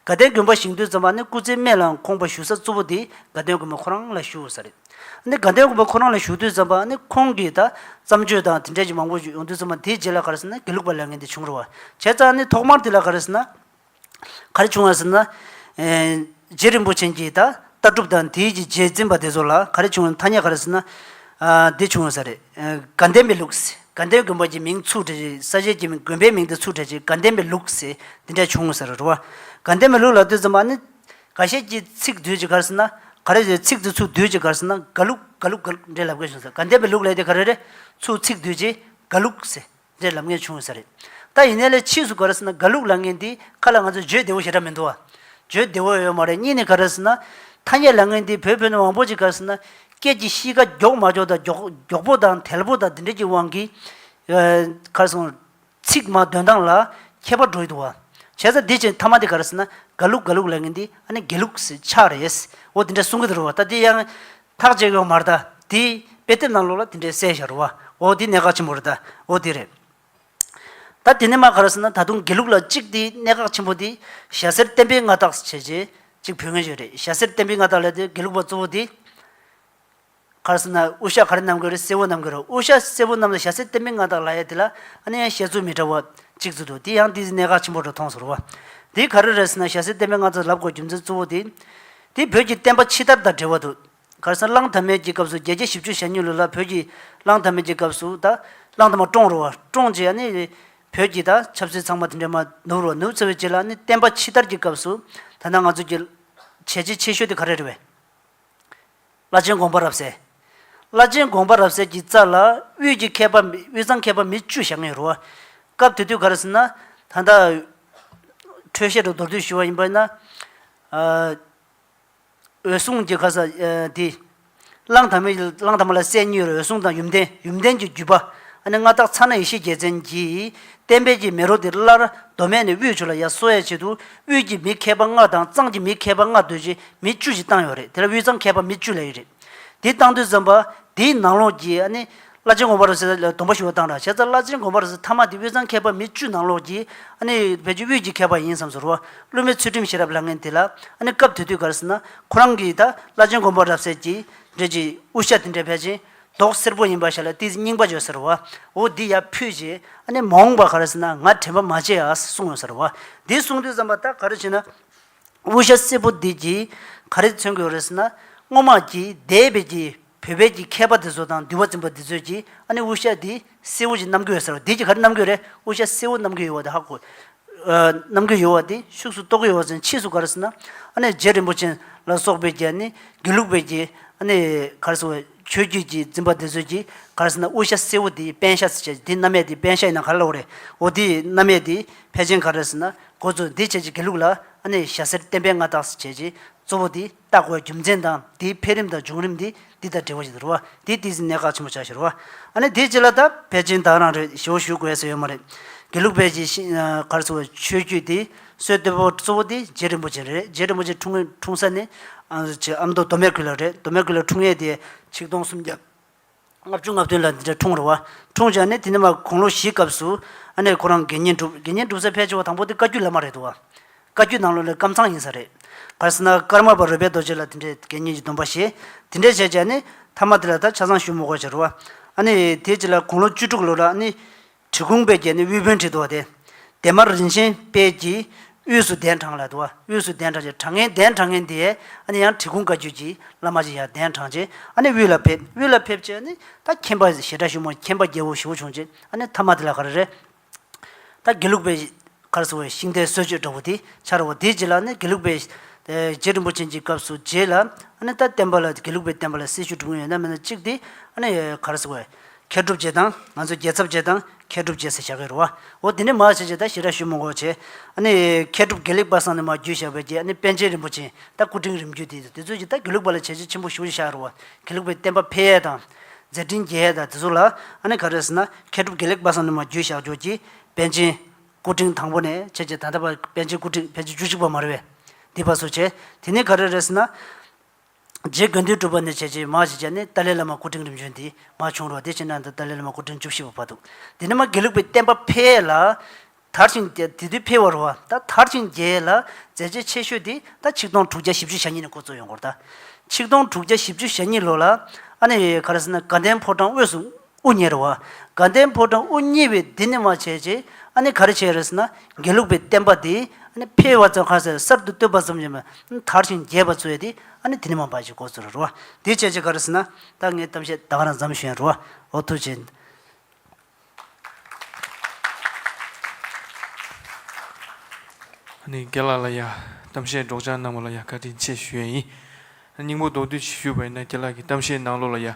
Speaker 2: དགའ་ལྡན་དགོན་པ་བཞེངས་དུས་བསམ་པ་ཨ་ནི་སྐུ་ཚེའི་སྨད་ལའང་ཁོང་པ་བཞུགས་ས་གཙོ་བོ་དེ་དགའ་ལྡན་དགོན་པ་ཁོ་རང་ལ་བཞུགས་ས་རེད། ཨ་ནི་དགའ་ལྡན་དགོན་པ་ཁོ་རང་ལ་བཞུགས་དུས་བསམ་པ་ཨ་ནི་ཁོང་གིས་ད། བརྩམས་ཆོས་དང་དེ་འདྲ་གྱི་མང་པོ་ཡོང་དུས་བསམ་པ་དེའི་རྗེས་ལ་ག་རེ་ཟེར་ན་དགེ་ལུགས་པ་ལས་ངན་དེ་བྱུང་རུང་བ། བྱས་ཙང་ཨ་ནི་ཐོག་མར་དེ་ལ་ག་རེ་ཟེར་ན། ག་རེ་བྱུང་བ་ཟེར་ན། རྗེ་རིན་པོ་ཆེན་གྱིས་ད་ལྟ་གྲུབ་དང་དེའི་རྗེས་འཛིན་པ་དེ་ཚོ་ལ་ག་རེ་བྱུང་བ་ཐ་སྙད་ག་རེ་ཟེར་ན། འདི་བྱུང་བ་ས་རེད། དགའ་ལྡན་པའི་ལུགས། དགའ་ལྡན་དགོན་པ་གྱི་མིང་ཚུགས་གྲས་ཀྱི་ས་གཞལ་གྱི་དགོན་པའི་མིང་དེ་ཚུགས་གྲས་ཀྱི་དགའ་ལྡན་པའི་ལུགས་ཟེར་འདི་འདྲ་བྱུང་ས་རེད་རོ། དགའ་ལྡན་པའི་ལུགས་ལ་དོན་ཟེར་མ་ནི། ག་ཤེད་ཀྱི་ཚིག་བསྡུས་ཀྱི་ག་རེ་ཟེར་ན། ག་རེ་ཟེར་ཚིག་དེ་ཚུགས་བསྡུས་ཀྱི་ག་རེ་ཟེར་ན་དགའ་ལུགས་དགའ་ལུགས་དགའ་ལུགས་འདྲའི་ལབ་དགོས་བྱུང་ས་རེད་དགའ་ལྡན་པའི་ལུགས་ལས་དེ་ག་རེ་རེད་ཚུགས་ཚིག་བསྡུས་ཀྱི་དགའ་ལུགས་ཟེར་འདྲའི་ལབ་ངེས་བྱུང་ཡོད་ས་རེད། ད་ཡིན་ནའི་ལས་ཕྱིས་སུ་ག་རེ་ཟེར་ན་དགའ་ལུགས་ལབ་ངེས་འདི་ཁ་ལ་ང་ཚོས་བརྗོད་བདེ་བོ་ཞེ་དྲག་མི་འདུག་ཨ། བརྗོད་བདེ་བོ་ཡོད་མ་རེད་གཉིས་ནི་ག་རེ་ཟེར་ན། ཐ་སྙད་ལབ་ངེས་འདི་བོད་ཕོ་ནི་བང་བོ་ཅིག་ག་རེ་ཟེར་ན། སྐད་ཀྱི་གཤིས་ཀ་མགྱོགས་མ་མགྱོགས་དང་མགྱོགས་མགྱོགས་པོ་དང་དལ་པོ་དང་འདི་འདྲའི་ཀྱི་དབང་གིས། ག་རེ་སོང། ཚིག་མ་འདོན་སྟངས་ལ་ཁྱད་པར་འགྲོ་ཡི་འདུག་ཨ། བྱས་ཙང་འདི་བྱས་ཐ་མ་འདི་ག་རེ་ཟེར་ན་དགའ་ལུགས་དགའ་ལུགས་ལབ་ངེས་འདི་ཨ་ནི་དགེ་ལུགས་ཆགས་རེད། འོ་འདི་འདྲ་གསུང་གི་འདུག་རོ། ད་འདི་ཡང། ཐག་བཅད་ཡོང་མར་ད་དེ་དཔེ་དེབ་ནང་ལོག་ལ་དེ་འདྲའི་གསལ་ཤར་བ་འོ་དེ་གནད་འགག་ཆེན་པོ་རེད་ད་འོ་དེ་རེད། ད་དེ་ནས་མ་ག་ར་ཟེར་ན་ད་དུང་དགེ་ལུགས་ལ་གཅིག་དེ་གནད་འགག་ཆེན་པོ་དེ་ཞྭ་སེར་བསྟན་པའི་མངའ་བདག་བྱས་རྗེས་གཅིག་བུད་ངན་ཞིག་རེད་ཞྭ་སེར་བསྟན་པའི་མངའ་བདག་ལས་དེ་དགེ་ལུགས་པ་གཙོ་བོ་དེ་ག་ར་ཟེར་ན་དབུ་ཞྭ་ག་རེ་གནང་གི་རེད་སེར་བོ་གནང་གི་རེད་དབུ་ཞྭ་སེར་བོ་གནང་ལ་ཞྭ་སེར་བསྟན་པའི་མངའ་བདག་ལ་ཡ་དེ་ལ་ཨ་ནེ་ཡང་བཤད་ཚུལ་མི་འདྲ་བ་གཅིག་བརྫུས་འདུག་དེ་ཡང་དེ་གནད་འགག་ཆེན་པོ་རུ་མཐོང་ཟེར་བ་དེ་ག་རེ་རེད་ཟེར་ན་ཞྭ་སེར་བསྟན་པའི་མངའ་བདག་ལབ་དགོས་རྒྱུ་མཚན་གཙོ་བོ་དེ་དེས་བོད་ཀྱི་བསྟན་པ་ཕྱི་དར་དང་འབྲེལ་བ་དུ། གར་སར་གླང་དར་མས་ཀྱི་སྐབས་སུ་རྒྱལ་གྱི་བཞི་བཅུ་ཞལ་སྙུན་ལུགས་ལ་བོད་ཀྱི་གླང་དར་མས་ཀྱི་སྐབས་སུ་ད། གླང་དར་མ་བཀྲོངས་རུ་བ་བཀྲོངས་ཀྱི་ནི། བོད་ཀྱི་ད་ཆབ་སྲིད་ཚང་མ་དེ་འདྲས་མ་ནུབ་རུ་བ་ནུབ་ཚེ་བའི་རྗེས་ལ་ནི་བསྟན་པ་ཕྱི་དར་གྱི་སྐབས་སུ། ད་ནང་ང་ཚོ་ཀྱི། བྱས་རྗེས་ཆེ་ཤོས་དེ་ག་རེ་རེད་བས། བླ་ཆེན་དགོངས་པ་རབ་གསལ། བླ་ཆེན་དགོངས་པ་རབ་གསལ་གྱི་རྩ་ལ་དབུས་ཀྱི་མཁས་པ་དབུས་གཙང་མཁས་པ་མི་བཅུ་ཞག་ལྔའི་རུ་བ། སྐབས་དེ་དུས་ག་རེ་ཟེར་ན། ད་ལྟ། འཕྲོད་བཞེས་དྲུག་མདོར་བསྡུས་ཞུ་བ་ཡིན་པ་ཡིན་ན། འོད་སྲུང་གྱི་ག་ས་དེ། གླང་དར་མའི་གླང་དར་མ་ལ་སྲས་གཉིས་རུ་འོད་སྲུང་དང་ཡུམ་བརྟན་ཡུམ་བརྟན་གྱི་བརྒྱུད་པ། ཨ་ནེ་མངའ་བདག་ཚ་ན་ཡེ་ཤེས་རྒྱལ་མཚན་གྱིས་བསྟན་དཔལ་གྱི་མེ་རོ་དེ་སླར་མདོ་སྨད་ནས་དབུས་ཆུ་ལ་ཡར་གསོ་ཡ་བྱེད་དུ་དབུས་ཀྱི་མི་མཁས་པ་ལྔ་དང་གཙང་གི་མི་མཁས་པ་ལྔ་སྡོད་ཀྱི་མི་བཅུ་ཞིག་བཏང་ཡོད་རེད་དེ་ལ་དབུས་གཙང་མཁས་པ་མི་བཅུ་ལས་ཡོད་རེད། འདི་བཏང་དུས་བརྩམས་པ་འདིའི་ནང་ལོགས་ཀྱི་ཨ་ནི་བླ་ཆེན་དགོངས་པ་རུ་སེ་ལ་སྡོམ་པ་ཞུ་བ་བཏང་དྲགས་བྱས་ཙང་བླ་ཆེན་དགོངས་པ་རུ་སེ་མཐའ་མ་དེ་དབུས་གཙང་མཁས་པ་མི་བཅུ་ནང་ལོགས་ཀྱི་ཨ་ནི་བོད་ཀྱི་དབུས་ཀྱི་མཁས་པ་ཡིན་བསམས་སུ་རུ་བ་བློན་མའི་ཚུལ་ཁྲིམས་ཤེས་རབ་ལྷ་ངན་དེ་ལ་ཨ་ནི་སྐབས་དེ་དུས་ག་རེ་ཟེར་ན་ཁོ་རང་གིས་ད་བླ་ཆེན་དགོངས་པ་རབ་གསལ་གྱིས་འགྲེལ་གྱི་དབུ་ཞྭ་དེ་འདྲས་བད་ཅིང་མདོག་སེར་པོ་ཡིན་པ་ཞིག་ལ་དེའི་རྙིང་པ་བརྗོད་ཟེར་རོ། འོ་དེ་ཡར་ཕུད་རྗེས་ཨ་ནེ་མོང་བ་ག་རེ་ཟེར་ན་ང་དྲན་པ་མ་བྱས་ཨ་གསུང་ངོ་ཟེར་རོ། དེ་གསུང་དུས་བསམ་པ་ད་ག་རེ་བྱས་ན། དབུ་ཞྭ་སེར་པོ་འདི་ཀྱིས་ག་རེ་མཚོན་དགོས་རེ་ཟེར་ན། སྔོན་མ་ཀྱི་སྡེ་དཔལ་གྱི་བུ་དཔལ་གྱི་མཁས་པ་དེ་ཚོ་དང་འདུལ་བ་འཛིན་པ་འདི་ཚོས་ཀྱིས་ཨ་ནེ་དབུ་ཞྭ་འདི་སེའུ་ཀྱི་རྣམ་གོས་ཟེར་བ་འདི་ཀྱི་ཁར་རྣམ་གོས་རེད་དབུ་ཞྭ་སེའུ་རྣམ་གོས་ཡོད་བ་དེ་ཧ་གོ། རྣམ་གོས་ཡོད་བ་དེ་ཤུགས་སུ་རྟོགས་གི་ཡོད་བ་ཟེར་ཕྱིས་སུ་ག་རེ་ཟེར་ན། ཨ་ནེ་རྗེ་རིན་པོ་ཆེན་ལ་སོགས་པས་ཀྱི་ནི་དགེ་ལུགས་པས་ཀྱི་ཨ་ནེ་ག་རེ་ཟེར་བ་ཆོས་བརྒྱུད་ཀྱི་འཛིན་པ་དེ་ཚོས་ཀྱི་ག་རེ་ཟེར་ན་དབུ་ཞྭ་སེའུ་དེ་པན་ཤ་ཟེར་བྱས་ཀྱི་དེ་རྣམ་མེད་དེ་པན་ཤ་ཡིན་ན་ག་རེ་ལ་འོ་རེད་འོ་དེ་རྣམ་མེད་དེ་ཕལ་ཆེན་ག་རེ་ཟེར་ན་གོ་ཚོད་འདི་བྱས་ཀྱི་དགེ་ལུགས་ལ་ཨ་ནེ་ཞྭ་སེར་བསྟན་པའི་མངའ་བདག་ཟེར་བྱས་ཀྱི་གཙོ་བོ་དེ། བརྟག་བའི་རྒྱུ་མཚན་དང་དེའི་འཕེལ་རིམ་དང་འབྱུང་རིམ་དེ་དེ་དང་འབྲེལ་བ་ཞིག་ཏུ་རུང་བ། དེའི་སྟེང་ཟིན་གནས་ག་ཆེན་པོ་བྱ་ཞིག་རུང་བ། ཨ་ནི་དེ་ཅི་ལ་ད་ཕལ་ཆེན་བདག་རང་རེད་ཞེའོ་ཞུ་དགོས་ས་ཡོད་མ་རེད། དགེ་ལུགས་བལ་གྱི་ཤིང་གར་སོགས་པའི་ཆོས་བརྒྱུད་དེའི་སྲོལ་གཏོད་པོ་གཙོ་བོ་དེ་རྗེ་རིན་པོ་ཆེ་རེད། རྗེ་རིན་པོ་ཆེ་འཁྲུངས་ངེས་འཁྲུངས་ས་ནི། ཨ་མདོ་མདོ་སྨད་ཁུལ་ལ་རེད་མདོ་སྨད་ཁུལ་ལ་འཁྲུངས་ཡས་དེ། ཆིག་སྟོང་སུམ་བརྒྱ་ལྔ་བཅུ་ལྔ་བདུན་ལ་འདི་འདྲ་འཁྲུངས་རེད་བ། འཁྲུངས་བྱས་ནས་དེ་ནས་མ་གུང་ལོ་བཞིའི་སྐབས་སུ། ཨ་ནེ་ཁོ་རང་དགེ་བསྙེན་བསྒྲུབས། དགེ་བསྙེན་བསྒྲུབས་ས་ཕལ་ཆེ་བ་དང་པོ་དེ་བཀའ་བརྒྱུད་བླ་མ་རེད་འདུག་བ། བཀའ་བརྒྱུད་ནང་ལོ་ལས་སྐམ་ཚང་ཡིན་ས་རེད། གར་སེར་ན་ཀར་མ་པ་རོལ་པའི་རྡོ་རྗེ་ལ་དེ་འདྲའི་དགེ་བསྙེན་གྱི་སྡོམ་པ་བཞེས། དེ་འདྲས་བྱས་བྱས་ནས། ཐ་མ་དེ་ལ་ད་ཆ་བཟང་ཞུ་མོ་གོ་བྱ་རུ་བ། ཨ་ནེ། དེའི་རྗེས་ལ་གུང་ལོ་བཅུ་དྲུག་ལོ་ལ་ཨ་ནེ། གྲི་གུང་པའི་རྒྱན་ནི་དབུལ་བོན་གྲི་དོ་སྟེ། དེ་དམར་རིན་ཆེན་དཔལ་གྱིས་དབུས་སུ་གདན་དྲངས་ལ་དུ་བ་དབུས་སུ་གདན་དྲངས་ཀྱི་དྲང་ངེས་གདན་དྲང་ངེས་འདི་ཨ་ནི་ཡང་གྲི་གུང་བཀའ་བརྒྱུད་ཀྱི་བླ་མ་ཅིག་ཡང་གདན་དྲངས་རྗེས་ཨ་ནི་དབུས་ལ་ཕེབས་དབུས་ལ་ཕེབས་རྗེས་ཨ་ནི་ད་མཁྱེན་པ་ཞེ་དྲག་བཞུགས་མོད་མཁྱེན་པ་རྒྱལ་པོ་བཞི་བོ་བྱུང་རྗེས་ཨ་ནི་ཐ་མ་དེ་ལ་ག་རེ་རེད། ད་དགེ་ལུགས་པའི། ཁར་སོང་བའི་ཤིང་རྟའི་སྲོལ་བཅོས་འདྲ་བོ་དེ་འཆར་བ་དེའི་རྗེས་ལ་ནི་དགེ་ལུགས་པའི། རྗེ་རིན་པོ་ཆེན་གྱི་སྐབས་སུ་རྗེ་ལ། རྟ་བསྟན་པ་ལ་དགེ་ལུགས་པའི་བསྟན་པ་ལ་སྲི་ཞུ་དྲུག་ཡོད་ན་མེད་ན་གཅིག་དེ། ཁར་སོང་བས། མཁས་གྲུབ་རྗེ་དང། ང་ཚོ་རྒྱལ་ཚབ་རྗེ་དང། མཁས་གྲུབ་རྗེ་ཟེར་བྱ་གི་རུ་བ། འོ་དེ་ནས་མར་བྱེད་བྱེད་ད་ཞི་ར་ཞུ་མོ་འགོ་བྱས། མཁས་གྲུབ་དགེ་ལེགས་པ་སང་ནས་མར་རྒྱུད་བཞག་པའི་རྗེས་པན་ཆེན་རིན་པོ་ཆེན་ད་སྐུ་ཕྲེང་རིམ་བརྒྱུད་དེ་ཚོས་ཀྱིས་ད་དགེ་ལུགས་པ་ལ་བྱས་རྗེས་ཆེན་པོ་ཞུ་བྱ་གི་རུ་བ། དགེ་ལུགས་པའི་བསྟན་པ་འཕེལ་ཡས་དང། མཛད་འཕྲིན་རྒྱས་ཡས་དང་དེ་ཚོ་ལ། ག་རེ་ཟེར་ན། མཁས་གྲུབ་དགེ་ལེགས་པ་སང་ནས་མར་རྒྱུད་བཞག་རྒྱུར་གྱིས། པཎ་ཆེན། སྐུ་ཕྲེང་དང་པོ་ནས་ཁྱེད་ཀྱིས་ད་ལྟ་བར་པཎ་ཆེན་སྐུ་ཕྲེང་བརྒྱད་ཅུ་བཅུ་གཅིག་པ་མ་རེད་བས། འདི་བར་སུ་བྱས། དེ་ནས་ག་རེ་རེད་ཟེར་ན། རྗེ་དགོན་འདུས་གྲུབ་པ་ནས་བྱས་རྗེས་མ་ཞིག་བྱས་ནས་ཏཱ་ལའི་བླ་མ་སྐུ་ཕྲེང་རིམ་བྱོན་འདི་མ་བྱུང་རོགས་དེ་ཕྱི་ནང་དུ་ཏཱ་ལའི་བླ་མ་སྐུ་ཕྲེང་བཅུ་བཞི་པ་བབས་འདུག་འདི་ནི་མ་དགེ་ལུགས་པའི་བསྟན་པ་འཕེལ་ལ། དར་ཞིང་རྒྱས་དེ་དུས་འཕེལ་བ་རུ་བ་ད་དར་ཞིང་རྒྱས་ལ་མཛད་རྗེས་ཆེ་ཤོས་དེ་ད་ཆིག་སྟོང་དྲུག་བརྒྱ་བཞི་བཅུ་ཞེ་གཉིས་ནས་འགོ་བཙུགས་ཡོང་སྐོར་ད། ཆིག་སྟོང་དྲུག་བརྒྱ་བཞི་བཅུ་ཞེ་གཉིས་ལོ་ལ། ཨ་ནེ། ག་རེ་ཟེར་ན་དགའ་ལྡན་ཕོ་བྲང་དབུས་སུ། དབུ་གཉེར་བ། དགའ་ལྡན་ཕོ་བྲང་དབུ་བརྙེས་པས་འདི་ནི་མ་བྱས་རྗེས་ཨ་ནི་ག་རེ་བྱས་རེད་ཟེར་ན་དགེ་ལུགས་པའི་བསྟན་པ་འདི་ཨ་ནི་ཕལ་བ་ཙམ་ཁ་ཟས་གསར་དུ་བཏོད་པ་ཙམ་ཡིན་པས་དར་ཞིང་རྒྱས་པ་ཚོས་དེ་ཨ་ནི་དེ་ནི་མ་འབའ་ཞིག་གོ་ཚུལ་རོ། འདི་བྱས་རྗེས་ག་རེ་ཟེར་ན་ད་ངའི་གཏམ་བཤད་དག་རང་བརྩམས་ཤེས་རོ། ཨོ་ཐུགས་རྗེ།
Speaker 1: ཨ་ནི་དགེ་ལགས་ལ་ཡང་གཏམ་བཤད་སྒྲོག་སྦྱང་གནང་བ་ལ་ཡང་བཀའ་དྲིན་ཆེ་ཞུ་ཡས་ཡིན། སྙིང་པོ་མདོར་བསྡུས་ཞུས་པ་ཡིན་ན་དགེ་ལགས་ཀྱི་གཏམ་བཤད་གནང་ལུགས་ལ་ཡང།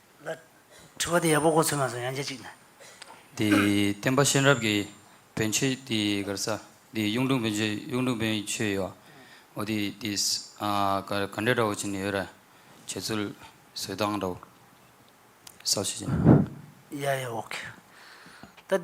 Speaker 2: ལ། དྲི་བ་འདི་ཡག་པོ་གོ་ཚོད་མ་སོང་ཡང་རྗེས་གཅིག་ན། དེ་བསྟན་
Speaker 3: པ་གཤེན་རབ་ཀྱི་བོན་ཆོས་དེ་གར་ས་དེ་གཡུང་དྲུང་བོན་ཆོས་གཡུང་དྲུང་བོན་ཆོས་ཡོད་འོ་དེ་དེ་ག་ག་འདྲ་འདྲ་བོ་བྱེད་ནི་ཡོད་ར་བྱེད་ཚུལ་བཟོད་སྟངས་འདྲ་བོ་ས་བྱེད་ཀྱི་ན།
Speaker 2: ཡ་ཡ་འོ་ཁེ། ད།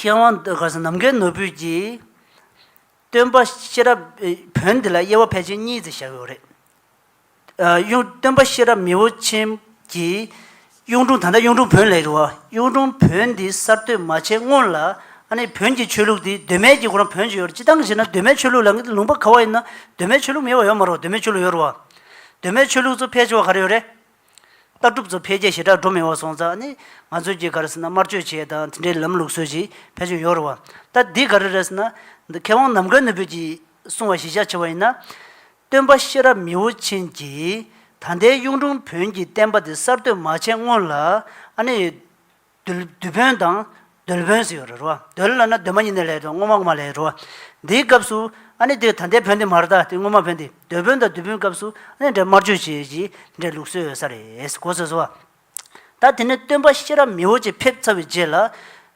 Speaker 2: མཁས་དབང་ཟློས་གར་ནམ་མཁའི་ནོར་བུས་ཀྱིས། སྟོན་པ་ཤེས་རབ་བོན་འདི་ལ་དབྱེ་བ་ཕལ་ཆེར་གཉིས་ཏེ་བཞག་ཡོད་རེད། གཡུང་སྟོན་པ་ཤེས་རབ་མི་བོ་ཆེན་གྱིས་གཡུང་དྲུང་ད་ལྟ་གཡུང་དྲུང་བོན་ལས་རིང་བ་གཡུང་དྲུང་བོན་འདི་གསར་གཏོད་མ་བྱས་སྔོན་ལ། ཨ་ནེ་བོན་གྱི་ཆོས་ལུགས་འདི་གདོད་མའི་དཀྱིལ་འཁོར་ན་བོན་ཅི་ཡོད་རེད་ཅི་སྟངས་ཞེ་ན་གདོད་མའི་ཆོས་ལུགས་ལ་ངེད་ལུང་པ་ག་བ་ཡིན་ན་གདོད་མའི་ཆོས་ལུགས་མེད་པ་ཡོད་མ་རུང་བ་གདོད་མའི་ཆོས་ལུགས་ཡོད་རུང་བ། གདོད་མའི་ཆོས་ལུགས་ཚོ་ཕལ་ཆེ་བ་ག་རེ་ཡོད་རེད། ལྟ་གྲུབ་ཚོ་འཕེལ་རྒྱས་ཞེ་དྲག་འགྲོ་མི་འོང་སོང་ཙང་ནི་ང་ཚོས་ཀྱི་ག་རེ་ཟེར་ན་དམར་མཆོད་བྱས་དང་དེ་འདྲའི་ལམ་ལུགས་སྲོལ་ཞིག་ཕལ་ཆེར་ཡོད་རུང་བ། ད་འདི་ག་རེ་རེད་ཟེར་ན། འདི་མཁས་དབང་ནམ་མཁའ་ནུས་བོད་ཀྱིས་གསུང་བ་གཞི་བཞག་ཆེ་བ་ཡིན་ན། སྟོན་པ་ཤེས་རབ་མི་བོ་ཆེན་གྱིས་ད་ལྟའི་གཡུང་དྲུང་བོན་གྱི་བསྟན་པ་འདི་གསར་གཏོད་མ་བྱས་སྔོན་ལ། ཨ་ནེ། རྡུལ། རྡུལ་བོན་དང། རྡུལ་བོན་ཟེར་བ་རེད་རོ། རྡུལ་ལ་ན་རྡུལ་མ་ཉིད་ནས་ལས་དང་སྔོ་མ་སྔོ་མ་ལས་རོ། འདིའི་སྐབས་སུ། ཨ་ནི་དེ་ད་ལྟའི་བོན་དེ་མ་རེད་ད་དེ་སྔོན་མ་བོན་དེ། རྡུལ་བོན་དང་རྡུལ་བོན་སྐབས་སུ་ཨ་ནི་འདྲེ་དམར་གཅོད་བྱེད་ཀྱི་འདྲེ་ལུགས་སྲོལ་ཡོད་ས་རེད་གོ་ཟེར་སོ། ད་དེ་ནས་སྟོན་པ་ཤེས་རབ་མིའོ་ཅེས་ཕེབས་ཚར་བའི་རྗེས་ལ།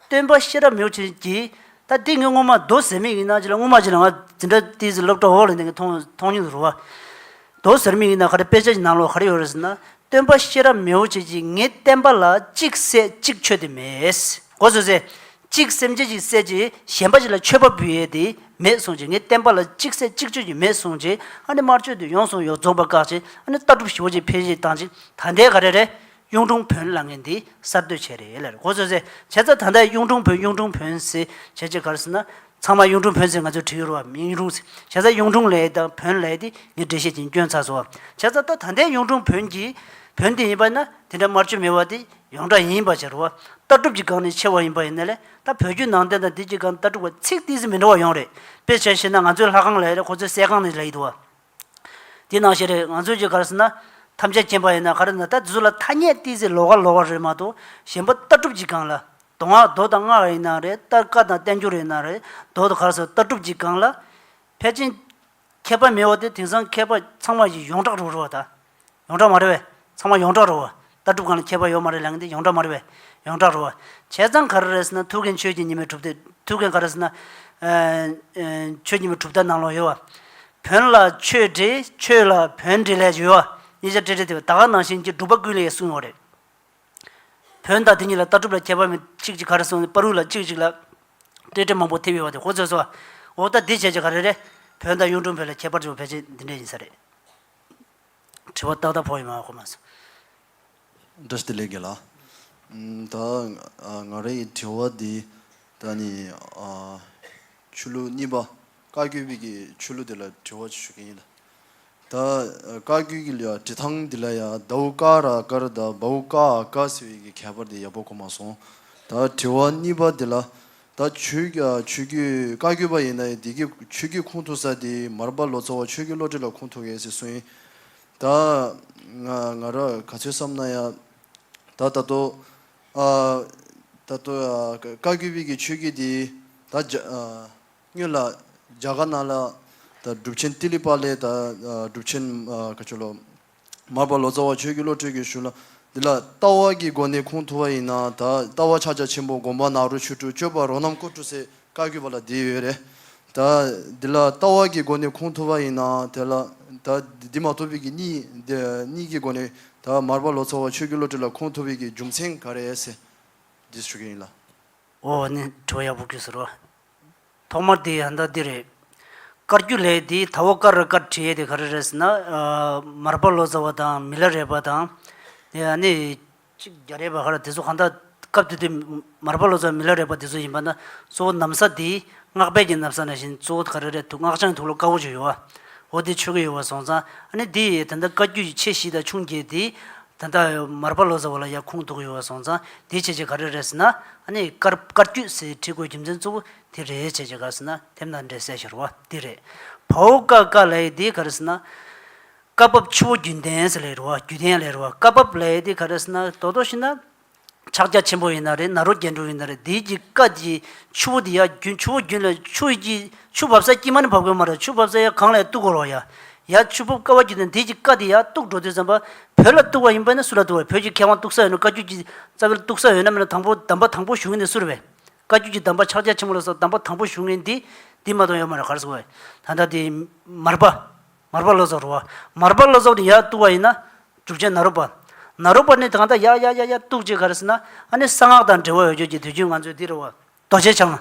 Speaker 2: སྟོན་པ་ཤེས་རབ་མིའོ་ཆེན་གྱིས། ད་འདི་ངའི་སྔོན་མ་རྡོ་ཟེ་མིག་ཡིན་ན་ཅི་ལ་སྔོན་མ་ཅི་ལ་ང་འཛིན་གྲྭ་དེའི་ཟིན་སློབ་གྲྭ་འོག་ལ་འདི་ངས་མཐོང་མཐོང་མྱོང་དུ་རུ་བ། དོ་ཟེར་མི་ཡིན་ན་ག་རེ་དཔེ་ཆ་ཞིག་ནང་ལོགས་ག་རེ་ཡོད་རེད་ཟེར་ན། སྟོན་པ་ཤེས་རབ་མེའོ་བྱེད་ཀྱིས་ངས་བསྟན་པ་ལ་གཅིག་བསད་གཅིག་མཆོད་དེ་མེད། གོ་ཟོས་ཟེར། གཅིག་སེམས་ཅན་ཞིག་བསད་རྗེས་གཞན་པ་ཞིག་ལ་མཆོད་པ་འབུལ་ཡས་དེ་མེད་གསུངས་རྗེས་ངས་བསྟན་པ་ལ་གཅིག་བསད་གཅིག་མཆོད་ཀྱི་མེད་གསུངས་རྗེས་ཨ་ནི་དམར་མཆོད་དེ་ཡོང་སོང་ཡོག་རྫོགས་པ་བཀག་རྗེས་ཨ་ནི་ལྟ་གྲུབ་ཞི་བོ་ཅིག་འཕེལ་རྒྱས་བཏང་རྗེས་ད་ལྟའི་ག་རེ་རེད། གཡུང་དྲུང་བོན་ལ་ངས་འདི་གསར་གཏོད་བྱས་རེད་ལ་རེད་གོ་ཟོས་ཟེར། བྱས་ཙང་ད་ལྟའི་གཡུང་དྲུང་བོན་གཡུང་དྲུང་བོན་ཟེར་བྱས་རྗེས་ག་རེ་ཟེར་ན། ཚང་མ་གཡུང་དྲུང་བོན་ཟེར་ང་ཚོའི་བྲིས་ཡོད་རུང་བ་མིན་གཡུང་དྲུང་ཟེར་བྱས་ཙང་གཡུང་དྲུང་ལས་དང་བོན་ལས་དེ་ངས་འགྲེལ་བཤད་བྱེད་སྐྱོན་ཚ་སོང་བ་བྱས་ཙང་ད་ད་ལྟའི་གཡུང་དྲུང་བོན་གྱི་བོན་དེ་ཡིན་པ་ན་དེ་འདྲ་དམར་མཆོད་མེད་བ་དེ་ཡོངས་གྲགས་ཡིན་པ་བྱས་རུང་བ་ལྟ་གྲུབ་ཀྱི་སྒང་ནས་ཕྱེ་བ་ཡིན་པ་ཡིན་ན་ལས་ད་བོད་བརྒྱུད་ནང་བསྟན་དང་འདི་གྱི་སྒང་ལྟ་གྲུབ་ཀ་ཚིག་ཏིག་ཟིག་མི་འདྲ་བ་ཡོང་རེད་དཔེ་བྱས་ཤེ་ན་ང་ཚོའི་ལྷ་ཁང་ལས་ཀྱི་ཁོ་ཚོའི་གསས་ཁང་ནས་ལས་ཡོད་དོ་བ། དེ་ནང་བཞིན་རེད། ང་ཚོས་ཀྱི་ག་རེ་ཟེར་ན། ཐམས་ཅད་མཁྱེན་པ་ཡིན་ན་ག་རེ་ཟེར་ན་ད་གཟུགས་ལ་ཐ་སྙད་གཏིང་གཟིགས་ལོག་ག་ལོག་བ་རེད་མ་གཏོགས་གཞན་པ་ལྟ་གྲུབ་ཀྱི་སྒང་ལ། མདོ་སྔགས་མདོ་དང་སྔགས་ཡིན་ན་རེད་ལྟ་བཀའ་དང་བསྟན་འགྱུར་ཡིན་ན་རེད་མདོ་དང་ག་རེ་ཟེར་ལྟ་གྲུབ་ཀྱི་སྒང་ལ། ཕལ་ཆེན། མཁས་པ་མི་འོ་དེ་དེང་སང་མཁས་པ་ཚང་མ་ཡི་ཡོངས་གྲགས་རུ་རུ་བ་ད། ཡོངས་གྲགས་མ་རེད་བས། ཚང་མ་ཡོངས་གྲགས་རོ། ལྟ་གྲུབ་གང་ལ་ཁྱད་པར་ཡོད་མ་རེད་ལན་གིན་དེ་ཡོངས་གྲགས་མ་རེད་བས། ཡོངས་གྲགས་རོ། བྱས་ཙང་ག་རེ་རེད་ཟེར་ན་ཐུགས་མཁན་ཆོས་ཀྱི་ཉི་མས་གྲུབ་སྟེ། ཐུགས་མཁན་ག་རེ་ཟེར་ན། ཆོས་ཉི་མས་གྲུབ་སྟེ་ནང་ལོགས་ཡོད་བ། བོན་ལ་ཆོས་འདྲེ་ཆོས་ལ་བོན་འདྲེ་ལས་ཡོད་བ། གཉིས་ཆ་འདྲེ་འདྲེ་དེ་བས་ད་ག་ནང་བཞིན་གྱི་སྒྲུབ་པ་ཀུན་ལས་ཡེ་གསུངས་ཡོད་རེད། བོན་དང་དེ་གཉིས་ལ་ལྟ་གྲུབ་ལ་ཁྱད་པར་མེད་གཅིག་གཅིག་ག་རེ་གསུངས་པར་རུས་ལ་གཅིག་གཅིག་ལ། འདྲེ་འདྲེ་མང་པོ་ཐེབས་ཡོད་བ་དེ་ཧོ་ཚོད་སོ། འོ་ད་དེ་བྱས་ཀྱི་ག་རེ་རེད། བོན་དང་གཡུང་དྲུང་བོན་ལ་ཁྱད་པར་ཅི་བ་ཕལ་ཆེར་འདི་འདྲས་ཡིན་ས་རེད། དྲི་བ་ཏག་ཏག་ཕོག་ཡོད་མ་རེད་ཁོ་མ་སོང།
Speaker 4: Just delete དགོས་ལ། ད་ང་རེ་ཡི་དྲི་བ་འདི་ད་ནི་ཆོས་ལུགས་གཉིས་པ་བཀའ་བརྒྱུད་བི་གི་ཆོས་ལུགས་འདི་ལ་དྲི་བ་ཞུ་གི་ཡིན་ལ། ད་བཀའ་བརྒྱུད་གི་ལ་དྲི་ཐང་འདི་ལ་ཡ་ད་ཝུ་ཀ་ར་ཀ་ར་ད་བ་ཝུ་ཀ་ཨ་ཀ་ཟེར་བི་གི་ཁྱད་པར་འདི་ཡག་པོ་གོ་མ་སོང། ད་དྲི་བ་གཉིས་པ་འདི་ལ་ད་ཆོས་རྒྱུད་བཀའ་བརྒྱུད་པ་ཡིན་ན་ཡང་འདི་གི་ཆོས་བརྒྱུད་ཁུངས་ཐུབ་ས་དེ་མར་པ་ལོ་ཙཱ་བ་ཆོས་རྒྱུད་བློ་གྲོས་ལ་ཁུངས་ཐུབ་ངེས་ཟེར་སྲོལ་ཡིན། ད་ང་ར་ག་ཚོད་བསམ་ན་ཡང་ད་ད་དུ་ད་ད་དུ་བཀའ་བརྒྱུད་བི་གི་ཆོས་བརྒྱུད་དེ་ད་སྨྱོན་ལ་རྒྱ་དགའ་ན་ལ་ད་སྒྲུབ་ཆེན་ཏི་ལི་པ་ལའི་ད་སྒྲུབ་ཆེན་ག་ཆོ་ལོ། མར་པ་ལོ་ཙཱ་བ་ཆོས་ཀྱི་བློ་གྲོས་ཀྱིས་ཞུ་ལ། འདི་ལ་ལྟ་བ་གྱི་སྒོ་ནས་ཁུངས་ཐུབ་པ་ཡིན་ན་ད་ལྟ་བ་ཕྱག་རྒྱ་ཆེན་པོ་དགོངས་པ་ནག་རུ་ཆུ་དྲུག་སྤྱོད་པ་རོ་རྣམས་ཀོ་གྲུ་སེ་ཀ་བརྒྱུད་པ་ལ་འདི་ཡོད་རེད། ད་འདི་ལ་ལྟ་བ་གྱི་སྒོ་ནས་ཁུངས་ཐུབ་པ་ཡིན་ན་དེ་ལ་ད་འདི་མ་ཐུབ་བི་གི་གཉིས་ཀྱི་སྒོ་ནས་ད་མར་པ་ལོ་ཙཱ་བ་ཆོས་ཀྱི་བློ་གྲོས་ལ་ཁུངས་ཐུབ་བི་གི་རྒྱུ་མཚན་ག་རེ་ཨེ་སེ། འདི་ཞུ་གི་ཡིན་ལ། འོ་
Speaker 2: ནི་གྲོ་ཡག་པོ་གུས་སུ་རོ། ཐོག་མར་དེ་ཡང་ད་འདི་རེད། སྐར་རྒྱུ་ལས་འདི་ད་བོ་ཀ་ར་ཀར་བྲིས་ཡས་དེ་ག་རེ་རེད་ཟེར་ན། མར་པ་ལོ་ཙཱ་བ་དང་མི་ལ་རས་པ་དང། དེ་ཡང་ནི། གཅིག་རྒྱ་རས་པ་ཧ་ར་དེ་ཚོ་གང་དག་སྐབས་དེ་དུས་མར་པ་ལོ་ཙཱ་བ་མི་ལ་རས་པ་དེ་ཚོ་ཡིན་པ་ན་གཙོ་བོ་གནམ་ས་འདི་སྔགས་དཔལ་གྱི་གནམ་ས་ན་བཞིན་གཙོ་བོ་ག་རེ་རེད་འདུག་སྔགས་འཆང་ཐུགས་ལོ་དཀར་བོ་ཅིག་ཡོད། འོ་དེ་ཆོས་གོས་ཡོད་བ་སོང་ཙང་ཨ་ནི་འདི་ཡས་ད་ནི་བཀའ་རྒྱུད་ཆེ་བཞི་དང་ཆུང་བརྒྱད་འདི། ད་ལྟ་མར་པ་ལོ་ཙཱ་བ་ལ་ཡང་ཁུངས་གཏུགས་ཡོད་བ་སོང་ཙང་དེའི་བྱས་རྗེས་ག་རེ་རེད་ཟེར་ན། ཨ་ནི་དཀར་དཀར་བསྐྱུད་ཟེར་བྲིས་དགོས་རྒྱུ་མཚན་གཙོ་བོ་དེ་རེད་བྱས་རྗེས་ག་ཟེར་ན་དེབ་ནང་འགྲེལ་གསལ་ཤོར་བ་དེ་རེད། བྷའུ་ཀ་ཀ་ལའི་དེ་ག་རེ་ཟེར་ན། བཀའ་བབས་ཆུ་བོ་རྒྱུན་ལྡན་ཟེར་ལས་རོ་བ་རྒྱུ་ལྡན་ལས་རོ་བ་བཀའ་བབས་ལའི་དེ་ག་རེ་ཟེར་ན་དོ་དོ་ཤི་ན། ཕྱག་རྒྱ་ཆེན་པོ་ཡིན་ན་རེད་ནཱ་རོ་རྒྱལ་འགྲོ་ཡིན་ན་རེད་དེའི་གྱི་ཀ་དེའི་ཆུ་བོ་དེ་ཡ་རྒྱུན་ཆུ་བོ་རྒྱུན་ལ་ཆུ་ཡི་གྱི་ཆུ་བབས་ས་དཀྱིལ་མ་ནི་བབས་དགོས་མ་རེད་ཆུ་བབས་ས་ཡ་གང་ལ་ཡ་གཏུག་གོར་བ་ཡ། ཡ་ཆུ་བབས་ཀ་བ་རྒྱུན་ལ་དེའི་གྱི་ཀ་དེ་ཡ་གཏུག་འགྲོ་དུས་བསམ་པ། བོད་ལ་གཏུག་བ་ཡིན་པ་ནི་སུ་ལ་གཏུག་བ་བོད་ཀྱི་མཁས་དབང་གཏུག་ས་ཡོད་ན་བཀའ་བརྒྱུད་ཀྱི་རྩ་བའི་གཏུག་ས་ཡོད་ན་མེད་ན་དང་པོ་གདམས་པ་དང་པོ་ཞུ་ངེས་འདི་སུ་རེད་བས། བཀའ་བརྒྱུད་ཀྱི་གདམས་པ་ཕྱག་རྒྱ་ཆེན་པོ་ལ་སོགས་གདམས་པ་དང་པོ་ཞུ་ངེས་འདི་འདི་མ་གཏོགས་ཡོད་མ་རེད་གར་སོང་བས། ད་ལྟ་དེ་མར་པ། མར་པ་བློ་རྫོགས་རུ་བ། མར་པ་བློ་རྫོགས་ནི་ཡར་གཏུགས་བ་ཡིན་ན། དྲུག་ཅན་ནཱ་རོ་པ། ནཱ་རོ་པ་ནི་གང་ལྟར་ཡར་ཡར་ཡར་ཡར་གཏུགས་ཅེས་ག་རེ་ཟེར་ན། ཨ་ནི་གསང་སྔགས་དང་འབྲེལ་བ་འོད་གྱུར་གྱི་དུས་རྒྱུན་ང་ཚོས་འདི་རུ། རྡོ་རྗེ་འཆང།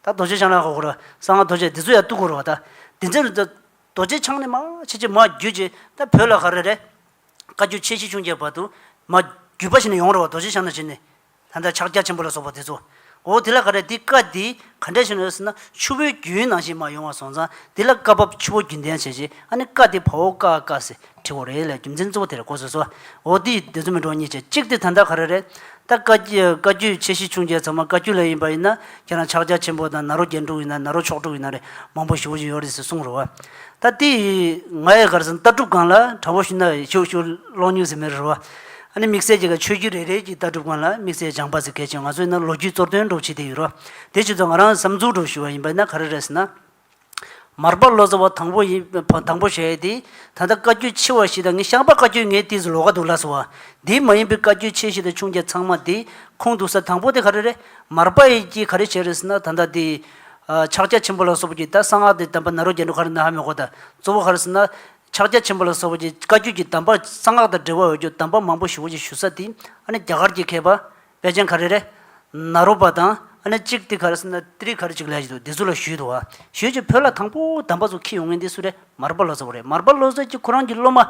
Speaker 2: ད་རྡོ་རྗེ་འཆང་ལ་གོ་རུ། གསང་སྔགས་རྡོ་རྗེ་འདི་ཚོ་ཡར་གཏུགས་གོ་རུ་བ་ད། དེ་ཚེ་རུ། རྡོ་རྗེ་འཆང་ནི་མ་ཕྱི་ཆེ་མ་རྒྱུད་ཅེས་ད་བོད་ལ་ག་རེ་རེད། བཀའ་རྒྱུད་ཆེ་བཞི་ཆུང་བརྒྱད་བར་དུ། མ་རྒྱུད་པ་ཞིག་ནས་ཡོང་རུ་བ་རྡོ་རྗེ་འཆང་ནི་བྱས་ནས། ད་ལྟ་ཕྱག་རྒྱ་ཆེན་པོ་ལ་སོགས་པ་དེ་ཚོ། འོ་དེ་ལ་ག་རེ་འདི་བཀའ་འདི་ག་འདྲས་བྱུང་ན་ཟེར་ན་ཆུ་བོའི་རྒྱུན་ནང་བཞིན་མ་ཡོང་བ་སོང་ཙང་འདི་ལ་བཀའ་བབས་ཆུ་བོ་རྒྱུན་ལྡན་བྱས་རྗེས་ཨ་ནི་བཀའ་འདི་བ་བོ་བཀའ་བཀའ་ཟེར་བྲིས་འོ་རེད་ལས་རྒྱུ་མཚན་གཙོ་བོ་དེ་རེད་གོ་ཟེར་སོ། འོ་འདི་ཡིས་འདི་ཚོ་མི་འགྲོ་གཉིས་བྱས་གཅིག་དེ་ད་ལྟ་ག་རེ་རེད། ད་བཀའ་བཀའ་རྒྱུད་ཆེ་བཞི་ཆུང་བརྒྱད་ཚང་མ་བཀའ་རྒྱུད་ལས་ཡིན་པ་ཡིན་ན་ཁྱེད་རང་ཕྱག་རྒྱ་ཆེན་པོ་དང་ནཱ་རོ་རྒྱན་དྲུག་ཡིན་ན་ནཱ་རོ་མཆོག་དྲུག་ཡིན་ན་རེ་མང་པོ་ཞུ་བཞིན་ཡོད་རེད་ཟེར་གསུངས་རོ། ད་འདི་ཡིས་ང་ཡི་གར་སོང་ལྟ་གྲུབ་སྒང་ལ་དྲ་བོ་ཞུ་ན་ཞུ་ཞུ་ཀློག་ཉུང་ཟེར་མེད་རེ་རོ། ཨ་ནི་དམིགས་བསལ་གྱི་ཆོས་བརྒྱུད་རེ་རེ་ཀྱི་ལྟ་གྲུབ་ཁང་ལ་དམིགས་བསལ་སྦྱང་པ་ཟེར་གལ་ཆེ་ང་ཚོས་ན་ལོ་རྒྱུས་གཙོར་སྟོན་སྒྲོག་བྱེད་དེ་ཡིན་རོ། དེ་བཞིན་དུ་ང་རང་བསམ་ཚུལ་སྒྲོག་ཞུ་བ་ཡིན་པ་ན་ག་རེ་རེད་ཟེར་ན། མར་པ་ལོ་ཙཱ་བ་དང་པོ་ཡིན་དང་པོ་ཞེས་དེ་ད་ལྟ་བཀའ་བརྒྱུད་ཆེ་བ་ཞིག་དང་ངས་ཤངས་པ་བཀའ་བརྒྱུད་ངའི་ལྟིས་སུ་ལོག་ག་འདུག་ལགས་སོ། དེ་མ་ཡིན་པའི་བཀའ་བརྒྱུད་ཆེ་ཞིག་དང་ཆུང་བརྒྱ་ཚང་མ་དེ་ཁུངས་འདུག་ས་དང་པོ་དེ་ག་རེ་རེད། མར་པ་ཡིས་ཀྱིས་ག་རེ་བྱས་རེད་ཟེར་ན་ད་ལྟ་དེ། ཕྱག་རྒྱ་ཆེན་པོ་ལ་སོགས་པ་ཀྱིས་ད་གསང་སྔགས་དེ་དམ་པ་ནཱ་རོ་རྒྱལ་འགྲོ་ག་རེ་ན་ཧ་མི་གོ་ད་གཙོ་བོ་ག་རེ་ཟེར་ན། ཕྱག་རྒྱ་ཆེན་པོ་ལ་སོགས་པ་ཀྱི་བཀའ་རྒྱུད་ཀྱི་གདམས་པ་གསང་སྔགས་དང་འབྲེལ་བ་འོད་འགྱུ་གདམས་པ་མང་པོ་ཞུ་བ་ཅིག་ཞུ་ས་དེ་ནི་རྒྱ་གར་གྱི་མཁས་པ་དཔལ་ཆེན་གྷ་རེ་རེ། ན་རོ་པ་དང་གཅིག་ཏི་གྷར་ཏི་རི་གྷར་ཅིག་ལས་ཀྱིས་འདི་སུ་ལ་ཞུས་དུ་བ་ཞུས་ཀྱིས་བོད་ལ་དང་པོ་གདམས་པ་ཚོ་ཁྱི་ཡོང་ངེས་འདི་སུ་རེད་མར་པ་ལོ་ཙཱ་བ་རེད་མར་པ་ལོ་ཙཱ་ཀྱིས་ཁོ་རང་གི་སློབ་མ་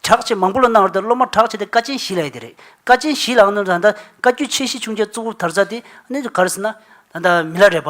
Speaker 2: གྲགས་ཆེ་མང་པོ་ལ་གནང་བར་དེར་སློབ་མ་གྲགས་ཆེ་དེ་ཀ་ཆེན་བཞི་ལས་དེ་རེད་ཀ་ཆེན་བཞི་ལ་ཨ་ནུ་ད་ལྟ་བཀའ་རྒྱུད་ཆེ་བཞི་ཆུང་བརྒྱད་གཙོ་བོ་དར་ཚ་དེ་ནི་གྷར་སི་ན་ད་ལྟ་མི་ལ་རས་པ་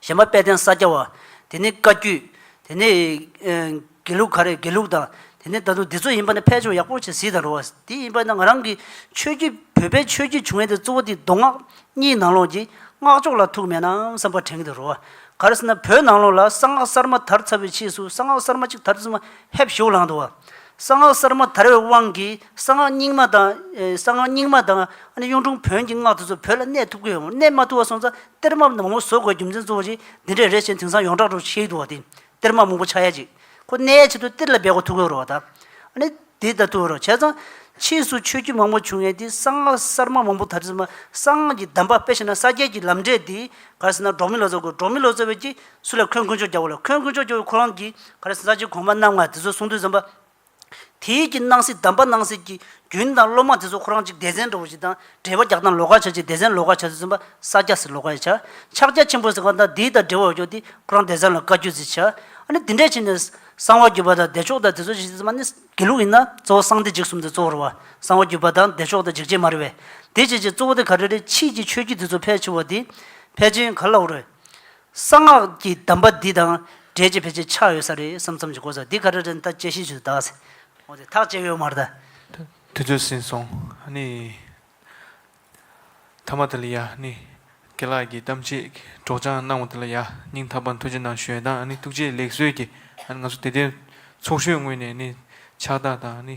Speaker 2: གཞན་པ་དཔལ་ལྡན་ས་སྐྱ་བ། དེ་ནི་བཀའ་བརྒྱུད། དེ་ནི། དགེ་ལུགས་ག་རེ་དགེ་ལུགས་དང། དེ་ནི་ད་དུང་འདི་ཚོ་ཡིན་པ་ནི་ཕལ་ཆེ་བ་ཡག་པོ་བྱེད་སྲིད་དང་རུང་བ། དེ་ཡིན་པ་ན་ང་རང་གིས་ཆོས་བརྒྱུད་བོད་པའི་ཆོས་བརྒྱུད་བྱུང་ཡས་དེ་གཙོ་བོ་དེ་མདོ་སྔགས་གཉིས་ནང་ལོགས་ཀྱི་སྔགས་ཕྱོགས་ལ་ཐུག་མེད་ནམ་བསམ་པ་དྲན་གི་དང་རུང་བ། ག་རེ་ཟེར་ན་བོད་ནང་ལོགས་ལ་གསང་སྔགས་གསར་མ་དར་ཚར་བའི་ཕྱིས་སུ་གསང་སྔགས་གསར་མ་གཅིག་དར་ཚུལ་མ་ཧེབ་ཞོག་ལངས་འདུག་བ། གསང་སྔགས་གསར་མ་དར་བའི་དབང་གིས་གསང་སྔགས་རྙིང་མ་དང། གསང་སྔགས་རྙིང་མ་དང་ཨ་ནི་གཡུང་དྲུང་བོན་གྱི་སྔགས་དེ་ཚོ་བོད་ལ་གནས་ཐུབ་ཀི་ཡོད་མོད་གནས་མ་ཐུབ་བ་སོང་ཙང་གཏེར་མ་མང་པོ་བཟོ་དགོས་རྒྱུ་མཚན་གཙོ་བོ་གཅིག་འདི་འདྲས་རེད་ཞེས་དེང་སང་ཡོངས་གྲགས་འགྲོ་ཤེས་ཡོད་དུ་བ་དེ། གཏེར་མ་མང་པོ་ཆགས་ཡ་ཅིག། ཁོ་གནས་ཡ་ཆེད་དུ་གཏེར་ལ་འབད་དགོས་ཐུག་གི་རོ། ད་ནི་དེ་ལྟ་ཐུག་རོ་བྱས་ཙང། ཕྱིས་སུ་ཆོས་བརྒྱུད་མང་པོ་བྱུང་ཡས་དེ་གསང་སྔགས་གསར་མ་མང་པོ་དར་ཚུལ་མ། གསང་སྔགས་ཀྱི་གདམས་པ་དཔེ་བྱས་ན་ས་སྐྱའི་གྱི་ལམ་འབྲས་དེ། ག་རེ་ཟེར་ན་འབྲོག་མི་ལོ་ཙཱ་དགོས་འབྲོག་མི་ལོ་ཙཱ་བས་ཀྱིས་སུ་ལ་ཁོན་དཀོན་མཆོག་རྒྱབ་བོ་ལ་ཁོན་དཀོན་མཆོག་རྒྱབ་བོ་ཁོ་རང་གིས་ག་རེ་ཟེར་ས་སྐྱའི་གོང་མ་རྣམ་ལྔ་དེ་ཚོ་གསུང་དུས་ཟམ་པ། དེ་ཡིད་ཀྱིས་སྣང་སྲིད་གདམས་པ་གནང་སྲིད་ཀྱི་རྒྱུན་དང་སློབ་མ་དེ་ཚོ་ཁོ་རང་ཅིག་སྡེ་ཚན་འགྲོ་བ་ཞིག་དང་འབྲེལ་བ་རྒྱག་དང་ལོ་ག་ཆ་ཅིག་སྡེ་ཚན་ལོ་ག་ཆ་ཟིག་བཙུན་པ་ས་སྐྱ་ཟིག་ལོ་ག་ཡི་ཆ། ཕྱག་རྒྱ་ཆེན་པོ་ཟིག་གང་དང་དེའི་དང་འབྲེལ་བ་རྒྱོག་དེ་ཁོ་རང་སྡེ་ཚན་ལོ་ག་བརྒྱུད་ཟིག་ཆ། ཨ་ནི་དེ་འདྲས་བྱས་ནས་གསང་བ་བརྒྱུད་པ་དང་བདེ་མཆོག་དང་དེ་ཚོ་ཞིག་ཟིག་ཙམ་ཨ་ནི་དགེ་ལུགས་ཡིན་ན་གཙོ་བོ་གསང་བདེ་འཇིགས་གསུམ་དེ་གཙོ་བོར་བ་གསང་བ་བརྒྱུད་པ་དང་བདེ་མཆོག་དང་འཇིགས་བྱེད་མ་རེད་བས། དེ་བྱས་བྱས་གཙོ་བོ་དེ་ག་རེ་རེད་ཕྱིས་ཀྱི་ཆོས་བརྒྱུད་དེ་ཚོ་ཕལ་ཆེ་བ་དེ། ཕལ་ཆེན་ག་ལ་འོ་རེད། གསང་སྔགས་ཀྱི་གདམས་པ་འདི་དང་འབྲེལ་གྱི་ཕལ་ཆེར་ཆགས་ཡོད་ས་རེད་བསམ་བསམ་གྱི་གོ་ས་འདི་ག་རེ་རེད་ད་དཔྱད་གཞི་ཞིག་ཏུ་གདགས་ཟེར། འོ་དེ་ཐག་བཅད་ཡོད་མ་རེད། དུས་ཚོད་ཟིན་
Speaker 1: སོང། ནི། ཐ་མ་དེ་ལ་ཡ། ནི། དགེ་ལགས་ཀྱིས་གཏམ་བྱེད་སྒྲོག་སྦྱང་གནང་བ་དེ་ལ་ཡ། སྙིང་ཐག་པ་འཐུ་ཅི་གནང་ཞོལ་དང་ནི་ཐུགས་རྗེ་ལེགས་གསོལ་གྱིས་ནི་ང་ཚོ་དེ་ལྟའི་ཚོགས་ཤོས་དངོས་ནས་ནི་ཕྱག་རྟགས་དང་ནི